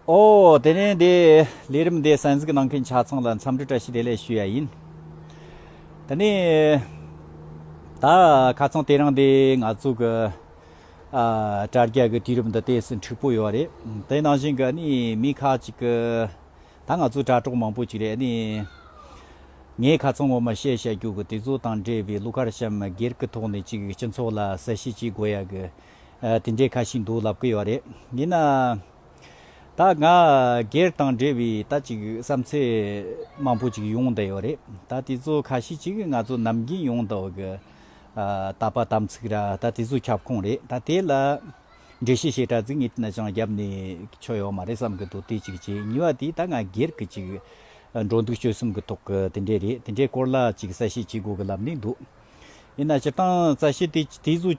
ཨོ། དེ་ནས་དེ་ལས་རིམ་དེ་གསན་གཟིགས་གནང་མཁན་ཆ་ཚང་ལ་འཚམས་འདྲི་བཀྲ་ཤིས་བདེ་ལེགས་ཞུ་ཡ་ཡིན། དེ་ནས་ད་ཁ་ཚང་དེ་རིང་དེ་ང་ཚོ་གི་དྲ་རྒྱ་གི་དུས་རིམ་འདི་དེ་སུ་འཁྲིག་པོ་ཡོད་རེད། དེ་ནང་བཞིན་གི་ནི་མི་ཁ་ཅིག་གི་ད་ང་ཚོ་དྲ་གྲོགས་མང་པོ་ཅིག་རེད་ནི། ངས་ཁ་ཚང་ངོ་མ་བཤད་བཤད་རྒྱུ་གི་དེ་ཚོ་དང་འབྲེལ་བའི་གླུ་གར་གཤམ་སྒེར་གི་ཐོག་ནས་ཅིག་སྤྱི་ཚོགས་ལ་གསལ་བཤད་ཅིག་དགོས་ཡ་གི། དེ་འདྲའི་ཁ་ཞིག་འདུག་ལབ་ཀི་ཡོད་རེད། ཡིན་ནའང། ད་ང་སྒེར་དང་འབྲེལ་བའི་ད་ཅིག་བསམ་ཚུལ་མང་པོ་ཅིག་ཡོང་བསྡད་ཡོད་རེད། ད་དེ་ཚོ་ཁ་ཤས་ཅིག་ང་ཚོ་ནམ་རྒྱུན་ཡོང་འདོད་ཀི། ད་པ་དམ་ཚིག་ར་ད་དེ་ཚོ་ཁྱབ་ཁོངས་རེད། ད་དེ་ལ་འགྲེལ་བཤད་བྱེད་གྲ་ཟིག་ངེད་ནས་ཀྱང་བརྒྱབ་ནས་ཆོ་ཡོད་མ་རེད་བསམ་གི་འདུག་དེ་ཅིག་བྱས། གཉིས་པ་དེ་ད་ང་སྒེར་གི་ཅིག་འགྲོ་འདུག་སྤྱོད་གསུམ་གི་ཐོག་གི་དེ་འདྲས་རེད་དེ་འདྲའི་སྐོར་ལ་ཅིག་གསལ་བཤད་བྱེད་དགོས་གི་ལབ་ནས་འདུག་ཡིན་ན་སྤྱིར་བཏང་གསལ་བཤད་དེ་དེ་ཚོ།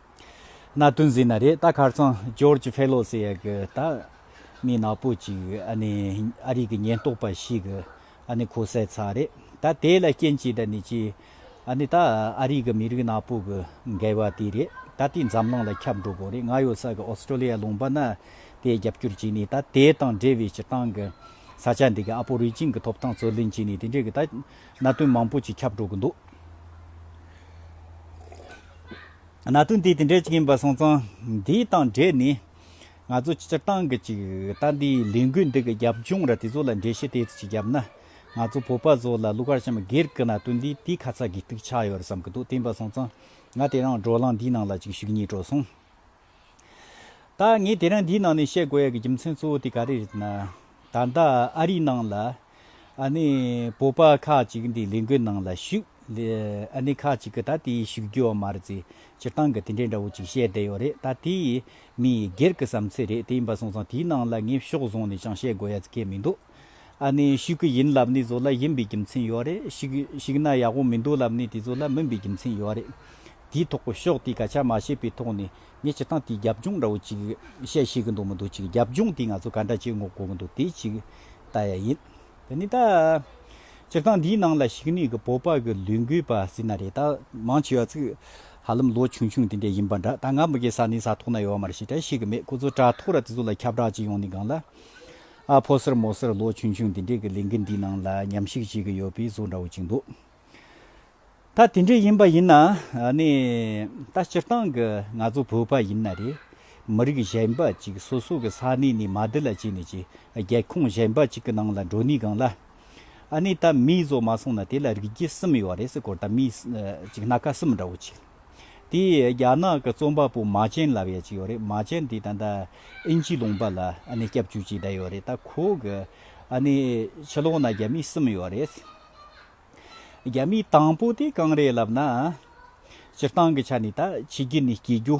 གནའ་དོན་གཟིགས་ན་རེད་ད་ཁར་སང George Fellows ཡ་གི་ད་མི་ནག་པོ་ཅིག་ཨ་ནི་ཨ་རིག་གི་ཉེན་རྟོག་པ་ཞིག་གི་ཨ་ནི་ཁོ་བསད་ཚར་རེད་ད་དེ་ལ་རྐྱེན་གྱིས་ད་ནི་ཅི་ཨ་ནི་ད་ཨ་རིག་གི་མི་རིགས་ནག་པོ་གི་འགལ་བ་དེ་རེད་ད་དེ་འཛམ་གླིང་ལ་ཁྱབ་འགྲོ་དགོས་རེད་ང་ཡོད་ས་གི Australia ལུང་པ་ན་དེ་རྒྱབ་སྐྱོར་བྱས་ནས་ད་དེ་དང་འབྲེལ་བའི་སྤྱི་བཏང་གི་ས་ཆ་འདི་གི་ཨ་པོ་རི་ཅིང་གི་ཐོབ་ཐང་རྩོད་ལེན་བྱས་ནས་དེ་འདྲས་གི་ད། གནད་དོན་མང་པོ་ཞིག་ཁྱབ་འགྲོ་གི་འདུག་གནད་དོན་དེ་དེ་འདྲ་ཅིག་ཡིན་པ་སོང་ཙང་དེའི་དང་འབྲེལ་ནས་ང་ཚོ་སྤྱིར་བཏང་གི་ཅིག་ལྟ་འདིའི་ལས་འགུལ་འདི་གི་རྒྱབ་ལྗོངས་ར་དེ་ཚོ་ལ་འགྲེལ་བཤད་དེ་ཙི་ཅིག་བརྒྱབ་ན་ང་ཚོ་བོད་པ་ཚོ་ལ་ཀླུ་མཁར་བྱམས་སྒེར་གི་གནད་དོན་འདིས་དེའི་ཁ་ཚ་དགོས་གཏུགས་ཆགས་ཡོད་རེད་བསམ་གི་འདུག་བསྟན་པ་སོང་ཙང་ང་དེ་རིང་བགྲོ་གླང་འདིའི་ནང་ལ་ཅིག་ཞུགས་ཉེས་འགྲོ་སོང། ད་ངས་དེ་རིང་འདིའི་ནང་ནས་བཤད་དགོས་ཡག་གི་རྒྱུ་མཚན་གཙོ་བོ་དེ་ག་རེ་རེད་ན། ད་ལྟ་ཨ་རིའི་ནང་ལ། ཨ་ནི་བོད་པ་ཁག་ཅིག་འདི་ལས་འགུལ་ནང་ལ་ཞུགས། ཨ་ནི་ཁག་ཅིག་གིས་ད་དེ་ཞུགས་རྒྱུ་བ་མ་རེད་ཚེ་སྤྱིར་བཏང་གི་དེ་འདྲའི་འདྲ་བོ་ཅིག་བཤད་བསྡད་ཡོད་རེད་ད་དེ། མི་ཡི་སྒེར་གི་བསམ་ཚུལ་རེད་དེ་ཡིན་པ་སོང་ཙང་དེའི་ནང་ལ་ངས་ཕྱོགས་བཟུང་ནས་ཅང་བཤད་དགོས་ཡག་ཚེ་ཁས་མི་འདུག། ཨ་ནི་ཤིག་གི་ཡིན་ལབ་ནི་བཟོ་ལ་ཡིན་པའི་རྒྱུ་མཚན་ཡོད་རེད་ཤིག་ཤིག་ན་ཡག་པོ་མི་འདུག་ལབ་ནི་དེ་བཟོ་ལ་མིན་པའི་རྒྱུ་མཚན་ཡོད་རེད། དེའི་ཐོག་གི་ཤོག་དེའི་སྐད་ཆ་མ་བཤད་པའི་ཐོག་ནས་ངས་ཅི་ཐང་དེའི་རྒྱབ་ལྗོངས་འདྲ་བོ་ཅིག་བཤད་ཤེས་གི་འདུག་མི་འདུག་ཅིག་རྒྱབ་ལྗོངས་དེ་ང་ཚོ་ག་འདྲ་ཅིག་ངོ་གོ་གི་འདུག་དེ་ཅིག་ལྟ་ཡ་ཡིན། དེ་ནི་ད་སྤྱིར་བཏང་འདིའི་ནང་ལ་ཤིག་ནི་གི་བོད་པ་གི་ལུས་འགུལ་པ་སྲིད་ན་རེད་ད་མང་ཆེ་བ་ཚིག་ཧ་ལམ་ལོ་ཆུང་ཆུང་དེ་འདྲ་ཡིན་པ་འདྲ་ད་ང་མི་གི་ས་ནི་ས་ཐོག་ན་ཡོད་མ་རེད་ཤིག་བྲ་ཤིག་གི་མེད་ཁོ་ཚོ་བྲ་ཐོག་ར་དེ་ཚོ་ལ་ཁྱབ་བསྒྲགས་ཅིག་ཡོང་ནི་གང་ལ། ཨ་ཕོ་སེར་མོ་སེར་ལོ་ཆུང་ཆུང་འདི་འདྲས་ཀྱི་ལས་འགུལ་འདིའི་ནང་ལ་ཉམས་ཞིབ་བྱེད་ཀྱི་ཡོད་པའི་གཟུགས་འདྲ་བོ་གཅིག་འདུག་ད་དེ་འདྲས་ཡིན་པ་ཡིན་ན་ནི། ད་སྤྱིར་བཏང་གི་ང་ཚོ་བོད་པ་ཡིན་ན་རེད། མི་རིགས་གཞན་པ་གཅིག་སོ་སོ་གི་ས་གནས་ནས་མ་དེ་ལ་བྱས་ནས་ཀྱི་རྒྱལ་ཁོངས་གཞན་པ་གཅིག་གི་ནང་ལ་འགྲོ་ནས་སྒང་ལ། ནི་ད་མིའི་བཟོ་མ་སོང་ན་དེ་ལ་རིགས་རྒྱུད་གསུམ་ཡོད་རེད་སེ་གོ་ད་མིའི་གཅིག་སྣ་ཁ་གསུམ་འདྲ་བོ་གཅིག། དེ་ཡིས་རྒྱ་ནག་གི་རྩོམ་པ་པོ་མཱ་ཅན་ལ་བས་ཅི་ཡོད་རེད་མཱ་ཅན་དེ་ད་ལྟ་ཨིན་ཇིའི་ལུང་པ་ལ་སྐྱབས་བཅོལ་གྱིས་བསྡད་ཡོད་རེད་ད་ཁོ་གི་ཕྱི་ལོག་ན་རྒྱ་མི་གསུམ་ཡོད་རེད་རྒྱ་མི་དང་པོ་དེ་གང་རེད་ལབ་ན་སྤྱིར་བཏང་གི་ཆ་ནས་ད་ཕྱི་རྒྱལ་ནས་སྐྱེས་རྒྱུ་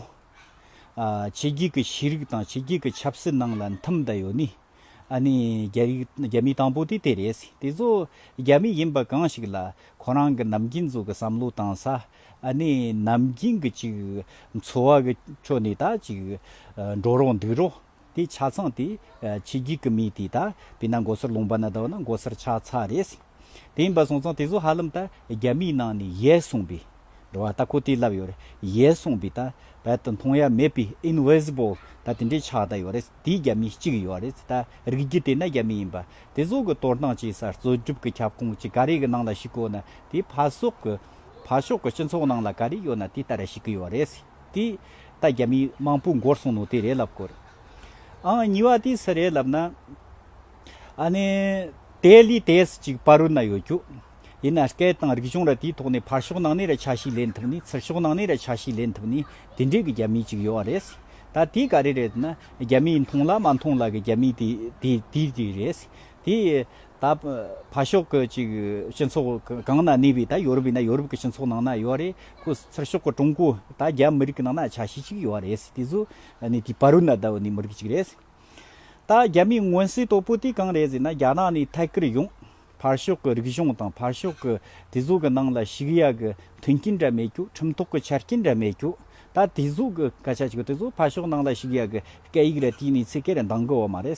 ཕྱི་རྒྱལ་གྱི་ཤེས་རིག་དང་ཕྱི་རྒྱལ་གྱི་ཆབ་སྲིད་ནང་ལ་འཐིམ་བསྡད་ཡོད་ནི་རྒྱ་མི་དང་པོ་དེ་དེ་རེད་དེ་ཚོ་རྒྱ་མི་ཡིན་པ་གང་ཞིག་ལ་ཁོ་རང་གི་ནམ་རྒྱུན་ཚོ་གི་བསམ་བློ་དང་ས་ཨ་ནི་ནམ་རྒྱུན་གྱི་ཅིག་འཚོ་བ་གི་ཁྲོད་ནས་ད་ཅིག་འགྲོ་རོགས་འདུག་རོགས་དེ་ཆ་ཚང་དེ་ཕྱི་རྒྱུད་ཀྱི་མི་དེ་ད་དེ་ན་མགོ་སར་ལུང་པ་ན་ད་བ་ན་མགོ་སར་ཆགས་ཚར་རེད། དེ་ཡིན་པ་སོང་ཙང་དེ་ཚོ་ཧ་ལམ་ད་རྒྱ་མིའི་ནང་ནས་ཡལ་སོང་པས་འགྲོ་བ་ད་ཁོ་དེ་ལབ་ཡོད་རེད་ཡལ་སོང་པས་ད་བལ་དུ་མཐོང་ཡ་མེད་པའི invisible ད་དེ་འདྲས་ཆགས་ད་ཡོད་རེད་དེ་རྒྱ་མི་གཅིག་ཡོད་རེད་ད་རིགས་རྒྱུད་དེ་ན་རྒྱ་མི་ཡིན་པ་དེ་ཚོ་གི་གཏོར་སྟངས་བྱས་ས་རྩོད་སྒྲུབ་ཀྱི་ཁྱབ་ཁོངས་ཀྱི་ག་རེ་གི་ནང་ལ་ཞིག་བཀོད་ན་དེ་ཕ་སོག་གི། བྷ་ཤོག་གི་སྤྱི་ཚོགས་ནང་ལ་ག་རེ་ཡོད་ན་དེ་ལྟར་བྱེད་ཀྱི་ཡོད་རེད། དེ་ད་རྒྱ་མིའི་དམངས་པོའི་མགོར་སོང་ནོ་དེ་རེད་ལབ་དགོས་རེད། ཨང་གཉིས་པ་དེ་སུ་རེད་ལབ་ན། ཨ་ནི། དེ་ལས་དེས་ཅིག་བྷ་རུ་ན་ཡོད་རྒྱུ། ཡིན་ན་སྐད་དང་རིག་གཞུང་ར་དེའི་ཐོག་ནས་བྷ་ཤོག་ནང་ནས་ར་ཆ་ཤས་ལེན་ཐུབ་ནས་ཚུར་ཤོག་ནང་ནས་ར་ཆ་ཤས་ལེན་ཐུབ་ནས་དེ་འདྲའི་གི་རྒྱ་མི་ཅིག་ཡོད་རེད། ད་དེ་ག་རེ་རེད་ན་རྒྱ་མིས་མཐོང་ལ་མ་མཐོང་ལ་གི་རྒྱ་མི་དེ་དེ་དེ་རེད། དེ། ད་ཕར་ཤོག་གི་ཅིག་སྤྱི་ཚོགས་གང་ན་གནས་པའི་ད་ཡོ་རུབ་ཡིན་ན་ཡོ་རུབ་གི་སྤྱི་ཚོགས་ནང་ན་ཡོད་རེད་ཁུ་ཚུར་ཤོག་གི་ཀྲུང་གོ་ད་རྒྱ་མི་རིགས་ནང་ན་ཆ་ཤས་ཅིག་ཡོད་རེད་དེ་ཚོ་ནི་དེ་ཕ་རུ་ན་ད་འོ་ནི་མི་རིགས་ཅིག་རེད། ད་རྒྱ་མིའི་མངོན་གསལ་དོད་པོ་དེ་གང་རེད་ཟེར་ན་རྒྱ་ནག་ནས་ཐད་ཀར་ཡོང་ཕར་ཤོག་གི་རིག་གཞུང་དང་ཕར་ཤོག་གི་དེ་ཚོ་གི་ནང་ལ་ཞུགས་ཡག་གི་མཐུན་རྐྱེན་འདྲ་མེད་རྒྱུ་ཁྲིམས་ཐོག་གི་ཆ་རྐྱེན་འདྲ་མེད་རྒྱུ་ད་དེ་ཚོ་གི་སྐད་ཆ་ཅིག་དེ་ཚོ་ཕར་ཤོག་ནང་ལ་ཞུགས་ཡག་གི་སྐད་ཡིག་ལ་བལྟས་ནས་ཚིག་སྐད་འདང་གི་འོ་མ་རེད།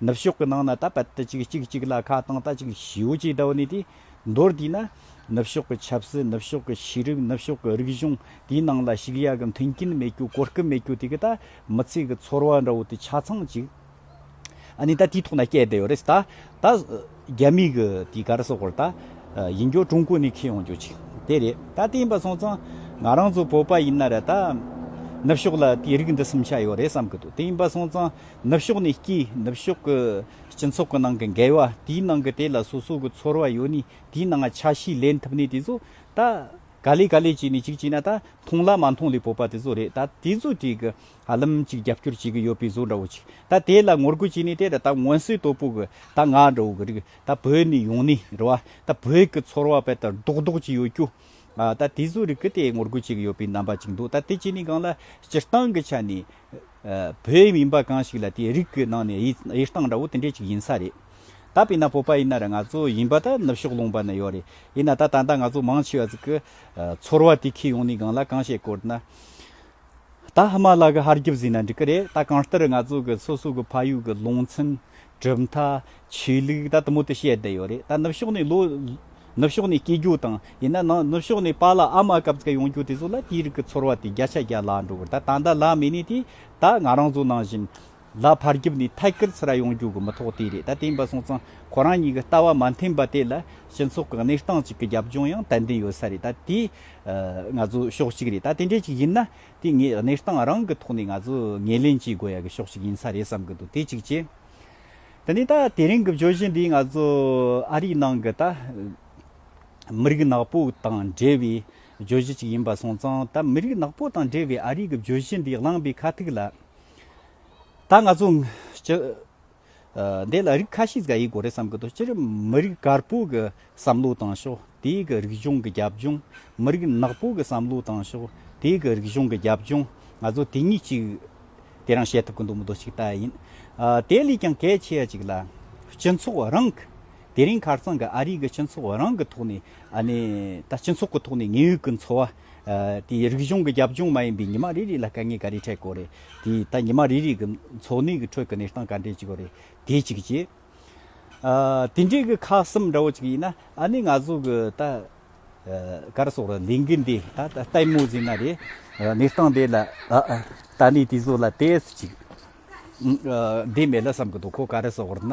ནུབ་ཕྱོགས་ཀྱི་ནང་ན་ད་ཕད་དུ་ཅིག་གཅིག་གཅིག་ལ་ཁ་བཏང་ད་ཅིག་ཞིའོ་ཅིག་ད་བོ་ནི་དེ་མདོར་དེད་ན། ནུབ་ཕྱོགས་ཀྱི་ཆབ་སྲིད་ནུབ་ཕྱོགས་ཀྱི་ཤེས་རིག་ནུབ་ཕྱོགས་ཀྱི་རིག་གཞུང་དེའི་ནང་ལ་ཞུགས་ཡག་གི་མཐུན་རྐྱེན་མེད་རྒྱུ་གོ་སྐབས་མེད་རྒྱུ་དེ་གི་ད་མི་ཚེ་གི་ཚོར་བ་འདྲ་བོ་དེ་ཆ་ཚང་ཅིག་ཨ་ནི་ད་དེའི་ཐོག་ན་སྐྱེས་བསྡད་ཡོད་རེད་ད། རྒྱ་མིག་གི་དེའི་གར་སོགས་བར་ད་ཡིན་རྒྱུ་ཀྲུང་གོ་ནས་ཁེ་ཡོང་རྒྱུ་ཅིག་དེ་རེད་ད་དེ་ཡིན་པ་སོང་ཙང་ང་རང་ཚོ་བོད་པ་ཡིན་ན་རེད་ད་ནུབ་ཕྱོགས་ལ་དེའི་རིགས་འདི་གསུམ་ཆ་ཡོད་རེད་བསམ་གི་འདུག་དེ་ཡིན་པ་སོང་ཙང་ནུབ་ཕྱོགས་ནས་སྐྱིད་ནུབ་ཕྱོགས་ཀྱི་སྤྱི་ཚོགས་ཀྱི་ནང་གི་འགལ་བ་དེའི་ནང་གི་དེ་ལ་སོ་སོ་གི་ཚོར་བ་ཡོད་ནི་དེའི་ནང་ཆ་ཤས་ལེན་ཐུབ་ནི་དེ་ཚོ་ད་ག་ལེ་ག་ལེ་བྱས་ནི་གཅིག་བྱས་ན་ད་མཐོང་ལ་མ་མཐོང་ལས་བོད་པ་དེ་ཚོ་རེད་ད་དེ་ཚོ་དེ་གི། ཧ་ལམ་ཅིག་རྒྱབ་སྐྱོར་བྱེད་གི་ཡོད་པའི་བཟོ་འདྲ་བོ་ཅིག་ད་དེ་ལ་ངོ་རྒོལ་བྱས་ནས་དེ་ལ་ད་ངོ་སྲིད་དོ་པོ་གི་ད་ང་འདྲ་བོ་གི་རིགས་ད་བོད་ནས་ཡོང་ནས་འགྲོ་བ་ད་བོད་ཀྱི་ཚོར་བ་བེད་ད་རྡོག་རྡོག་ཅིག་ཡོད་རྒྱུ་ད་དེ་ཚོའི་རིགས་གི་དེ་ངོ་རྒོལ་བྱེད་གི་ཡོད་པའི་རྣམ་པ་ཅིག་འདུག་ད་དེ་བྱས་ནས་གང་ལ་སྤྱིར་བཏང་གི་ཆ་ནས་བོད་མིན་པ་གང་ཞིག་ལ་དེ་རིགས་གི་ནང་ནས་དབྱེ་སྟངས་འདྲ་བོ་དེ་འདྲས་ཅིག་ཡིན་ས་རེད་ད་བེད་ན་བོད་པ་ཡིན་ན་ར་ང་ཚོ་ཡིན་པ་ད་ནུབ་ཕྱོགས་ལུང་པ་ན་ཡོད་རེད་ཡིན་ན་ད་ད་ལྟ་ང་ཚོ་མང་ཆེ་བ་ཟིག་གི་ཚོར་བ་དེ་ཁས་ཡོང་ནས་གང་ལ་གང་བྱེད་དཀོར་ན། ད་ཧི་མ་ལ་གི་ཧར་རྒྱུ་བཟོས་ན་འགྲིག་གི་རེད་ད་གང་ལྟར་ང་ཚོ་གི་སོ་སོ་གི་ཕ་ཡུལ་གི་རླུང་ཚན། གྲུབ་མཐའ། ཆོས་ལུགས་ད་དུ་མུ་མཐུད་བཤད་བསྡད་ཡོད་རེད་ད་ནུབ་ཕྱོགས་ནས་ལོ། ནུབ་ཕྱོགས་ནས་སྐྱེ་རྒྱུ་དང་ཡིན་ན་ནང་ནུབ་ཕྱོགས་ནས་པཱ་ལ་ཨ་མ་གབ་ཙཀ་ཡོང་རྒྱུ་དེ་ཚོ་ལ་དེའི་རིགས་ཀི་ཚོར་བ་དེ་བརྒྱ་ཆ་བརྒྱ་ལ་འགྲོ་གི་རེད་ད་ད་ལྟ་ལ་མེ་ནི་དེ་ད་ང་རང་ཚོ་ནང་བཞིན། ལ་ཕར་རྒྱུབ་ནས་ཐད་ཀར་ཚུར་ཡོང་རྒྱུ་གི་མི་ཐོག་དེ་རེད་ད་དེ་འབའ་སོང་ཙང་ཁོ་རང་གཉིས་ཀྱི་ལྟ་བ་མ་མཐུན་པ་དེ་ལ་སྤྱི་ཚོགས་ཀྱི་གནས་སྟངས་གཅིག་གི་རྒྱབ་ལྗོངས་ཡང་ཏན་ཏན་ཡོད་ས་རེད་ད་དེ་ང་ཚོའི་ཕྱོགས་གཅིག་རེད་ད་དེ་འདྲས་ཅིག་ཡིན་ན་དེ་ངའི་གནས་སྟངས་རང་གི་ཐོག་ནས་ང་ཚོ་ངེས་ལེན་བྱེད་དགོས་ཡ་གི་ཕྱོགས་གཅིག་ཡིན་ས་རེད་བསམ་གི་འདུག་དེ་གཅིག་བྱས། དེ་ནས་ད་དེ་རིང་གི་བརྗོད་གཞི་འདི་ང་ཚོ་ཨ་རིའི་ནང་གི་ད་མི་རིགས་ནག་པོ་དང་འབྲེལ་བའི་བརྗོད་གཞི་གཅིག་ཡིན་འབའ་སོང་ཙང་ད་མི་རིགས་ནག་པོ་དང་འབྲེལ་བའི་ཨ་རིའི་གི་བརྗོད་གཞི་འདི་བླངས་པའི་ཁ་ཐུག་ལ། ད་ང་ཚོ། འདི་ལ་རིགས་ཁ་ཤས་ཀྱི་གོ་རེ་བསམ་གྱི་འདུག་སྤྱིར་མི་རིགས་དཀར་པོ་གྱི་བསམ་བློ་བཏང་ཤོག་དེའི་གི་རིག་གཞུང་གི་རྒྱབ་ལྗོངས། མི་རིགས་ནག་པོ་གྱི་བསམ་བློ་བཏང་ཤོག་དེའི་གི་རིག་གཞུང་གི་རྒྱབ་ལྗོངས། ང་ཚོ་དེ་གཉིས་གཅིག། དེ་རང་བཤད་ཐུབ་ཀྱི་འདུག་མི་འདུག་གཅིག་ལྟ་ཡིན། དེ་ལས་ཀྱང་གལ་ཆེ་བ་ཅིག་ལ། སྤྱི་ཚོགས་རང་གི། དེ་རིང་ཁར་ཚང་གི་ཨ་རིའི་གི་སྤྱི་ཚོགས་རང་གི་ཐོག་ནས་ཨ་ནི། ད་སྤྱི་ཚོགས་ཀྱི་ཐོག་ནས་ངེད་ཡོད་ཀྱི་འཚོ་བ། དེའི་རིག་གཞུང་གི་རྒྱབ་ལྗོངས་མ་ཡིན་པའི་ཉི་མ་རེ་རེ་ལ་དཀའ་ངལ་ག་རེ་འཕྲད་དགོས་རེད། དེས་ད་ཉི་མ་རེ་རེ་གི་འཚོ་གནས་ཀྱི་ཁྲོད་ཀྱི་གནས་སྟངས་ག་འདྲས་ཅིག་ཡོད་རེད་དེ་གཅིག་གྱིས། དེ་འདྲའི་གི་ཁག་གསུམ་འདྲ་བོ་ཅིག་ཡིན་ན་ཨ་ནི་ང་ཚོ་གི་ད་གར་སོགས་ལ་ལས་འགུལ་འདི་ད་ལྟ་མོ་བཟོས་ན་རེད། གནས་སྟངས་འདི་ལ་ད་ནི་དེ་ཚོ་ལ་དེ་ཚོ་ཅིག་འདི་མེད་ལ་བསམ་གི་འདུག་གོ་ག་རེ་སོགས་ན།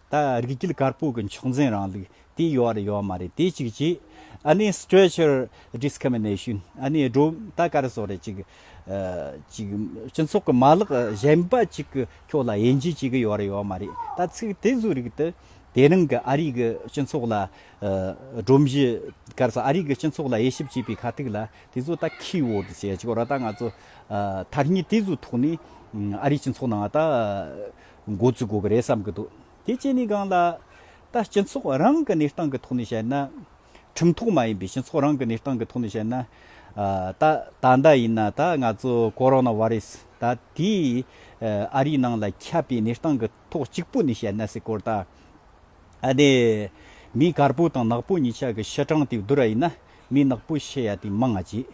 ད་རིགས་རྒྱུད་དཀར་པོ་གི་མཆོག་འཛིན་རང་ལུགས་དེ་ཡོད་རེད་ཡོད་མ་རེད་དེ་གཅིག་གཅིག་ཨ་ནི Strature Discrimination ཨ་ནི་སྒྲོམ་ད་དཀར་བཟོ་རེད་གཅིག་གཅིག་སྤྱི་ཚོགས་ཀྱི་མ་ལག་གཞན་པ་གཅིག་གི་ཁྱོད་ལ་དབྱེ་འབྱེད་བྱེད་གི་ཡོད་རེད་ཡོད་མ་རེད་ད་ཚིག་དེ་བཟོ་རིགས་དེ་དེ་རིང་གི་ཨ་རིའི་གི་སྤྱི་ཚོགས་ལ་སྒྲོམ་གཞི་དཀར་བཟོ་ཨ་རིའི་གི་སྤྱི་ཚོགས་ལ་དབྱེ་ཞིབ་བྱེད་པའི་ཁ་ཐུག་ལ་དེ་བཟོ་ད་ཁི་བོར་དུ་བྱེད་ཅིག་རོ་ད་ང་ཚོ་ཐ་སྙད་དེ་བཟོ་ཐོག་ནས་ཨ་རིའི་སྤྱི་ཚོགས་ནང་ད། འགོ་འཛུགས་དགོས་ཀྱི་རེད་བསམ་གྱི་འདུག་དེ་བཅས་ནི་གང་ལ། ད་སྤྱི་ཚོགས་རང་གི་གནས་སྟངས་ཀྱི་ཐོག་ནས་བཤད་ན། ཁྲིམས་ཐོག་མ་ཡིན་པའི་སྤྱི་ཚོགས་རང་གི་གནས་སྟངས་ཀྱི་ཐོག་ནས་བཤད་ན། ད་ད་ལྟ་ཡིན་ན་ད་ང་ཚོ་ཀོ་རོ་ནཱ་བྷ་རི་སི་ད་དེ་ཨ་རིའི་ནང་ལ་ཁྱབ་པའི་གནས་སྟངས་ཀྱི་ཐོག་གཅིག་པུ་ནས་བཤད་ན་སྲིད་སྐོར་ད་ནི་མིའི་དཀར་པོ་དང་ནག་པོ་གཉིས་ཆ་གི་ཕྱི་གྲངས་དེ་བསྡུར་བ་ཡིན་ན་མིའི་ནག་པོའི་ཕྱི་ཡ་དེ་མང་ང་ཅི།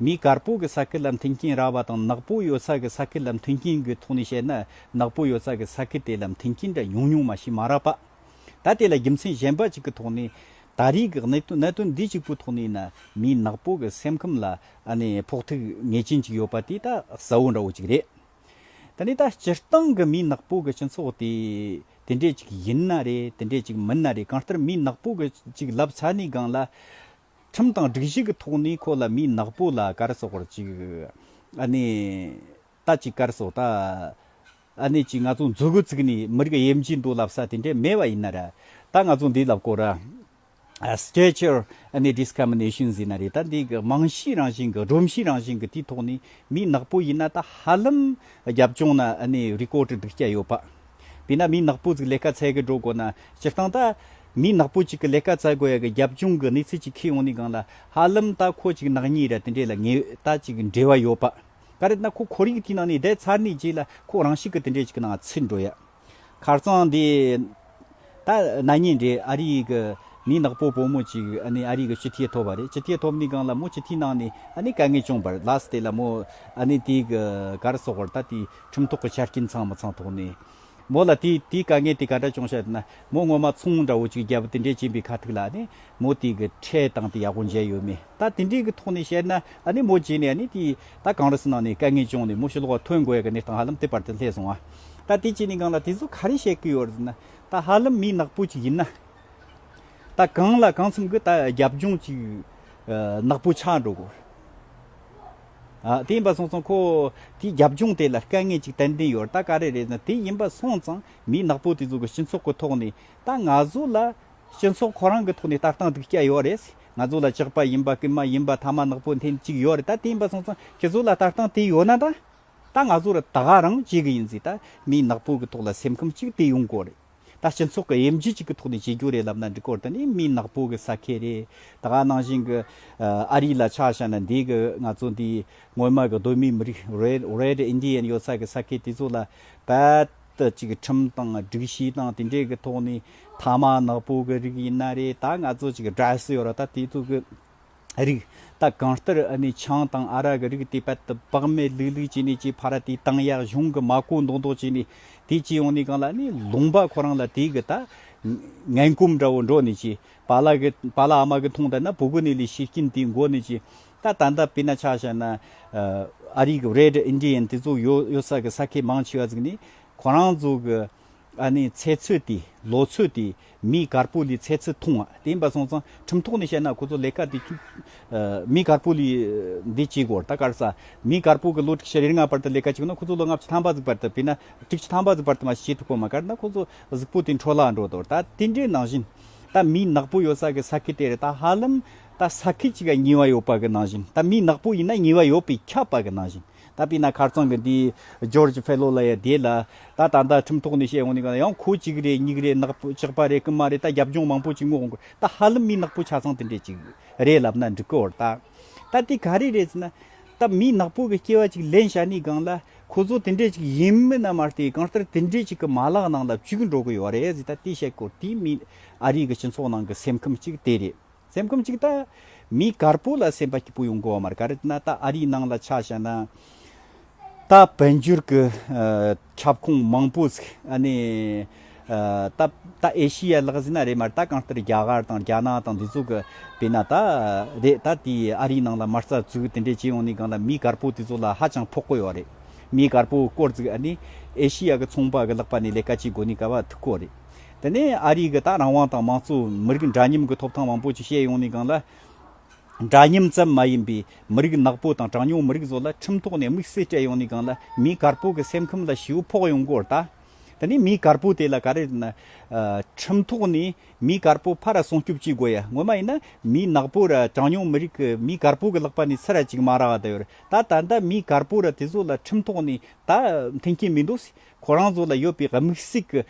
མིའི་གར་སྤོ་གི་ས་ཁུལ་ལ་མཐུན་རྐྱེན་རག་པ་དང་ནག་སྤོ་ཡོད་ས་གི་ས་ཁུལ་ལ་མཐུན་རྐྱེན་དགོས་ཐོག་ནས་བཤད་ན་ནག་སྤོ་ཡོད་ས་གི་ས་ཁུལ་དེ་ལ་མཐུན་རྐྱེན་འདྲ་ཉུང་ཉུང་མ་ཞིག་མ་རག་པ། ད་དེ་ལ་རྒྱུ་མཚན་གཞན་པ་ཅིག་གི་ཐོག་ནས། ད་རེས་ཀྱི་གནད་དོན་གནད་དོན་འདི་གཅིག་པོའི་ཐོག་ནས་ཡིན་ན་མིའི་ནག་སྤོ་གི་སེམས་ཁམས་ལ་ཨ་ནི་ཕོག་ཐུག་ངེས་ཅན་ཅིག་ཡོད་པ་དེ་ད་གསལ་བོ་འདྲ་བོ་ཅིག་རེད། ད་ནི་ད་སྤྱིར་བཏང་གི་མིའི་ནག་སྤོ་གི་སྤྱི་ཚོགས་དེ་དེ་འདྲས་ཅིག་ཡིན་ན་རེད་དེ་འདྲས་ཅིག་མིན་ན་རེད་གང་ལྟར་མིའི་ནག་སྤོ་གི་ཅིག་ལབ་ཚ་ནས་སྒང་ལ། ཁྲིམས་དང་སྒྲིག་གཞི་གི་ཐོག་ནས་ཁོ་ལ་མིའི་ནག་པོ་ལ་གར་གསོག་པར་ཅིག། ཨ་ནེ། ད་ཅིག་གར་གསོག་ད། ཨ་ནེ་ཅིག་ང་ཚོ་མཛོད་དགུ་བརྩིགས་ནས་མི་རིགས་དབྱེ་འབྱེད་འདུག་ལབ་ས་དེ་འདྲས་མེད་པ་ཡིན་ན་ར། ད་ང་ཚོ་འདི་ལ་བསྐོར་ར། Stature། ཨ་ནེ Discrimination ཟེར་ན་རེད་ད་འདི་གི་རྨང་གཞིའི་རང་བཞིན་གི་སྒྲོམ་གཞིའི་རང་བཞིན་གི་དེའི་ཐོག་ནས་མིའི་ནག་པོ་ཡིན་ན་ད་ཧ་ལམ་རྒྱབ་ལྗོངས་ན་ཨ་ནེ་རི་ཀོ་གྲི་སྡིག་སྐྱ་ཡོད་པ། དེས་ན་མིའི་ནག་པོ་ཟིག་ལས་ཀ་ཚད་གི་འགྲོ་དགོས་ན་སྤྱིར་བཏང་ད། མི་ནག་པོ་ཅིག་གི་ལས་ཀ་བཙལ་དགོས་ཡ་གི་རྒྱབ་ལྗོངས་གི་གནས་ཚུལ་ཅིག་ཁེལ་ཡོང་ནི་གང་ལ་ཧ་ལམ་ད་ཁོ་ཅིག་ནག་ཉེས་ར་དེ་འདྲས་ལ་ངེས་ད་ཅིག་འབྲེལ་བ་ཡོད་པ་ག་རེད་ན་ཁོ་ཁོར་ཡུག་དེའི་ནང་ནས་བསྡད་ཚར་ནས་རྗེས་ལ་ཁོ་རང་ཤི་གི་དེ་འདྲས་ཅིག་གི་ནང་ཚུད་འགྲོ་ཡ་ཁར་ཙང་དེ་ད་ནག་ཉེས་འདྲས་ཨ་རིའི་གི་མི་ནག་པོ་བོ་མོ་ཅིག་ཨ་ནི་ཨ་རིའི་གི་སྤྱི་འཐུས་ཐོབ་བ་རེད་སྤྱི་འཐུས་ཐོབ་ནི་གང་ལ་མོ་སྤྱི་འཐུས་ནང་ནས་ཨ་ནི་དཀའ་ངལ་བྱུང་བར་ལ་སྟེ་ལ་མོ་ཨ་ནི་དེའི་གི་ག་རེ་སོགས་བར་ད་དེའི་ཁྲིམས་ཐོག་གི་ཆ་རྐྱེན་ཚང་མི་ཚང་ཐོག་ནས། མོ་ལ་དེས་དེའི་དཀའ་ངལ་དེ་ག་འདྲ་བྱུང་ཤེ་ཟེར་ན། མོ་སྔོན་མ་ཚོང་འདྲ་བོ་ཅིག་རྒྱལ་པོ་དེ་འདྲས་བྱིན་པའི་ཁ་ཐུག་ལ་ནི་མོ་དེའི་གི་ཁྲེལ་དང་དེ་ཡག་པོ་མཇལ་ཡོད་མེད་ད་དེ་འདྲས་གི་ཐོག་ནས་བཤད་ན་ནི་མོ་རྗེས་ནས་ནི་དེ་ད་གང་རུ་སི་ནང་ནས་དཀའ་ངལ་བྱུང་ནས་མོ་ཤི་ལོག་བ་ཐོན་དགོས་ཡག་གི་གནས་སྟངས་ཧ་ལམ་དེ་བར་དུ་སླེབས་སོང་ཨ། ད་དེ་ཅི་ནས་གང་ལ་དེ་ཚོ་ག་རེ་བཤད་གི་ཡོད་རུ་ཟེར་ན། ད་ཧ་ལམ་མི་ནག་པོ་ཅིག་ཡིན་ན། ད་གང་ལ་གང་འཚམ་གི་ད་རྒྱབ་ལྗོངས་ཅིག་ནག་པོ་ཆགས་འགྲོ་དགོས། དེ་ཡིན་པ་སོང་ཙང་ཁོ་དེའི་རྒྱབ་ལྗོངས་དེ་ལ་དཀའ་ངལ་ཅིག་ཏན་ཏན་ཡོད་རྟ་ག་རེ་རེད་ན་དེ་ཡིན་པ་སོང་ཙང་མི་ནག་པོ་དེ་ཚོ་གི་སྤྱི་ཚོགས་ཀི་ཐོག་ནས་ད་ང་ཚོ་ལ་སྤྱི་ཚོགས་ཁོ་རང་གི་ཐོག་ནས་ལྟ་སྟངས་སྡིག་སྐྱ་ཡོད་རེད་ང་ཚོ་ལ་ཅག་པ་ཡིན་པ་ཀི་མ་ཡིན་པ་ཐ་མ་ནག་པོ་འཐེན་ཅིག་ཡོད་རེད་ད་དེ་ཡིན་པ་སོང་ཙང་ཁྱེད་ཚོ་ལ་ལྟ་སྟངས་དེ་ཡོད་ན་ད་ད་ང་ཚོ་ར་ད་ག་རང་བྱེད་གི་ཡིན་ཟིག་ད་མི་ནག་པོ་གི་ཐོག་ལ་སེམས་ཁམས་ཅིག་དེ་ཡོང་དགོས་རེད། ད་སྤྱི་ཚོགས་ཀྱི་དབྱེ་འབྱེད་ཅིག་གི་ཐོག་ནས་བྱེད་རྒྱུ་རེད་ལབ་ན་འགྲིག་སྐོར་དེ་ནི་མི་ནག་པོ་གི་ས་ཁེ་རེད། ད་ག་ནང་བཞིན་གྱི་ཨ་རི་ལ་ཆ་བཞག་ན་འདི་གི་ང་ཚོ་འདི་ངོ་མ་གི་གདོད་མའི་མི་རིགས Red Indian ཡོད་ས་གི་ས་ཁེ་དེ་ཚོ་ལ་བལྟ་ཅིག་ཁྲིམས་དང་སྒྲིག་གཞི་དང་དེ་འདྲའི་གི་ཐོག་ནས་ཐ་མ་ནག་པོ་གི་རིགས་ཡིན་ན་རེད་ད་ང་ཚོ་ཅིག་གི Dress ཡོད་ར་ད་དེ་ཚོ་གི་རིགས། ད་གང་ལྟར་ཨ་ནི་ཆང་དང་ཨ་ར་གི་རིགས་དེ་བད་དུ་བག་མེད་ལུག་ལུག་བྱས་ནས་ཀྱི་ཕ་ར་དེའི་ཏང་ཡག་གཞུང་གི་མ་གོ་མདོག་མདོག་བྱས་ནས་དེ་ཅི་ཡོང་ནས་གང་ལ་ཨ་ནི་ལུང་པ་ཁོ་རང་ལ་དེ་གི་ད་ངན་སྐུམ་འདྲ་བོ་འགྲོ་ནས་ཀྱི་བ་ལ་གི་བ་ལ་ཨ་མ་གི་ཐུང་ད་ན་བུ་གུ་ནི་ལི་ཤི་སྐྱིན་དེའི་མགོ་ནས་ཀྱི་ད་ད་ད་པི་ན་ཆ་ཤ་ན་ཨ་རིག Red Indian དེ་ཚོ་ཡོད་ཡོད་ས་གི་ས་ཁེ་མང་ཆེ་བ་ཚིག་ནི་ཁོ་རང་ཚོ་གི། ཨ་ནེ་ཚེ་ཚོད་དེ་ལོ་ཚོད་དེ་མི་དཀར་པོ་ལི་ཚེ་ཚོད་ཐུང་བ་དེ་ཡིན་པ་སོང་ཙང་ཁྲིམས་ཐོག་ནས་བཤད་ན་ཁོ་ཚོ་ལས་ཀ་དེ་མི་དཀར་པོ་ལི་འདི་གཅིག་གོ་ད་དཀར་ས་མི་དཀར་པོ་གི་ལོ་དྲུག་ཅུ་རེ་ལྔ་བར་དུ་ལས་ཀ་བྱེད་དགོས་ན་ཁོ་ཚོ་ལོ་ལྔ་བཅུ་ཐམ་པ་གཟིགས་པར་དུ་བས་ན་དྲུག་ཅུ་ཐམ་པ་གཟིགས་པར་དུ་མ་བྱས་ཐུག་པོ་མ་དཀར་ན་ཁོ་ཚོ་གཟུགས་པོ་དེ་འཕྲོ་བརླག་འགྲོ་དོ་ད་དེ་འདྲའི་ནང་བཞིན་ད་མི་ནག་པོ་ཡོད་ས་གི་ས་ཁུལ་དེ་རེད་ད་ཧ་ལམ་ད་ས་ཁུལ་གཅིག་ག་ཉིས་བ་ཡོད་པ་གི་ནང་བཞིན་ད་མི་ནག་པོ་ཡིན་ན་ཉིས་བ་ཡོད་པའི་ཁྱབ་པ་གི་ནང་བཞིན། ད་དཔེར་ན་མཁར་ཚང་གི་འདི George Fellow ལ་ཡང་བསྡད་ལ། ད་ད་ལྟ་ཁྲིམས་ཐོག་ནས་བཤད་འོང་ནས་གང་ཡང་ཁོ་གཅིག་རེད་གཉིས་རེད་ནག་པོ་ཅག་པ་རེད་ཀི་མ་རེད་ད་རྒྱབ་ལྗོངས་མང་པོ་ཅིག་སྔོག་དགོས་ད་ཧ་ལམ་མི་ནག་པོ་ཆ་ཚང་དེ་འདྲས་ཅིག་རེད་ལབ་ན་འགྲིག་གི་འོར་ད། ད་དེ་ག་རེ་རེད་ཟེར་ན། ད་མི་ནག་པོ་གི་སྐྱེ་བ་ཅིག་ལེན་བྱ་ནི་སྒང་ལ་ཁོ་ཚོ་དེ་འདྲས་ཅིག་ཡིན་མིན་ན་མ་བལྟས་གང་ལྟར་དེ་འདྲས་ཅིག་གི་མ་ལག་ནང་ལ་བཅུག་འགྲོ་གི་ཡོད་རེད་ཟེར་ད་དེ་བཤད་དགོས་དེ་མིན་ཨ་རིའི་གི་སྤྱི་ཚོགས་ནང་གི་སེམས་ཁམས་ཅིག་དེ་རེད། ཚེམ་སྐུམ་གཅིག་བཏགས། མིའི་གར་སྤུ་ལ་སེམས་པ་སྐྱིད་པོ་ཡོང་གོ་མར་གར་ན་ད་ཨ་རིའི་ནང་ལ་ཆ་བཞག་ན། ད་བོད་འགྱུར་གྱི་ཁྱབ་ཁོངས་མང་པོ་ཟིག་ཨ་ནི། ད་ད་ཨེ་ཤི་ཡའི་ལག་ཟིན་ན་རེད་མར་ད་གང་ལྟར་རྒྱ་གར་དང་རྒྱ་ནག་དང་འདི་ཚོ་གི་བེད་ན་ད་རེད་ད་དེ་ཨ་རིའི་ནང་ལ་མར་རྩ་ཚུགས་དེ་འདྲས་བྱས་ཡོང་ནས་གང་ལ་མིའི་གར་སྤུ་དེ་ཚོ་ལ་ཧ་ཅང་ཕོག་གོ་ཡོད་རེད། མིའི་གར་སྤུ་སྐོར་ཟིག་ཨ་ནི། ཨེ་ཤི་ཡ་གི་ཚོང་པ་གི་ལག་པ་ནས་ལས་ཀ་བྱེད་དགོས་ནས་ག་བ་ཐུག་གོ་རེད། དེ་ནས་ཨ་རིའི་གི་ད་རང་དབང་དང་མང་གཙོ་མི་རིགས་འདྲ་མཉམ་གི་ཐོབ་ཐང་མང་པོ་ཅིག་བཤད་ཡོང་ནས་གང་ལ། འདྲ་མཉམ་ཙམ་མ་ཡིན་པའི་མི་རིགས་ནག་པོ་དང་གྲངས་ཉུང་མི་རིགས་ཚོ་ལ་ཁྲིམས་ཐོག་ནས་དམིགས་བསལ་སྤྲད་ཡོང་ནས་གང་ལ་མིའི་གར་སྤོ་གི་སེམས་ཁམས་ལ་ཞེའུ་ཕོག་ཡོང་སྐོར་ད། དེ་ནས་མིའི་གར་སྤོ་དེ་ལ་ག་རེ་རེད་ན། ཁྲིམས་ཐོག་ནས་མིའི་གར་སྤོ་ཕར་སྲུང་སྐྱོབ་བྱེད་དགོས་ཡ་ངོ་མ་ཡིན་ན་མིའི་ནག་པོ་ར་གྲངས་ཉུང་མི་རིགས་གི་མིའི་གར་སྤོ་གི་ལག་པ་ནས་ཚི་ར་ཅིག་མ་རག་ད་ཡོད་རེད་ད་ད་ལྟ་མིའི་གར་སྤོ་ར་དེ་ཚོ་ལ་ཁྲིམས་ཐོག་ནས་ད་མཐུན་རྐྱེན་མི་འདུག་སེ་ཁོ་རང་ཚོ་ལ་ཡོད་པའི་དམིགས་སྲིག་གི་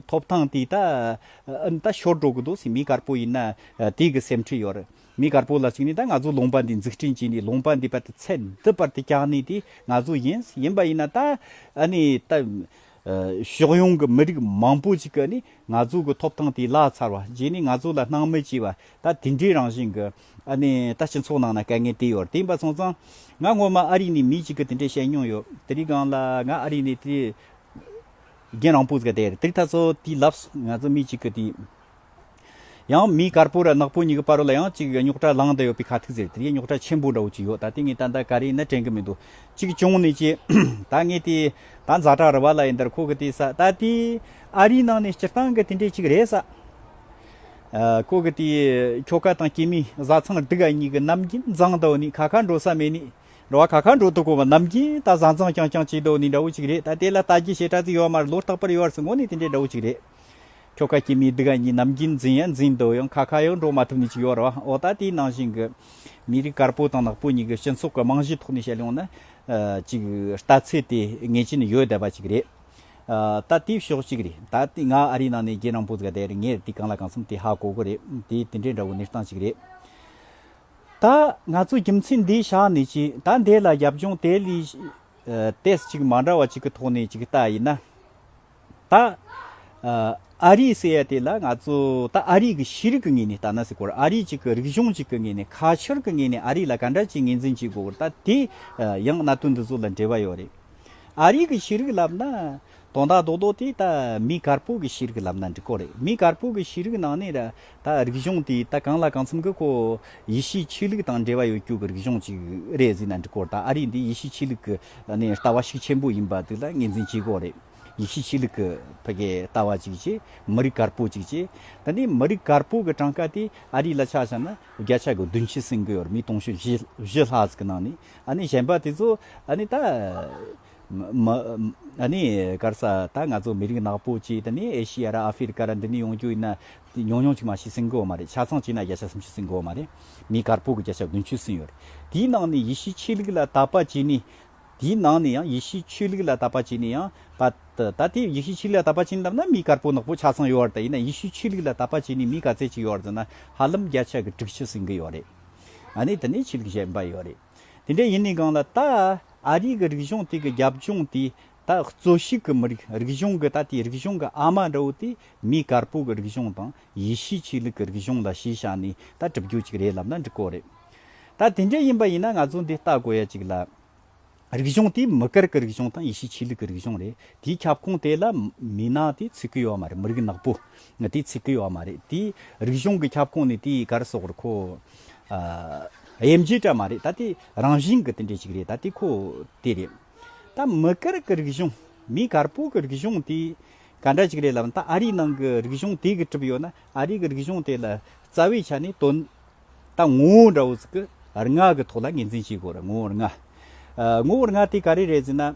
ཐོབ་ཐང་དེ་དག་ཤོར་འགྲོ་གི་འདུག་སེམས་མི་དཀར་པོ་ཡིན་ན་དེ་གི་སེམས་ཁྲལ་ཡོད་རེད། མི་དཀར་པོ་ལ་གཅིག་ནས་ད་ང་ཚོ་ལུང་པ་འདི་འཛུགས་སྐྲུན་བྱས་ནས་ལུང་པ་འདི་པ་དེ་ཚད་འདི་པར་དེ་བཀྱག་ནས་དེ་ང་ཚོ་ཡིན། ཡིན་པ་ཡིན་ན་ད་ཕྱོགས་ཡོངས་ཀྱི་མི་རིགས་མང་པོ་ཞིག་གི་ང་ཚོ་གི་ཐོབ་ཐང་དེ་བརླག་ཚར་བ་བྱས་ནས་ང་ཚོ་ལ་སྣང་མེད་བྱས་པ་ད་དེ་འདྲའི་རང་བཞིན་གྱི་ཨ་ནི་ད་སྤྱི་ཚོགས་ནང་ན་དཀའ་ངལ་དེ་ཡོད་རེད་དེ་འབའ་ཚང་ཚང། ང་ངོ་མ་ཨ་རི་ནས་མི་གཅིག་གི་དེ་འདྲས་བཤད་མྱོང་ཡོད་དེ་རིགས་གང་ལ་ང་ཨ་རི་ནས་དེ་རྒན་རང་སྤུ་ཟེར་དེ་རེད་དེ་རིགས་ད་ཚོ་དེ་ལབས་ང་ཚོ་མི་གཅིག་གི་དེ། ཡང་མི་དཀར་པོ་ར་ནག་པོ་གཉིས་ཀྱི་བར་ལ་ཡང་གཅིག་རྙོག་དྲ་ལངས་དང་ཡོད་པའི་ཁ་ཐུག་ཟེར་དེ་རིགས་རྙོག་དྲ་ཆེན་པོ་འདྲ་བོ་གཅིག་ཡོད་ད་དེ་ངས་ད་ད་ག་རེ་ནས་དྲན་གི་མི་འདུག་གཅིག་བྱུང་ནས་ཀྱི། ད་ངས་དེ་ད་འཛའ་གྲགས་རི་བ་ལ་ཡིན་དར་ཁོ་གི་དེ་ས་ད་དེ་ཨ་རིའི་ནང་ནས་སྤྱིར་བཏང་གི་དེ་འདྲས་གཅིག་རེད་ས། ཀོ་གི་ཏི་ཡི་ཁྱོ་ག་དང་སྐྱེས་མའི་བཟའ་ཚང་སྡུག་ཨ་གཉིས་ཀྱི་ནམ་རྒྱུན་འཛང་ལྟོགས་ནས་ཁ་ཁ་འགྲོ་ས་མེད་ནས་འགྲོ་བ་ཁ་ཁ་འགྲོ་དུ་གོ་བ་ནམ་རྒྱུན་ད་བཟའ་འཛང་རྐྱང་རྐྱང་བྱེད་མདོག་ནི་འདྲ་བོ་ཅིག་རེད་ད་དེ་ལ་ལྟ་རྒྱུ་ཞེ་དྲག་ཙིག་ཡོད་མ་རེད་ལོ་རྟག་པར་ཡོད་རེད་སོང་ངོ་ནི་དེ་འདྲའི་འདྲ་བོ་ཅིག་རེད། ཁྱོ་ག་སྐྱེས་མའི་སྡུག་ཨ་གཉིས་ནམ་རྒྱུན་འཛིན་ཡང་འཛིན་མདོག་ཡང་ཁ་ཁ་ཡང་འགྲོ་མ་ཐུབ་ནི་ཅིག་ཡོད་རེད་འོ་ད་དེའི་ནང་བཞིན་གྱི་མི་རིགས་དཀར་པོ་དང་ནག་པོ་གཉིས་ཀྱི་སྤྱི་ཚོགས་ཀྱི་རྨང་གཞིའི་ཐོག་ནས་བཤད་ཡོང་ན་ཅིག་ལྟ་ཚུལ་དེ་ངེས་ཅན་ཡོད་བསྡད་པ་ཅིག་རེད། ད་ལྟའི་ཤོག་ཅིག་རེད་ད་ལྟའི་ང་ཨ་རིའི་ནང་ནས་རྒྱལ་ནང་པོ་ཙི་ག་དེ་རེད་ངས་དེ་གང་ལ་གང་འཚམ་དེ་ཧ་གོ་གོ་རེད་དེ་དེ་འདྲའི་འདྲ་བོ་གནས་སྟངས་ཅིག་རེད། ད་ང་ཚོ་རྒྱུ་མཚན་འདི་བཞག་ནས་ཅི་ད་འདས་ལ་རྒྱབ་ལྗོངས་དེ་ལས་ཏེས་ཅིག་མ་འདྲ་བ་ཅིག་གི་ཐོག་ནས་ཅིག་བལྟ་ཡིན་ན། ད་ཨ་རི་ཟེར་ཡ་དེ་ལ་ང་ཚོ་ད་ཨ་རི་གི་ཤེས་རིག་གི་ངོས་ནས་བལྟ་ན་ཟེར་གོ་ཨ་རི་ཅིག་གི་རིག་གཞུང་ཅིག་གི་ངོས་ནས་ཁ་ཆར་གི་ངོས་ནས་ཨ་རི་ལ་ག་འདྲ་ཅིག་ངེས་འཛིན་བྱེད་དགོས་གོ་རེད་ད་དེ་ཡང་གནད་དོན་འདི་ཚོ་ལ་འབྲེལ་བ་ཡོད་རེད། ཨ་རིག་གི་ཤེས་རིག་ལབ་ན། དོན་དག་རྡོག་རྡོག་དེ་ད་མི་དཀར་པོ་གི་ཤེས་རིག་ལབ་ན་འགྲིག་གོ་རེད་མི་དཀར་པོ་གི་ཤེས་རིག་ནང་ནས་ད་རིག་གཞུང་དེ་ད་གང་ལ་གང་འཚམ་གི་ཁོ་ཡེ་ཤེས་ཆོས་ལུགས་དང་འབྲེལ་བ་ཡོད་རྒྱུ་གི་རིག་གཞུང་ཅིག་རེད་ཟེར་ན་འགྲིག་གོ་ད་ཨ་རིག་འདི་ཡེ་ཤེས་ཆོས་ལུགས་ཀི་ནས་ལྟ་བ་ཤུགས་ཆེན་པོ་ཡིན་པ་དེ་ལ་ངེས་འཛིན་བྱེད་དགོས་རེད་ཡེ་ཤེས་ཆོས་ལུགས་ཀི་ཕ་གི་ལྟ་བ་ཅིག་ཅེས་མི་རིག་དཀར་པོ་ཅིག་ཅེས་ད་འདི་མི་རིག་དཀར་པོ་གི་གྲངས་ཀ་དེ་ཨ་རིག་ལ་ཆ་བཞག་ན་བརྒྱ་ཆ་གི་བདུན་ཅུ་ཟིན་གི་ཡོད་རེད་མི་སྟོང་ཕྱུར་བཞི་བཞི་ལྷག་ཟིག་གི་ནང་ནས་ཨཱ་ནི་གཞན་པ་དེ་ཚོ་ཨཱ་ནི་ད། མ། ཨཱ་ནི་སྐར་ས་ད་ང་ཚོ་མི་རིགས་ནག་པོ་གཅིག་དེ་ནི་ཨེ་ཤི་ཡ་ར་ཨ་ཧྥི་རི་ཀ་ར་འདི་ནས་ཡོང་རྒྱུ་ཡིན་ན། ཉུང་ཉུང་གཅིག་མ་ཤི་སྲིང་གོ་མ་རེད་ཆ་ཚང་གཅིག་ན་བརྒྱ་ཆ་སུམ་ཅུ་སྲིང་གོ་མ་རེད། མི་དཀར་པོ་གི་བརྒྱ་ཆ་བདུན་ཅུ་སྲིང་ཡོད་རེད། དེའི་ནང་ནས་ཡེ་ཤུའི་ཆོས་ལུགས་ལ་དད་པ་གཅིག་ནི། དེའི་ནང་ནས་ཡང་ཡེ་ཤུའི་ཆོས་ལུགས་ལ་དད་པ་གཅིག་ནི་ཡང། པ། ད་དེ་ཡེ་ཤུའི་ཆོས་ལུགས་ལ་དད་པ་གཅིག་ནི་ལབ་ན་མི་དཀར་པོ་ནག་པོ་ཆ་ཚང་ཡོད་རེད་ཡིན་ན་ཡེ་ཤུའི་ཆོས་ལུགས་ལ་དད་པ་གཅིག་ནི་མི་ག་ཚད་ཅིག་ཡོད་རེད་ཟེར་ན་ཧ་ལམ་བརྒྱ་ཆ་གི་དྲུག་ཅུ་སྲིང་གི་ཡོད་རེད། ཨ་ནི་དེ་ནས་ཆོས་ལུགས་གཞན་པ་ཡོད་རེད། དེ་འདྲ་ཡིན་ནས་གང་ལ་ད་ཨ་རིའི་གི་རིག་གཞུང་དེ་གི་རྒྱབ་ལྗོངས་དེ་ད་གཙོ་ཤིག་གི་མི་རིགས་རིག་གཞུང་གི་ད་དེ་རིག་གཞུང་གི་ཨ་མ་འདྲ་བོ་དེ་མི་དཀར་པོ་གི་རིག་གཞུང་དང་ཡེ་ཤུའི་ཆོས་ལུགས་གི་རིག་གཞུང་ལ་ཞེས་བྱ་ནས་ད་གྲུབ་རྒྱུ་ཅིག་རེད་ལབ་ན་འགྲིག་གོ་རེད། ད་དེ་འདྲ་ཡིན་པ་ཡིན་ན་ང་ཚོ་འདི་ལྟ་དགོས་ཡ་ཅིག་ལ། རིག་གཞུང་དེ་མི་སྒེར་གྱི་རིག་གཞུང་དང་ཡེ་ཤུའི་ཆོས་ལུགས་ཀྱི་རིག་གཞུང་རེད། དེའི་ཁྱབ་ཁོངས་དེ་ལ་མི་ནག་དེ་ཚུད་ཀྱི་ཡོད་མ་རེད་མི་རིགས་ནག་པོ་དེ་ཚུད་ཀྱི་ཡོད་མ་རེད། དེའི་རིག་གཞུང་གི་ཁྱབ་ཁོངས་ནི་དེའི་སྒར་སོགས་རེད་ཁོ། དབྱེ་འབྱེད་འདྲ་མ་རེད་ད་དེ་རང་བཞིན་གྱི་དེ་འདྲས་ཞིག་རེད་ད་དེ་ཁོ་དེ་རེད། ད་མི་སྒེར་གྱི་རིག་གཞུང་མིའི་སྒར་པོ་གྱི་རིག་གཞུང་དེ་ག་འདྲ་ཞིག་རེད་ལབ་ན་ད་ཨ་རིའི་ནང་གི་རིག་གཞུང་དེ་གི་གྲུབ་ཡོད་ན་ཨ་རིའི་གི་རིག་གཞུང་དེ་ལ་རྩ་བའི་ཆ་ནས་དོན་ད་ངོ་བོ་འདྲ་བོ་ཟིག་གི་རི་ང་གི་ཐོག་ལ་ངེས་འཛིན་བྱེད་དགོས་རེད་ངོ་བོ་རི་ང། ངོ་བོ་རི་ང་དེ་ག་རེ་རེད་ཟེར་ན།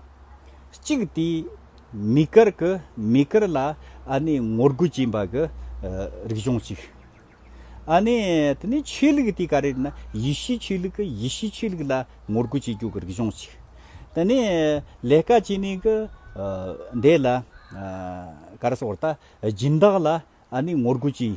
གཅིག་དེ་མི་དཀར་གི་མི་དཀར་ལ་ཨ་ནི་ངོ་རྒོལ་བྱེད་པ་གི་རིག་གཞུང་གཅིག། ཨ་ནི་དེ་ནས་ཆོས་ལུགས་དེ་ག་རེ་རེད་ན་ཡེ་ཤུའི་ཆོས་ལུགས་གི་ཡེ་ཤུའི་ཆོས་ལུགས་ལ་ངོ་རྒོལ་བྱེད་རྒྱུ་གི་རིག་གཞུང་གཅིག། དེ་ནས་ལས་ཀ་བྱེད་ནས་གི་འདས་ལ་ག་རེ་སོགས་ད་སྦྱིན་བདག་ལ་ཨ་ནི་ངོ་རྒོལ་བྱེད།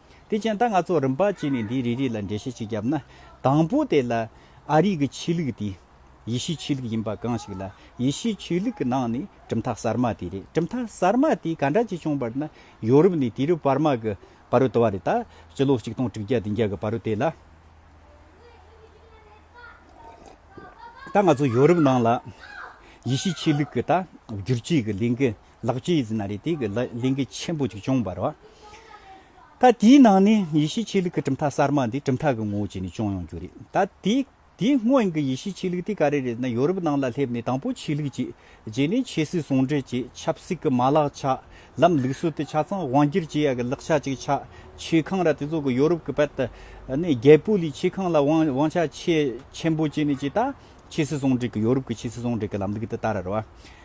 དེ་བཞིན་ད་ང་ཚོ་རིམ་པ་གཅིག་ནས་འདིའི་རིགས་རིགས་ལ་འགྲེལ་བཤད་ཅིག་བརྒྱབ་ན། དང་པོ་དེ་ལ། ཨ་རིག་གི་ཆོས་ལུགས་དེ། ཡེ་ཤུའི་ཆོས་ལུགས་ཡིན་པ་གང་ཞིག་ལ། ཡེ་ཤུའི་ཆོས་ལུགས་ཀྱི་ནང་ནས་གྲུབ་མཐའ་གསར་མ་དེ་རེད་གྲུབ་མཐའ་གསར་མ་དེ་ག་འདྲ་ཅིག་བྱུང་བར་ན། ཡོ་རུབ་ནས་དེ་རུ་བར་མ་གི་བ་རུ་དུ་བ་རེད་ད། སྤྱི་ལོ་གཅིག་སྟོང་དྲུག་བརྒྱ་བདུན་བརྒྱ་གི་བ་རུ་དེ་ལ། ད་ང་ཚོ་ཡོ་རུབ་ནང་ལ། ཡེ་ཤུའི་ཆོས་ལུགས་ཀྱི་ད་བསྒྱུར་བཅོས་ཀྱི་ལས་འགུལ་ལག་ཅི་ཡི་ཟིན་ན་རེ་དེ་གི་ལིང་གི་ཆེན་པོ་ཅིག་ཅོང་བར་བ། ད་དེའི་ནང་ནས་ཡེ་ཤེས་ཆོས་ལུགས་ཀྱི་གྲུབ་མཐའ་གསར་མ་འདི་གྲུབ་མཐའ་གི་ངོ་བོ་བྱས་ནས་ཅོང་ཡོང་རྒྱུ་རེད་ད། དེའི་སྔོན་གི་ཡེ་ཤེས་ཆོས་ལུགས་དེ་ག་རེ་རེད་ན་ཡོ་རུབ་ནང་ལ་སླེབས་ནས་དང་པོ་ཆོས་ལུགས་བྱས། རྗེས་ནས་ཆོས་སྲིད་ཟུང་འབྲེལ་བྱས་ཆབ་སྲིད་ཀྱི་མ་ལག་ཆགས། ལམ་ལུགས་སྲོལ་དེ་ཆ་ཚང་དབང་སྒྱུར་བྱེད་ཡ་གི་ལག་ཆ་ཅིག་ཆགས། ཆོས་ཁང་ར་དེ་ཚོ་གི་ཡོ་རུབ་ཀྱི་བལ་ནས་རྒྱལ་པོ་ལས་ཆོས་ཁང་ལ་དབང་ཆ་ཆེ་ཆེན་པོ་བྱས་ནས་ཅི་ད་ཆོས་སྲིད་ཟུང་འབྲེལ་གྱི་ཡོ་རུབ་ཀྱི་ཆོས་སྲིད་ཟུང་འབྲེལ་གྱི་ལམ་ལུགས་དེ་ད་ར་ར་བ།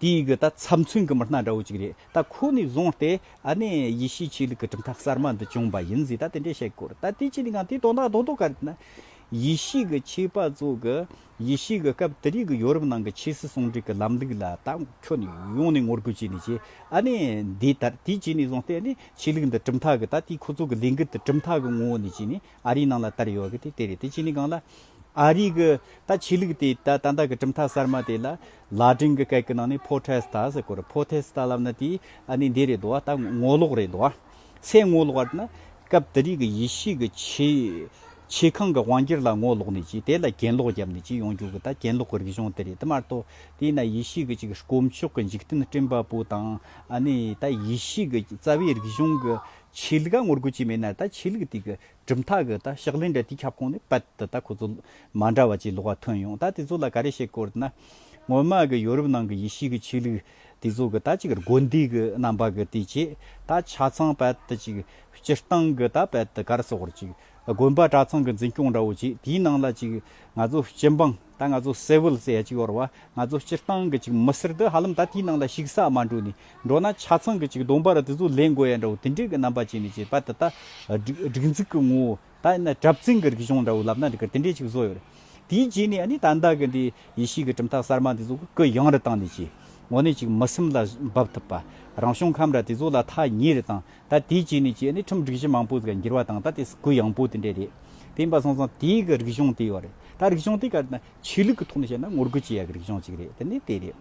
དེ་ཡི་གི་ད་ཚབ་མཚོན་གི་མི་སྣ་འདྲ་བོ་ཅིག་རེད་ད་ཁོ་ནས་བཟུང་སྟེ་ཨ་ནེ་ཡེ་ཤེས་ཆོས་ལུགས་ཀྱི་གྲུབ་མཐའ་གསར་མ་འདི་བྱུང་པ་ཡིན་ཟིག་ད་དེ་འདྲས་བཤད་དགོས་རེད་ད་དེ་ཅི་ནས་ཀང་དེ་དོན་དག་རྡོག་རྡོག་ག་རེད་ན། ཡེ་ཤེས་ཀྱི་ཆོས་པ་ཚོ་གི་ཡེ་ཤེས་ཀྱི་སྐབས་དེ་རིང་གི་ཡོ་རུབ་ནང་གི་ཆོས་སྲིད་ཟུང་འབྲེལ་གི་ལམ་ལུགས་ལ་ད་ཁྱོད་ནས་ཡོང་ནས་ངོ་རྒོལ་བྱས་ནས་ཀྱི་ཨ་ནེ་འདི་ལྟར་དེ་ཅི་ནས་བཟུང་སྟེ་ཨ་ནེ་ཆོས་ལུགས་འདི་གྲུབ་མཐའ་གི་ད་དེ་ཁོ་ཚོ་གི་ལས་འགུལ་དེ་གྲུབ་མཐའ་གི་ངོ་བོ་ནས་ཀྱི་ནས་ཨ་རིའི་ནང་ལ་དར་ཡོད་གི་དེ་དེ་རེད་དེ་གཅིག་ནས་གང་ལ། ཨ་རིའི་གི་ད་ཆོས་ལུགས་དེ་ད་ད་ལྟ་གི་གྲུབ་མཐའ་གསར་མ་དེ་ལ་ལ་སྒྲིང་གི་སྐད་གི་ནང་ནས་ཕོ་ཐེས་ཏཱ་ཟེར་གོ་རེད་ཕོ་ཐེས་ཏཱ་ལབ་ན་དེ་ཨ་ནི་འདི་རེད་དོ་ད་ངོ་ལོག་རེད་དོ། སའི་ངོ་ལོག་བར་ན་སྐབས་དེ་རིགས་གི་ཡེ་ཤེས་གི་ཆེ་ཆེ་ཁང་གི་དབང་གྱེར་ལ་ངོ་ལོག་ནས་ཀྱི་དེ་ལ་གྱེན་ལོག་བརྒྱབ་ནས་ཀྱི་ཡོང་རྒྱུ་གི་ད་གྱེན་ལོག་གི་རིག་གཞུང་དེ་རེད་དེ་མ་གཏོགས་དེ་ན་ཡེ་ཤེས་གི་ཅིག་གི་དཀོན་མཆོག་གི་འཇིག་རྟེན་སྤྲིན་པ་པོ་དང་ཨ་ནི་ད་ཡེ་ཤེས་གི་རྩ་བའི་རིག་གཞུང་གི་ཆོས་ལུགས་ཀ་ངོ་རྒོལ་བྱས་མེད་ན་ད་ཆོས་ལུགས་དེ་གི་གྲུབ་མཐའ་གི་ད་ཕྱག་ལེན་འདྲ་དེའི་ཁྱབ་ཁོངས་ནས་པད་དུ་ད་ཁོ་ཚོ་མ་འདྲ་བ་ཅིག་ལོག་པ་ཐོན་ཡོང་ད་དེ་ཚོ་ལ་ག་རེ་བཤད་དགོས་རེད་ན། སྔོན་མ་གི་ཡོ་རུབ་ནང་གི་ཡེ་ཤུའི་གི་ཆོས་ལུགས་དེ་ཚོ་གི་ད་ཅིག་གི་དགོན་སྡེ་གི་རྣམ་པ་གི་དེ་བྱས་ད་ཆ་ཚང་པད་དུ་ཅིག་སྤྱིར་བཏང་གི་ད་པད་དུ་གར་སོགས་རེད་ཅིག་དགོན་པ་གྲྭ་ཚང་གི་འཛིན་སྐྱོང་འདྲ་བོ་བྱས་དེའི་ནང་ལ་ཅིག་ང་ཚོ་སྤྱི་འབངས། ད་ང་ཚོ་གསལ་བོ་ལ་བཙལ་ཡ་གཅིག་ཡོད་རེད་བ་ང་ཚོ་སྤྱིར་བཏང་གི་ཅིག་མི་སེར་འདི་ཧ་ལམ་ད་དེའི་ནང་ལ་ཞིག་ས་མ་འགྲོ་ནས་འགྲོ་ན་ཆ་ཚང་གི་ཅིག་སྡོམ་པ་ར་དེ་ཚོ་ལེན་དགོས་ཡ་འདྲ་བོ་དེ་འདྲའི་གི་རྣམ་པ་བྱས་ནས་ཅིག་པ་ད་ད་སྒྲིག་འཛུགས་གི་ངོ་བོ་ད་ཡིན་ན་གྲབས་བཙན་གི་རིག་གཞུང་འདྲ་བོ་ལབ་ན་འདི་གར་དེ་འདྲའི་ཅིག་བཟོ་ཡོད་རེད་དེའི་རྗེས་ནས་ཨ་ནི་ད་འདའ་གི་འདི་ཡེ་ཤེས་གི་གྲུབ་མཐའ་གསར་མ་འདི་ཚོ་གི་གི་ཡང་རི་བཏང་ནས་ཅིག་ངོ་ནས་ཅིག་མི་སེམས་ལ་འབབ་ཐུབ་པ་རང་བྱུང་ཁམས་ར་དེ་ཚོ་ལ་ཐ་སྙད་རེ་དང་ད་དེའི་རྗེས་ནས་ཀྱི་ནི་ཁྲིམས་སྒྲིག་གཞི་མང་པོ་ཟིག་འགྱུར་བ་དང་ད་དེ་སི་གུ་ཡང་པོ་དེ་འདྲས་རེད། དེ་ཡིན་པ་སོང་ཙང་དེའི་གི་རིག་གཞུང་དེའི་བ་རེད། ད་རིག་གཞུང་དེ་ག་ནི་ཆོས་ལུགས་ཀྱི་ཐོག་ནས་བཤད་ན་ངོ་རྒོལ་བྱེད་ཡ་གི་རིག་གཞུང་ཅིག་རེད་དེ་ནི་དེ་རེད།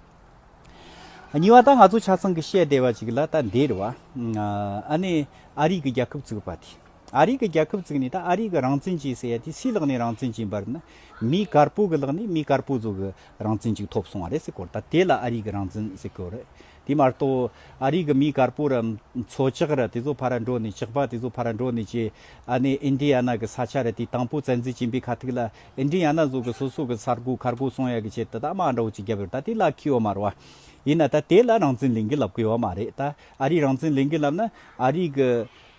གཉིས་བ་ད་ང་ཚོ་ཆ་ཚང་གི་བཤད་བསྡད་བ་ཅིག་ལ་ད་འདིར་བ་ཨ་ནི་ཨ་རིག་གི་རྒྱལ་ཁབ་ཙིག་བ་དེ་ཨ་རིག་གི་རྒྱལ་ཁབ་ཙིག་ནི་ད་ཨ་རིག་གི་རང་བཙན་ཅིག་ཟེར་ཡ་དེ་སིའི་ལག་ནས་རང་བཙན་ཅིག་འབར་ན་མི་དཀར་པོ་གི་ལག་ནས་མི་དཀར་པོ་ཚོ་གི་རང་བཙན་ཅིག་ཐོབ་སོང་བ་རེད་སེ་སྐོར་ད་དེ་ལ་ཨ་རིག་གི་རང་བཙན་སེ་སྐོར་རེད། དེ་མ་གཏོགས་ཨ་རིག་གི་མི་དཀར་པོ་ར་མཚོ་བྱག་ར་དེ་ཚོ་ཕ་ར་འགྲོ་ནས་བྱག་པ་དེ་ཚོ་ཕ་ར་འགྲོ་ནས་ཀྱི་ཨ་ནེ་ཨིན་དྲི་ཡ་ན་གི་ས་ཆ་ར་དེ་དང་པོ་བཙན་འཛུལ་བྱིན་པའི་ཁ་ཐུག་ལ་ཨིན་དྲི་ཡ་ན་ཟོ་གི་སོ་སོ་གི་ས་དགོ་ཁར་གོ་སོང་ཡ་གི་ཆེད་དུ་ད་མ་འགྲོ་ཅི་རྒྱབ་ཡོད་ད་དེ་ལ་ཁི་ཡོ་མ་ར་བ་ཡིན་ན་ད་དེ་ལ་རང་བཙན་ལེན་གི་ལབ་གི་ཡོ་མ་རེད་ད་ཨ་རིག་རང་བཙན་ལེན་གི་ལབ་ན་ཨ་རིག་གི་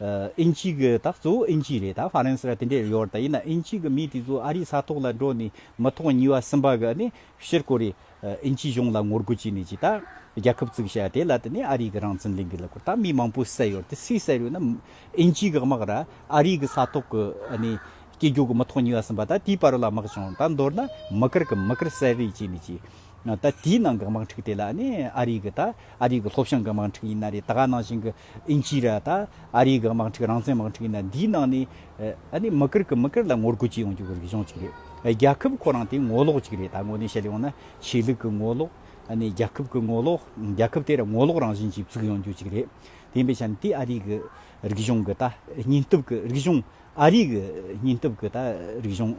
ཨིན་ཅི་གི་ད་གཙོ་བོ་ཨིན་ཅི་རེད་ད་ཧྥ་རན་སི་ར་དེ་འདྲས་ར་ཡོད་ར་ད་ཡིན་ན་ཨིན་ཅི་གི་མི་དེ་ཚོ་ཨ་རིག་ས་ཐོག་ལ་འགྲོ་ནས་མི་ཐོག་ཉིས་བ་སིམ་པ་གི་ཨ་ནེ་ཕྱིར་ཀོ་རེ་ཨིན་ཇིའི་གཞུང་ལ་ངོ་རྒོལ་བྱས་ནས་ཇི་ལྟར་རྒྱལ་ཁབ་བཙུགས་བྱས་དེ་ལ་བརྟེན་ནས་ཨ་རིའི་རང་བཙན་ལས་འགུལ་ལ་ཁོར་ད་མི་མང་པོ་བསད་ཡོད་དེ་སུས་བསད་ཡོད་ན་ཨིན་ཇིའི་དགག་དམག་ར་ཨ་རིའི་གི་ས་ཐོག་གི་སྐྱེ་རྒྱུ་གི་མི་ཐོག་ཉུལ་བ་ཟིན་པ་ད་དེའི་བར་ལ་དམག་བྱུང་ད་མདོར་ན་མི་དཀར་གི་མི་དཀར་བསད་རེས་བྱས་ནས་ཇི་ད་དེའི་ནང་གི་དམག་འཁྲུག་དེ་ལ་ཨ་རིའི་གི་ད་ཨ་རིའི་གི་ལྷོ་བྱང་གི་དམག་འཁྲུག་ཡིན་ན་རེད་ད་ག་ནང་བཞིན་གི་ཨིན་ཇི་ར་དང་ཨ་རིའི་དམག་འཁྲུག་རང་བཙན་དམག་འཁྲུག་ཡིན་ན་འདིའི་ནང་ནས་ཨ་ནི་མི་ཀིར་ཀི་མི་ཀིར་ལ་ངོ་རྒོལ་བྱེད་ཡོང་རྒྱུ་རིག་གཞུང་ཅིག་རེད། རྒྱལ་ཁབ་ཁོ་རང་དེ་ངོ་ལོག་ཅིག་རེད་ད་ངོ་ནས་བཤད་ཡོང་ན་ཆོས་ལུགས་ཀི་ངོ་ལོག་ཨ་ནི་རྒྱལ་ཁབ་ཀི་ངོ་ལོག་རྒྱལ་ཁབ་དེ་ར་ངོ་ལོག་རང་བཞིན་ཅིག་བཙུགས་ཡོང་རྒྱུ་ཅིག་རེད། དེ་པའི་ཆ་ནས་དེ་ཨ་རིའི་གི་རིག་གཞུང་གི་ད་སྙིང་སྟོབས་ཀི་རིག་གཞུང་ཨ་རིའི་གི་སྙིང་སྟོབས་ཀི་ད་རིག་གཞུང་